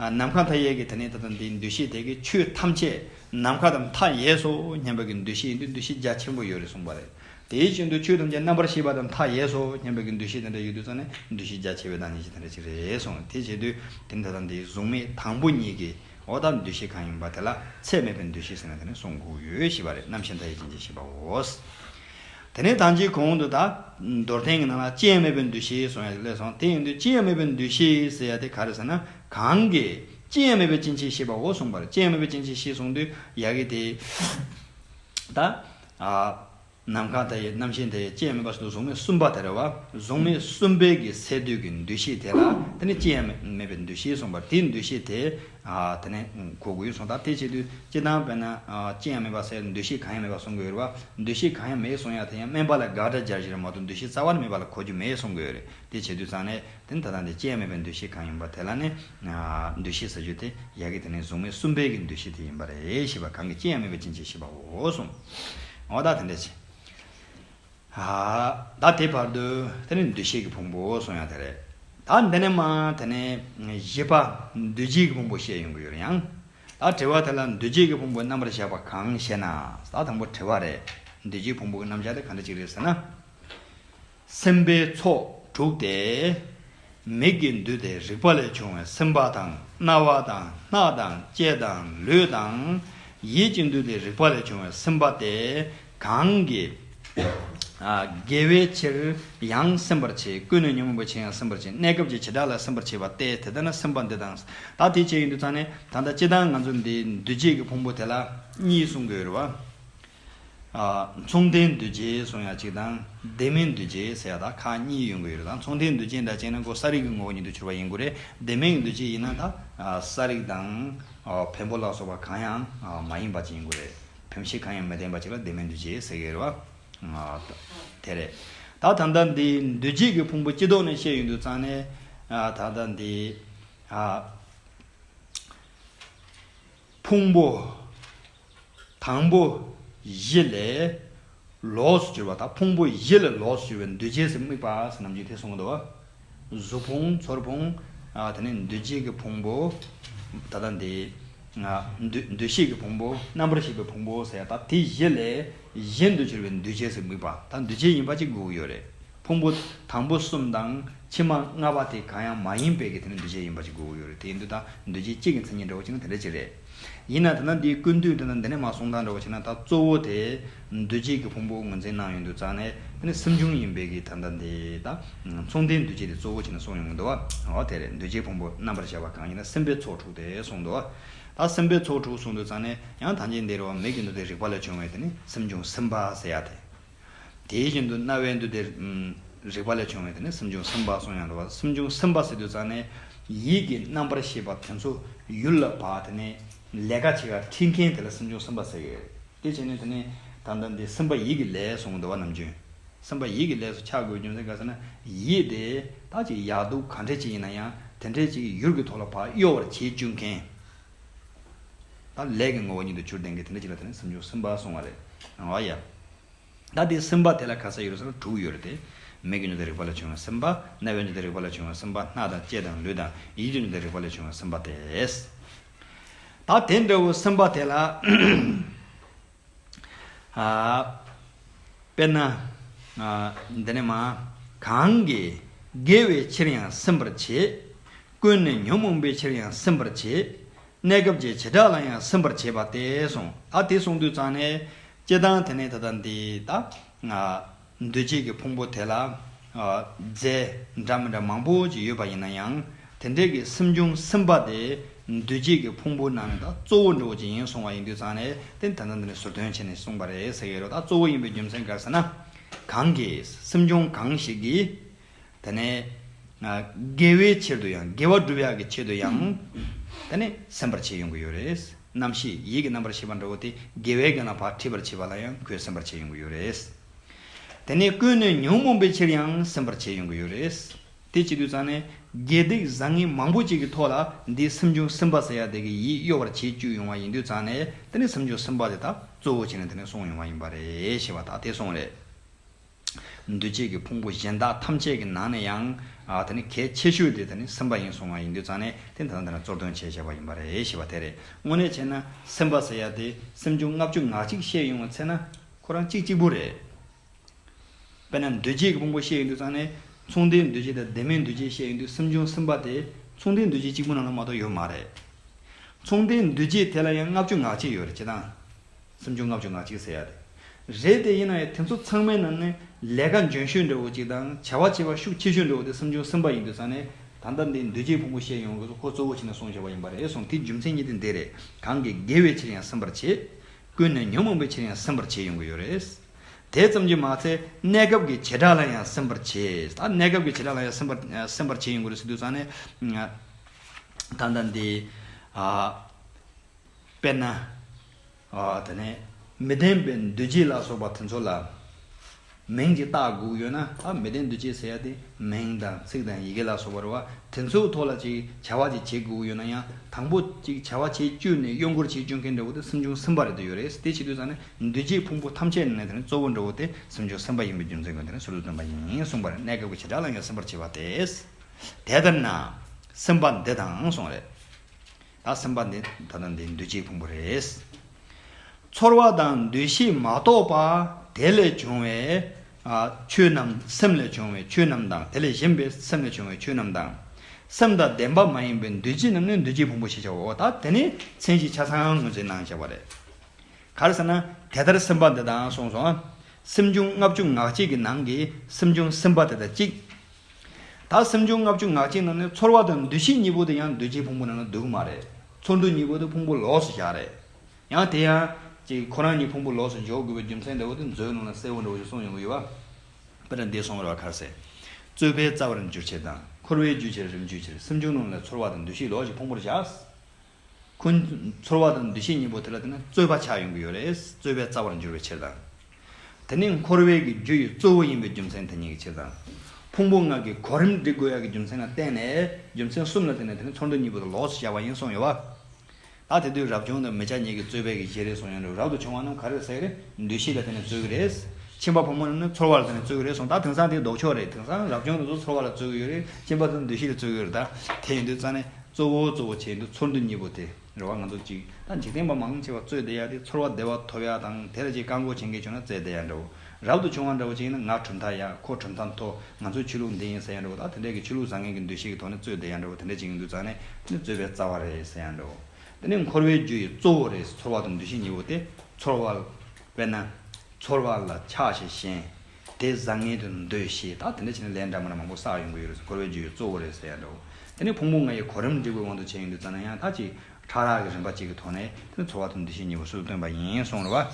ནམ་མཁའ་མཐའ་ཡས་ཀྱི་དེ་ནི་ད་ལྟ་འདིའི་འདུ་ཤེས་དེ་གི་ཆོས་ཐམས་ཅད་ནམ་མཁའ་དང་མཐའ་ཡས་སོ་སྙམ་པའི་གི་འདུ་ཤེས་ཡིན་དུས་འདུ་ཤེས་རྒྱ་ཆེན་པོ་ཡོད་རེད་གསུངས་པ་རེད། དེའི་ཕྱིར་འདུ་ཆོས་ཐམས་ཅད་རྣམ་པར་ཤེས་པ་དང་མཐའ་ཡས་སོ་སྙམ་པའི་གི་འདུ་ཤེས་དེ་འདྲ་ཡོད་དུས་ཙང་ནས་འདུ་ཤེས་རྒྱ་ཆེ་བའི་བདག་ཉིད་ཅིག་དེ་འདྲ་ཅིག་རེད་གསུངས་དེ་བྱས་དུས་དེ་ནི་ད་ལྟ་འདིའི་གཟུགས་མེད་དང་པོ་གཉིས་ཀྱི་འོག་དག་འདུ་ཤེས་གང་ཡིན་པ་དེ་ལ་ཚད་མེད་པའི་འདུ་ཤེས་ཟེར་ན་དེ་ནི་གསུངས་དགོས་ཞེས་པ་རེད་རྣམ་ཤེས་མཐའ་ཡས་ཅན་ཅིག་ཞེས་པའོ། དེ་ནས་དྭངས་ཀྱི་གོང་དུ་དག། མདོར་བསྟན་གྱི་ནང་ལ་ཅི་ཡང་མེད་པའི་འདུ་ཤེས་སོང་ཡ་ཞིག་སླེབས་སོང་དེ་ཡིན་དུས་ཅི་ཡང་མེད་པའི་འདུ་ཤེས་ཟེར་ཡ་དེ་ག་རེ་ཟེར་ན་གང་གི། ཅི་ཡང་མེད་པའི་སྐྱེ་མཆེད་ཤེས་པའོ་གསུངས་པར་ཅི་ཡང་མེད་པའི་སྐྱེ་མཆེད་ཤེས་གསུངས་དུས་ཡ་གི་དེ། ད། ནམ་མཁའ་དེ་ཡི་རྣམ་ཤེས་དེ་ཡི་ཅི་ཡང་མེད་པ་བཞིན་དུ་གཟུགས་མེད་གསུམ་པ་དེ་རེད་བ། གཟུགས་མེད་གསུམ་པའི་གི་སས་བསྡུས་ཀྱི་འདུ་ཤེས་དེ་ལ་དེ་ནི་ཅི་ཡང་མེད་པའི་འདུ་ཤེས་གསུངས་པར་དེའི་འདུ་ཤེས་དེ། དེ་ནས་གོ་དགོས་སོང་ད་ལྟའི་ཆེད་དུ་སྤྱི་བཏང་བས་ན། ཅི་ཡང་མེད་པ་སེལ་འདུ་ཤེས་གང་ཡང་མེད་པ་སྲུང་དགོས་རེད་བ། འདུ་ཤེས་གང་ཡང་མེད་སྲུང་ཡག་དེ་ཡང་སྨན་པ་ལ་དགག་སྒྲ་སྦྱར་བཞིན་རེད་མ་གཏོགས་འདུ་ཤེས་རྩ་བ་ནས་མེད་པ་ལ་གོ་རྒྱུ་མེད་སྲུང་དགོས་རེད་དེ་བྱེད་དུས་ཙང་ནས་དེ་ད་ལྟ་འདི་ཅི་ཡང་མེད་པའི་འདུ་ཤེས་གང་ཡིན་པ་དེ་ལ་ནས། འདུ་ཤེས་ཟེར་རྒྱུ་དེ་ཡག་གི་དེ་ནས་གཟུགས་མེད་གསུམ་པའི་གི་འདུ་ཤེས་དེ་ཡིན་པ་རེད་ཤེས་པ་གང་གི་ཅི་ཡང་མེད་པའི་ཕྱིན་ཆད་ཤེས་པའོ་གསུངས། འོ་ད་དེ་འདྲ་བྱེད། བདག་དེའི་བར་དུ་དེ་ནི་འདུ་ཤེས་ཀྱི་ཕུང་པོ་གསུངས་ཡང་དེ་རེད། ད་འདི་ནས་མང་དེ་ནི་བཞི་པ་འདུ་བྱེད་ཀྱི་ཕུང་པོ་བཤད་ཡོང་གི་ཡོད་ཡང། ད་དྲི་བ་དེ་ལ་འདུ་བྱེད་ཀྱི་ཕུང་པོའི་རྣམ་པར་བཞག་པ་གང་ཞེ་ན། ད་དང་པོ་དྲི་བ་རེད། འདུ་བྱེད་ཀྱི་ཕུང་པོ་གྱི་རྣམ་བཞག་དེ་ག་འདྲ་ཅིག་རེད་ཟེར་ན། སེམས་པའི་ཚོགས་དྲུག་སྟེ། མིག་གི་འདུས་ཏེ་རིག་པ་ལས་བྱུང་བའི་སེམས་པ་དང་རྣ་བ་དང་སྣ་དང་ལྕེ་དང་ལུས་དང། ཡིད་ཀྱི་འདུས་ཏེ་རིག་པ་ལས་བྱུང་བའི་སེམས་པ་སྟེ། གང་གིས་དགེ་བའི་ཕྱིར་ཡང་སེམས་པར་བྱེད། ཀུན་ནས་ཉོན་མོངས་པའི་ཕྱིར་ཡང་སེམས་པར་བྱེད། གནས་སྐབས་ཀྱི་བྱེ་བྲག་ལ་སེམས་པར་བྱེད་པ་སྟེ་དེ་ལྟ་ན་སེམས་པ་འདི་དང། ད་དེ་ཅི་ཡིན་དུ་ཚང་ནས་ད་ལྟ་ཅི་ལྟར་ང་ཚོ་འདི་འདུ་བྱེད་ཀྱི་ཕུང་པོ་དེ་ལ་གཉིས་གསུང་གི་ཡོད། མཚུངས་ལྡན་འདུ་བྱེད་གསུང་ཡ་གཅིག་དང། ལྡན་མིན་འདུ་བྱེད་ཟེར་ཡ་དག་ཁག་གཉིས་ཡོད་གི་ཡོད་དང་མཚུངས་ལྡན་འདུ་བྱེད་འདྲ་བྱས་ན་ཀོ་ས་རིགས་ཀྱི་ངོ་བོ་ཉིད་དུ་གྱུར་པ་ཡིན་དགོས་རེད་ལྡན་མིན་གྱི་འདུ་བྱེད་ཡིན་ན་ད་ས་རིགས་དང་བེམ་པོ་ལ་སོགས་པ་གང་ཡང་མ་ཡིན་པ་ཅིག་ཡིན་དགོས་རེད། བུམ་ཤེས་གང་ཡང་མི་བརྟེན་པ་གཅིག་ལ་བདེན་མེད་འདུ་བྱེད་ཟེར་གྱི་རེད་བ། དེ་རེད། ད་ད་ལྟ་འདི་འདུ་བྱེད་ཀྱི་ཕུང་པོ་སྤྱི་ལྡོག་ནས་བཤད་ཡོད་འདུག་ཙང་ནས། ད་ལྟ་འདི། ཕུང་པོ། དང་པོ། བཞི་ལས། ལོགས་སུ་གྱུར་པ་དང་ཕུང་པོ་བཞི་ལ་ལོགས་སུ་གྱུར་པའི་འདུ་བྱེད་སེམས་དམིགས་པ་ཟིན་ནམ་ཅི་ཐེ་གསུངས་པ་དང། གཟུགས་ཕུང་ཚོར་ཕུང། དེ་ནས་འདུ་བྱེད་ཀྱི་ཕུང་པོ། ད་ལྟ་འདི། འདུ་ཤེས་ཀྱི་ཕུང་པོ་རྣམ་པར་ཤེས་པའི་ཕུང་པོ་ཟེར་ཡང་དང་དེ་བཞི་ལས་གཞན་དུ་གྱུར་པའི་འདུ་བྱེད་སེམས་དམིགས་པ་དང་འདུ་བྱེད་ཡིན་པ་གཅིག་དགུ་ཡོད་རེད། ཕུང་པོ་དང་པོ་གསུམ་དང་ཕྱི་མ་ལྔ་པ་དེ་གང་ཡང་མ་ཡིན་པས་ཀྱི་དེ་ནི་འདུ་བྱེད་ཡིན་པ་གཅིག་དགུ་ཡོད་རེད་དེ་འདུ་དང་འདུ་བྱེད་གཅིག་གི་མཚན་ཉིད་འདྲ་བོ་གཅིག་ན་དེ་འདྲ་གཅིག་རེད། ཡིན་ན་དེ་ན་འདི་ཀུན་བཏུས་འདི་ན་འདི་ནས་མ་གསུངས་དང་འདྲ་བ་བྱས་ན་ད་གཙོ་བོ་དེ་འདུ་བྱེད་ཀྱི་ཕུང་པོ་ངོས་འཛིན་གནང་ཡོང་དུས་ཙང་ནས་དེ་ནི་སེམས་བྱུང་ཡིན་པས་ཀྱི་ད་ལྟ་འདི་དང་མཚུངས་ལྡན་འདུ་བྱེད་དེ་གཙོ་བོ་བྱས་ན་གསུངས་ཡོང་དུ་བ་དེ་རེད་འདུ་བྱེད་ཕུང་པོ་རྣམ་པར་བཞག་པ་གང་ཡིན་ན་སེམས་པའི་ཚོགས་དྲུག་དེ་གསུངས་དུ་བ་ད་སེམས་པའི་ཚོགས་དྲུག་གསུངས་དུས་ཙང་ནས་ཡང་དང་ཅིག་འདིར་བ་མེད་ཀྱི་འདུ་དེ་རིག་པ་ལས་བྱུང་བས་དེ་ནི་སེམས་བྱུང་སེམས་པ་ཟེར་ཡ་དེ། དེ་བཞིན་དུ་རྣ་བའི་འདུ་དེ། རེག་པ་ལས་བྱུང་བའི་དེ་ནི་སུམ་ཅུ་སུམ་པ་སོང་ཡང་འགྲོ་བ་སུམ་ཅུ་སུམ་པ་སྲིད་དུ་བཙགས་ནས། ཡིད་ཀྱི་རྣམ་པར་ཤེས་པ་དེ་ཚོ་ཡུལ་ལ་བབ་དེ་ནི། ལས་ཀ་བྱེད་ཀ་འཁྲིད་མཁན་དེ་ལ་སུམ་ཅུ་སུམ་པ་ཟེར་གི། དེ་བྱས་ནས་དེ་ནི། ད་ལྟ་འདི་སུམ་པ་ཡིད་ཀྱི་ལས་སུ་འགྲོ་བ་རྣམས་བྱོན། སུམ་པ་ཡིད་ཀྱི་ལས་སུ་ཆགས་དགོས་བྱུང་ཚེ་ག་ཟེར་ན། ཡིད་དེ་དག་ཅིག་ཡག་སྡུག་ག་འདྲས་ཅིག་ཡིན་ན་ཡང་དེ་འདྲས་ཅིག་གི་ཡུལ་གྱི་ཐོག་ལ་བག་གཡོ་བར་བྱེད་བཅུག་མཁན། ད་ལས་ཀྱི་ངོ་བོ་ཉིད་དུ་ཆུར་ལྡན་གྱི་དེ་འདྲ་ཅིག་ལ་དེ་ནི་སུམ་ཅུ་སུམ་པ་སོང་བ་རེད་ཨང། ཡ། ད་དེ་སུམ་པ་དེ་ལ་ག་ས་ཡོད་རེད་ཟེར་ན་དྲུག་ཡོད་རེད་དེ། མིག་གི་འཇུ་དང་རེག་པ་ལས་བྱུང་བའི་སུམ་པ། རྣ་བའི་འཇུ་དང་རེག་པ་ལས་བྱུང་བའི་སུམ་པ། སྣ་དང་ལྕེ་དང་ལུས་དང་ཡིད་ཀྱི་འཇུ་དང་རེག་པ་ལས་བྱུང་བའི་སུམ་པ་སྟེ། ད་དེ་འདྲ་བའི་སུམ་པ་དེ་ལ། དཔེར་ན། འདི་ནས་མ། གང་གིས་དགེ་བའི་ཕྱིར་ཡང་སེམས་པར་བྱེད། ཀུན་ནས་ཉོན་མོངས་པའི་ཕྱིར་ཡང་སེམས་པར་བྱེད། གནས་སྐབས་ཀྱི་བྱེ་བྲག་ལ་ཡང་སེམས་པར་བྱེད་པ་སྟེ་གསུངས། ད་དེ་གསུངས་དུས་ཙང་ནས། ལྕེ་ལྡང་དེ་ནས་ད་ལྟ་འདི་ལྟ། འདུ་བྱེད་ཀྱི་ཕུང་པོ་དེ་ལ། རྫས་འདྲ་མི་འདྲ་མང་པོ་ཅི་ཡོད་པ་ཡིན་ན་ཡང། དེ་འབྲེལ་གྱི་སེམས་བྱུང་སེམས་པ་དེ། འདུ་བྱེད་ཀྱི་ཕུང་པོ་ནང་ནས་ད་གཙོ་བོ་འགྲོ་བ་ཅིག་ཡིན་གསུང་བ་ཡིན་དུས་ཚང་ནས་ཏེ་ད་ནི་འདི་ནས་ཟུར་འདོན་བྱས་ནས་གསུངས་པ་རེད་ཟེར་གྱི་རེད་ད་གཙོ་བོ་ཡིན་པའི་རྒྱུ་མཚན་ག་རེ་ཟེར་ན། གང་གིས་སེམས་བྱུང་གང་ཞིག་གིས། ད་ནི། དགེ་བའི་ཕྱིར་དུ་ཡང་དགེ་བ་བསྒྲུབ་ཡག་གི་ཆེད་དུ་ཡང། ད་ནི་སེམས་པར་བྱེད་ཡོང་གི་ཡོད་རེད། རྣམ་ཤེས་ཡིད་ཀྱི་རྣམ་པར་ཤེས་པ་འདྲ་བོ་དེ་དགེ་བའི་རྐྱེན་ལ་བག་ཕྲེད་པར་བྱེད་པ་ལ་ཡང་ཁོས་སེམས་པར་བྱེད་ཡོང་གི་ཡོད་རེད། ད་ནི་ཀུན་ནས་ཉོན་མོངས་པའི་ཕྱིར་ཡང་སེམས་པར་བྱེད་ཡོང་གི་ཡོད་རེད། དེ་བྱེད་དུས་ཙང་ནས་དགེ་སྡིག་བཟང་ངན་མང་པོ་ཅིག་གི་ཐོག་ལ་འདིས་སེམས་བྱུང་སེམས་པ་ཟེར་ཡག་དེ་གི་ཡིད་གཡོ་བར་བྱེད་བཅུག་ཡོང་བ་ཡིན་དུས་ཙང་ནས་ད་ནི་སེམས་བྱུང་སེམས་པ་དེ་དག་གཙོ་བོ་བྱས་ནས་ད་ནི་སོང་ཡོང་བ་ཡིན་པ་རེད་ཞེས་པ་དག་དེ་སོང་རེད། འདུ་བྱེད་ཀྱི་ཕུང་པོ་གཞན་དག་ཐམས་ཅད་ཀྱི་ནང་ནས་ཡང། ད་ནི་གལ་ཆེ་ཤོས་དེ་ད་ནི་སེམས་པ་ཡིན་སོང་བ་ཡིན་དུས་ཙང་ནས་དེ་ད་ལྟ་འདི་ན་གཙོར་འདོན་བྱས་བྱས་པ་ཡིན་པ་རེད་ཞེས་པ་དེ་རེད། དངོས་གནས་བྱས་ན་སེམས་པ་ཟེར་ཡ་དེ་སེམས་བྱུང་ལྔ་བཅུ་ངག་གཅིག་བཤད་ཡོང་བ་ཚེ་ན་ཁོ་རང་གཅིག་གཅིག་པུ་རེད། དཔེར་ན་འདུ་བྱེད་ཀྱི་ཕུང་པོ་བཤད་ཡོང་དུས་ཙང་ནས་མཚུངས་ལྡན་འདུ་བྱེད་དང་ལྡན་མིན་འདུ་བྱེད་བཤད་ཡོང་དུས་སེམས་བྱུང་སེམས་པ་དེ་མཚུངས་ལྡན་འདུ་བྱེད་གཅིག་པུ་རྣམས་ལ་མ་གཏོགས་ཡོད་མ་རེད། མཚུངས་ལྡན་འདུ་བྱེད་དེ་ལ་ཡང་ལྔ་བཅུ་ངག་གཅིག་ཡོད་རེད་བྱས་ཙང། སུམ་ཅུ་ལྔ་བཅུ་ང་གཅིག་ཟེར་ཡག་དེ་རེད་དེ་ཡིན་ན་ཡང་དེ་ཚོ་ཚང་མའི་ནང་ནས་ལས་ཀ་འཇོན་ཤོས་འདྲ་བོ་ཅིག་དང་བྱ་བ་བྱེད་པ་ཤུགས་ཆེ་ཤོས་འདྲ་བོ་དེ་སུམ་ཅུ་གསུམ་པ་ཡིན་དུས་ཚང་ནས་ད་ལྟ་འདི་མདོས་བཅས་ཕུང་པོ་བཤད་ཡོང་དགོས་སོ་ཁོ་གཙོ་བོ་བྱས་ནས་སོང་ཞེས་པ་ཡིན་པ་རེད་སོང་དེའི་རྒྱུ་མཚན་གཉིས་དེ་འདི་རེད་གང་གིས་དགེ་བའི་ཕྱིར་ཡང་སེམས་པར་བྱེད། ཀུན་ནས་ཉོན་མོངས་པའི་ཕྱིར་ཡང་སེམས་པར་བྱེད་ཡོང་གི་ཡོད་རེད། དེ་ཙམ་གྱིས་མ་ཚད་གནས་སྐབས་ཀྱི་བྱེ་བྲག་ལ་ཡང་སེམས་པར་བྱེད་ད་གནས་སྐབས་ཀྱི་བྱེ་བྲག་ལ་ཡང་སེམས་པར་སེམས་པར་བྱེད་ཡོང་གི་རེད་ཟེར་དུས་ཚང་ནས་ད་ལྟ་འདི། དཔེར་ན། དེ་ནས་མི་བདེན་པའི་འདུ་བྱེད་ལ་སོགས་པ་དེ་ཚོ་ལ་མིང་གི་རྟགས་དགུ་ཡོད་ན་མི་བདེན་འདུ་བྱེད་ཟེར་ཡ་དེ་མིང་དང་ཚིག་དང་ཡི་གེ་ལ་སོགས་པར་བ་དེ་ཚོའི་ཐོག་ལ་ཅིག་བྱ་བ་ཅིག་བྱེད་དགུ་ཡོད་ན་ཡང་དང་པོ་ཅིག་བྱ་བ་བྱེད་སྤྱོད་ནས་གཡོ་འཁོར་བྱེད་སྤྱོད་མཁན་འདྲ་བོ་དེ་སེམས་བྱུང་སེམས་པ་རེད་དེ་ཡོད་རེད་དེ་བྱེད་དུས་ཙང་ནས་འདུ་བྱེད་ཕུང་པོ་ཐམས་ཅད་ནས་དེ་གཙོ་བོ་འདྲ་བོ་དེ་སེམས་བྱུང་སེམས་པ་ཡིན་པའི་རྒྱུ་མཚན་གྱིས་དེ་ནས་ཟུར་དུ་སྟོན་པ་ཡིན་གསུངས་པ་རེད་གནས་སྐབས་ཀྱི་བྱེ་བྲག་ལ་ཡང་སེམས་པར་བྱེད་པ་དེ་དེ་ལྟར་ན་སེམས་པ་འདི་དང་སོང་རེད། ད་སེམས་པ་འདི་ད་ལྟ་འདི་འདུ་བྱེད་ཕུང་པོ་རེད། ཚོར་བ་དང་འདུ་ཤེས་མ་གཏོགས་པ་དེ་ལས་བྱུང་བའི་ཆོས་རྣམས་སེམས་ལས་བྱུང་བའི་ཆོས་རྣམས་དང་དེ་ལས་གཞན་པའི་སེམས་ལས་བྱུང་བའི་ཆོས་རྣམས་དང། སེམས་དང་ལྡན་པ་མ་ཡིན་པའི་འདུ་བྱེད་རྣམས་ནི་འདུ་བྱེད་ཕུང་པོ་ཞེས་བྱའོ། ད་དེ་ནི་མཚན་གཞི་ཆ་ཚང་ངོས་འཛིན་གནང་བྱ་བ་རེད། གར་ཟེར་ན་དེ་ལྟར་སེམས་པ་འདི་དང་གསུངས་སོ། སེམས་བྱུང་ལྔ་བཅུ་ངག་གཅིག་གི་ནང་གི་སེམས་བྱུང་སེམས་པ་དེ་དང་གཅིག། ད་སེམས་བྱུང་ལྔ་བཅུ་ངག་གཅིག་རྣམས་ནི་ཚོར་བ་དང་འདུ་ཤེས་གཉིས་པོ་དེ་ཡང་འདུ་བྱེད་ཕུང་པོ་རྣམས་ལ་སྡུག་གི་མ་རེད། ཚོར་འདུ་གཉིས་པོ་དེ་ཕུང་པོ་ལོགས་སུ་བཞག་རེད། ཡང་དེ་ཡང། ཅིག་ཁོ་རང་གཉིས་ཕུང་པོ་ལོགས་སུ་འཇོག་དགོས་པའི་རྒྱུ་མཚན་འདྲ་བོ་དེ་མཛོད་ནང་ལ་གསལ་བོ་འདྲ་བོ་ཞིག་གསུངས་ཡོང་གི་ཡོད། དཔེར་ན་འདས་སོང་བའི་ར་བ་ཁར་སའི། རྩོད་པའི་རྩ་བར་འགྱུར་བྱེད་དང་འཁོར་བའི་རྒྱུ་བྱེད་རིམ་འགྱུར་བྱེད་སེམས་བྱུང་རྣམས་ལ་ཚོར་བ་དང་འདུ་ཤེས་ལོགས་ཀྱི་ཕུང་པོར་བཞག། ཁོའི་ཚོར་བ་དང་འདུ་ཤེས་གཉིས་པོ་དེ་ལ་བརྟེན་ན་རྩོད་པ་ཆགས་ཡོང་གི་ཡོད་རེད། རྩོད་པའི་རྩ་བར་འགྱུར་བའི་ཕྱིར་དང། དེ་ནི་འཁོར་བའི་གི་རྒྱུ་ཡི་གཙོ་བོ་ཡིན་པའི་རྒྱུ་མཚན་དེ་ཉིད་ཀྱི་ཕྱིར་དང། ཕུང་པོ་ལྔ་གི་གོ་རིམ་འགྲིག་དགོས་ཡ་གི་རྒྱུ་མཚན་ལ་བརྟེན་ནས་རྒྱུ་མཚན་གསུམ་ལ་བརྟེན་ནས་དེ་ནི་ཚོར་འདུ་གཉིས་པོ་དང་ལོགས་སུ་བཞག་པ་ཡིན་གསུངས་ཡོད། ད་དེ་དུས་རབ་བྱུང་དང་མི་ཆ་གཉིས་ཀྱི་རྩོད་པའི་གི་གཞི་རེད་གསུངས་ཡོད་རེད་རབ་ཏུ་བྱུང་བ་རྣམས་ག་རེར་ཟེར་ཡོད་རེད་འདུ་ཤེས་ལ་བརྟེན་ནས་རྩོད་གི་རེད། ཁྱིམ་པ་ཕོ་མོ་རྣམས་ནི་ཚོར་བ་ལ་བརྟེན་ནས་རྩོད་གི་རེད་གསུངས་ད་དེང་སང་དེ་ལྡོག་ཕྱོགས་རེད་དེང་སང་རབ་བྱུང་དུ་ཚོར་བ་ལ་རྩོད་གི་ཡོད་རེད་ཁྱིམ་པ་དང་འདུ་ཤེས་ལ་རྩོད་གི་ཡོད་རེད་ད་དེ་ཡིན་དུས་རྩ་ནས། གཙོ་བོ་གཙོ་བོ་བྱེད་འདུ་ཚོར་འདུ་གཉིས་པོ་དེ་རེ་བ་ང་ཚོ་གཅིག་དང་འཇིག་རྟེན་པ་མང་ཆེ་བ་གཙོས་བདེ་ཡག་དེ་ཚོར་བ་བདེ་བ་ཐོབ་ཡག་དང་དེ་ལ་ཅིག་བཀག་འགོག་བྱེད་མཁན་བྱུང་ན་བཙལ་བདེ་ཡག་འདྲ་བོ་རབ་ཏུ་བྱུང་བ་འདྲ་བོ་ཅིག་ཡིན་ན་ང་གྲུབ་མཐའ་ཡག་ཁོ་གྲུབ་མཐའ་མཐོ་ང་ཚོ་ཆོས་ལུགས་འདི་ཡིན་ཟེར་ཡག་འདྲ་བོ་དང་དེ་འདྲ་གི་ཆོས་ལུགས་བཟང་ངན་གི་འདུ་ཤེས་ཀྱི་ཐོག་ནས་གཙོས་བདེ་ཡག་འདྲ་བོ་དེ་འདྲ་ཅིག་ཡིན་དུས་རྩ་ནས་ནི་བཟོད་པའི་རྩ་བ་རེད་ཟེར་ཡག་འདྲ་བོ་འདི་ནི་འཁོར་བའི་རྒྱུ་ཡི་གཙོ་བོ་རེད་ཚོར་བ་དང་འདུ་ཤེས་གཉིས་པོ་དེ་ཚོར་བ། དཔེར་ན། ཚོར་བ་ལ་ཆགས་ཞེན་ཞེན། དེ་བཟང་ངན་དུ་འདོད་ཞེས་ད་དེ་འདྲ་བྱས་ན་ལས་འདྲ་མིན་མང་པོ་བསགས་ཡོང་གི་ཡོད་རེད་ཟེར་འཁོར་བའི་རྒྱུ་ཡི་གཙོ་བོ་རེད་ཟེར་ཡ་འདྲ་བོ། དེ་ནས་ཕུང་པོ་ལྔ་ཡི་གོ་རིམ་འབྲས་བུའི་དབང་དུ་བྱས་ཡོང་དུས་ཙཱ་ན་ཡང་དག་ཅིག་ཕྲ་རགས་ཀྱི་རིམ་པ་གཅིག་གི་ཐོག་ནས་དེ་ནི་འཚོ་བ་དང་འདུ་ཤེས་གཉིས་པོ་སུས་བཏོན་པ་ཡིན་གསུངས་རེད་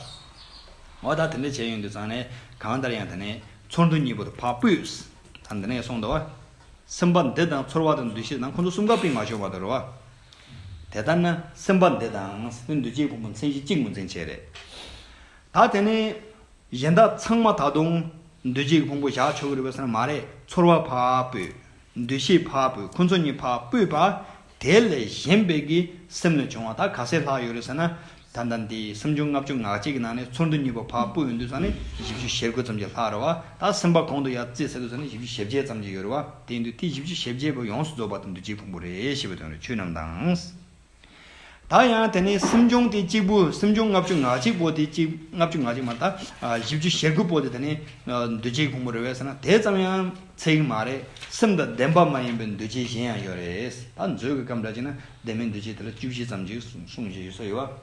བ། འོ་ད་དེ་འདྲ་བྱས་ཡོང་དུས་ཙཱ་ནས་གང་ལྟར་ཡང་དེ་ནས་ཚོར་འདུ་གཉིས་པོ་དང་བག་ཕུད། ད་འདི་ནས་གསུངས་འདུག་བ། སེམས་པ་འདི་དང་ཚོར་བ་དང་འདུ་ཤེས་དང་ཁོང་ཚོ་གསུམ་ཀ་སྤིན་མ་ཤོར་བ་དང་རེད་བ། དེ་ལྟར་ན་སེམས་པ་འདི་དང་སེམས་པའི་འདུ་བྱེད་ཕུང་པོ་མཚན་གཞི་གཅིག་ངོས་འཛིན་བྱས་རེད། ད་དེ་ནས། གཞན་དག་ཚང་མ་ད་དུང་འདུ་བྱེད་ཀྱི་ཕུང་པོ་བཞག་ཆོག་གི་རེད་བས་སེམས་ལ་མ་རེད་ཚོར་བ་བ་སྤུའི། འདུ་ཤེས་བ་སྤུའི་ཁོ་ཚོ་གཉིས་བ་སྤུའི་བ། དེ་ལས་གཞན་པའི་གི་སེམས་ལས་བྱུང་བ་དག་ག་སའི་ལྷག་ཡོད་རེད་ཟེར་ན། ད་ལྟ་འདི་སེམས་བྱུང་ལྔ་བཅུ་ངག་གཅིག་གི་ནང་ནས་ཚོར་འདུ་གཉིས་པ་བ་སྤུའི་འདུས་ཙམ་ནི་བཞི་བཅུ་ཞེ་དགུ་ཙམ་གྱི་ལྷག་རེད་བ། ད་སེམས་པ་གོང་དུ་ཡར་བརྩིས་ཚར་དུས་ཙམ་ནི་བཞི་བཅུ་ཞེ་བརྒྱད་ཙམ་གྱི་ཡོད་རེད་བ། དེའི་འདུས་ཏེ་བཞི་བཅུ་ཞེ་བརྒྱད་པོ་ཡོངས་སུ་རྫོགས་པ་དེ་འདུ་བྱེད་ཕུང་པོ་རེད་ཞེས་པའི་དོན་རེད་ཆོས་རྣམས་དང། ད་ཡང་དེ་ནི་སེམས་བྱུང་དེ་གཅིག་པུ་སེམས་བྱུང་ལྔ་བཅུ་ང་གཅིག་པོ་དེ་གཅིག་ལྔ་བཅུ་ང་གཅིག་མ་དང་བཞི་བཅུ་ཞེ་དགུ་པོ་དེ་དེ་ནི་འདུས་བྱས་ཕུང་པོ་རེད་བས་ཟེར་ན་དེ་ཙམ་ཡང་ཚིག་མ་རེད་སེམས་དང་ལྡན་པ་མ་ཡིན་པའི་འདུས་བྱས་གཞན་ཡང་ཡོད་རེད་ད་མཛོད་ཀྱི་སྐབས་འདྲ་གཅིག་ན་ལྡན་མིན་འདུས་བྱས་དེ་ལ་བཅུ་བཞི་ཙམ་གྱིས་གསུངས་བཞིན་ཡོད་ས་ཡོད་བ།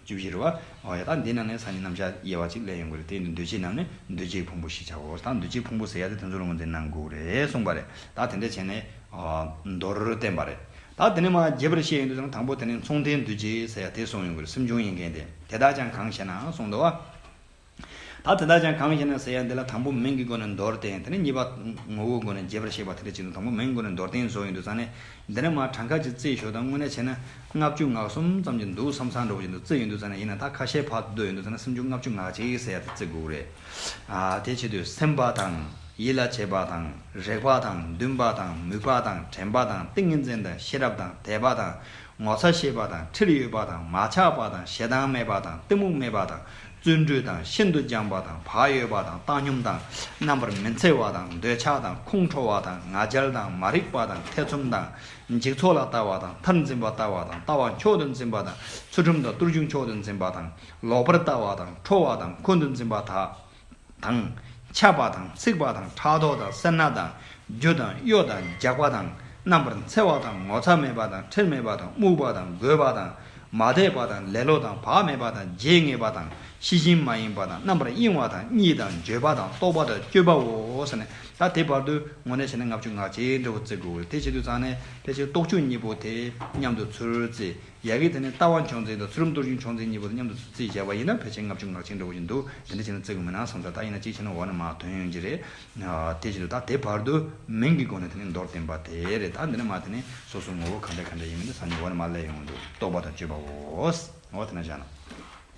བཅུ་བཞི་རུ། འོ་ཡ། ད་འདི་རྣམས་ནི་སང་ཉིན་ནམ་ཞག་དབྱེ་བ་ཅིག་ལས་ཡོང་གི་རེད་དེ་ཡིན་དུས་འདུས་བྱས་རྣམས་ནི་འདུས་བྱས་ཀྱི་ཕུང་པོ་ཞེས་བྱའོ། ད་འདུས་བྱས་ཕུང་པོ་ཟེར་ཡ་དེ་དེ་ཚོ་རུང་བ་འདི་ནང་འགུགས་རེད་གསུངས་པ་རེད། ད་དེ་འདྲས་བྱས་ནས། མདོར་བསྟན་པ་རེད། ད་དེ་ནི་མ་རྒྱས་པར་བཤད་ཡོང་དུས་ཀྱང་དང་པོ་དེ་ནི་མཚུངས་ལྡན་འདུས་བྱས་ཟེར་ཡ་དེ་གསུངས་ཡོང་གི་རེད་སེམས་བྱུང་ཡིན་མཁན་དེ་དེ་དག་ཀྱང་གང་བྱས་ནའང་གསུངས་འདུག་བ། ད་དེ་དག་ཀྱང་གང་ཞེ་ན་ཟེར་ཡང་འདི་ལ་དང་པོ་མིང་གི་སྒོ་ནས་མདོར་བསྟན་དེ་ནས་གཉིས་པ་ངོ་བོའི་སྒོ་ནས་རྒྱས་པར་བཤད་པ་དེ་འདྲ་ཅིག་ནི་དང་པོ་མིང་གི་སྒོ་ནས་མདོར་བསྟན་བཟོ་ཡི་འདུག་ཙང་ནས་འདི་ནས་མ་གྲངས་ཁ་ཅིག་བརྩི་ཞོར་དང་དངོས་གནས་བྱས་ན་ལྔ་བཅུ་ངག་གསུམ་ཙམ་གྱི་འདུག་བསམ་བསམ་འགྲོ་བཞིན་དུ་བརྩི་ཡི་འདུག་ཙང་ནས་ཡིན་ན་ད་ཁ་ཤས་བར་དུ་སྡོད་ཡི་འདུག་ཙང་ན་སུམ་ཅུ་ལྔ་བཅུ་ངག་གཅིག་ཟེར་ཡ་དེ་བརྩི་དགོས་རེད། དེའི་ཆེད་དུ་སེམས་པ་དང། ཡིད་ལ་བྱེད་པ་དང། རེག་པ་དང། འདུན་པ་དང། མོས་པ་དང། དྲན་པ་དང། ཏིང་ངེ་འཛིན་དང། ཤེས་རབ་དང། དད་པ་དང། ངོ་ཚ་ཤེས་པ་དང། ཁྲེལ་ཡོད་པ་དང། མ་ཆགས་པ་དང། ཞེ་སྡང་མེད་པ་དང། གཏི་མུག་མེད་པ་དང། བརྩོན་འགྲུས་དང་ཤིན་ཏུ་སྦྱངས་པ་དང་བག་ཡོད་པ་དང་བཏང་སྙོམས་དང་རྣམ་པར་མི་འཚེ་བ་དང་འདོད་ཆགས་དང་ཁོང་ཁྲོ་བ་དང་ང་རྒྱལ་དང་མ་རིག་པ་དང་ཐེ་ཚོམ་དང་འཇིག་ཚོགས་ལ་ལྟ་བ་དང་མཐར་འཛིན་པ་ལྟ་བ་དང་ལྟ་བ་མཆོག་ཏུ་འཛིན་པ་དང་ཚུལ་ཁྲིམས་དང་བརྟུལ་ཞུགས་མཆོག་ཏུ་འཛིན་པ་དང་ལོག་པར་ལྟ་བ་དང་ཁྲོ་བ་དང་ཁོང་དུ་འཛིན་པ་དག། དང། ཆགས་པ་དང་འཚིག་པ་དང་ཕྲག་དོག་དང་སེར་སྣ་དང་རྒྱུ་དང་གཡོ་དང་འཇགས་པ་དང་རྣམ་པར་འཚེ་བ་དང་ངོ་ཚ་མེད་པ་དང་ཁྲེལ་མེད་པ་དང་རྨུགས་པ་དང་རྒོད་པ་དང་མ་དད་པ་དང་ལེ་ལོ་དང་བག་མེད་པ་དང་བརྗེད་ངས་པ་དང་ཤེས་བཞིན་མ་ཡིན་པ་དང་རྣམ་པར་གཡེང་བ་དང་གཉིད་དང་འགྱོད་པ་དང་རྟོག་པ་དང་སྤྱོད་པའོ། ད་དེ་བར་དུ་ངོ་ནས་བྱས་ནས་ལྔ་བཅུ་ངག་བཅད་འབྲས་བུ་བརྩི་དགོས། དེ་བྱེད་དུ་བརྩམས་ནས་ཕལ་ཆེར་རྟོག་བཅུ་གཉིས་པོ་དེ་མཉམ་དུ་ཚུར་བརྩི། ཡལ་གའི་དེ་ནས་རྟ་དབང་ཆུང་ཚེ་དང་ཚུལ་རམ་གཏོར་གཞུང་ཆུང་ཚེ་གཉིས་པོ་དང་མཉམ་དུ་ཚུར་བརྩིས་བྱས་པ་ཡིན་ན་ཕལ་ཆེར་ལྔ་བཅུ་ངར་ཆེན་འགྲོ་བཞིན་འདུག་དེ་འདྲ་བྱས་ན་བརྩི་དགོས་མིན་ནང་བསམ་ཚར་ད་ཡིན་ན་གཅིག་བྱས་ན་འོག་ན་མ་དོན་ཡོང་གྱི་རེད། དེ་བཞིན་དུ་ད་དེ་བར་དུ་མིང་གི་སྒོ་ནས་དེ་ནི་མདོར་བསྟན་པ་དེ་རེད་ད་འདི་ན་མ་དེ་ནི་སོ་སོའི་ངོ་བོ་གང་འདྲ་གང་འདྲ་ཡིན་མིན་དེ་བསམ་ནས་འོག་ན་མ་གླས་ཡོང་གི་འདུག་རྟོགས་པ་དང་དཔྱོད་པ་འོ་ཟེར་ན་བཞག་ན།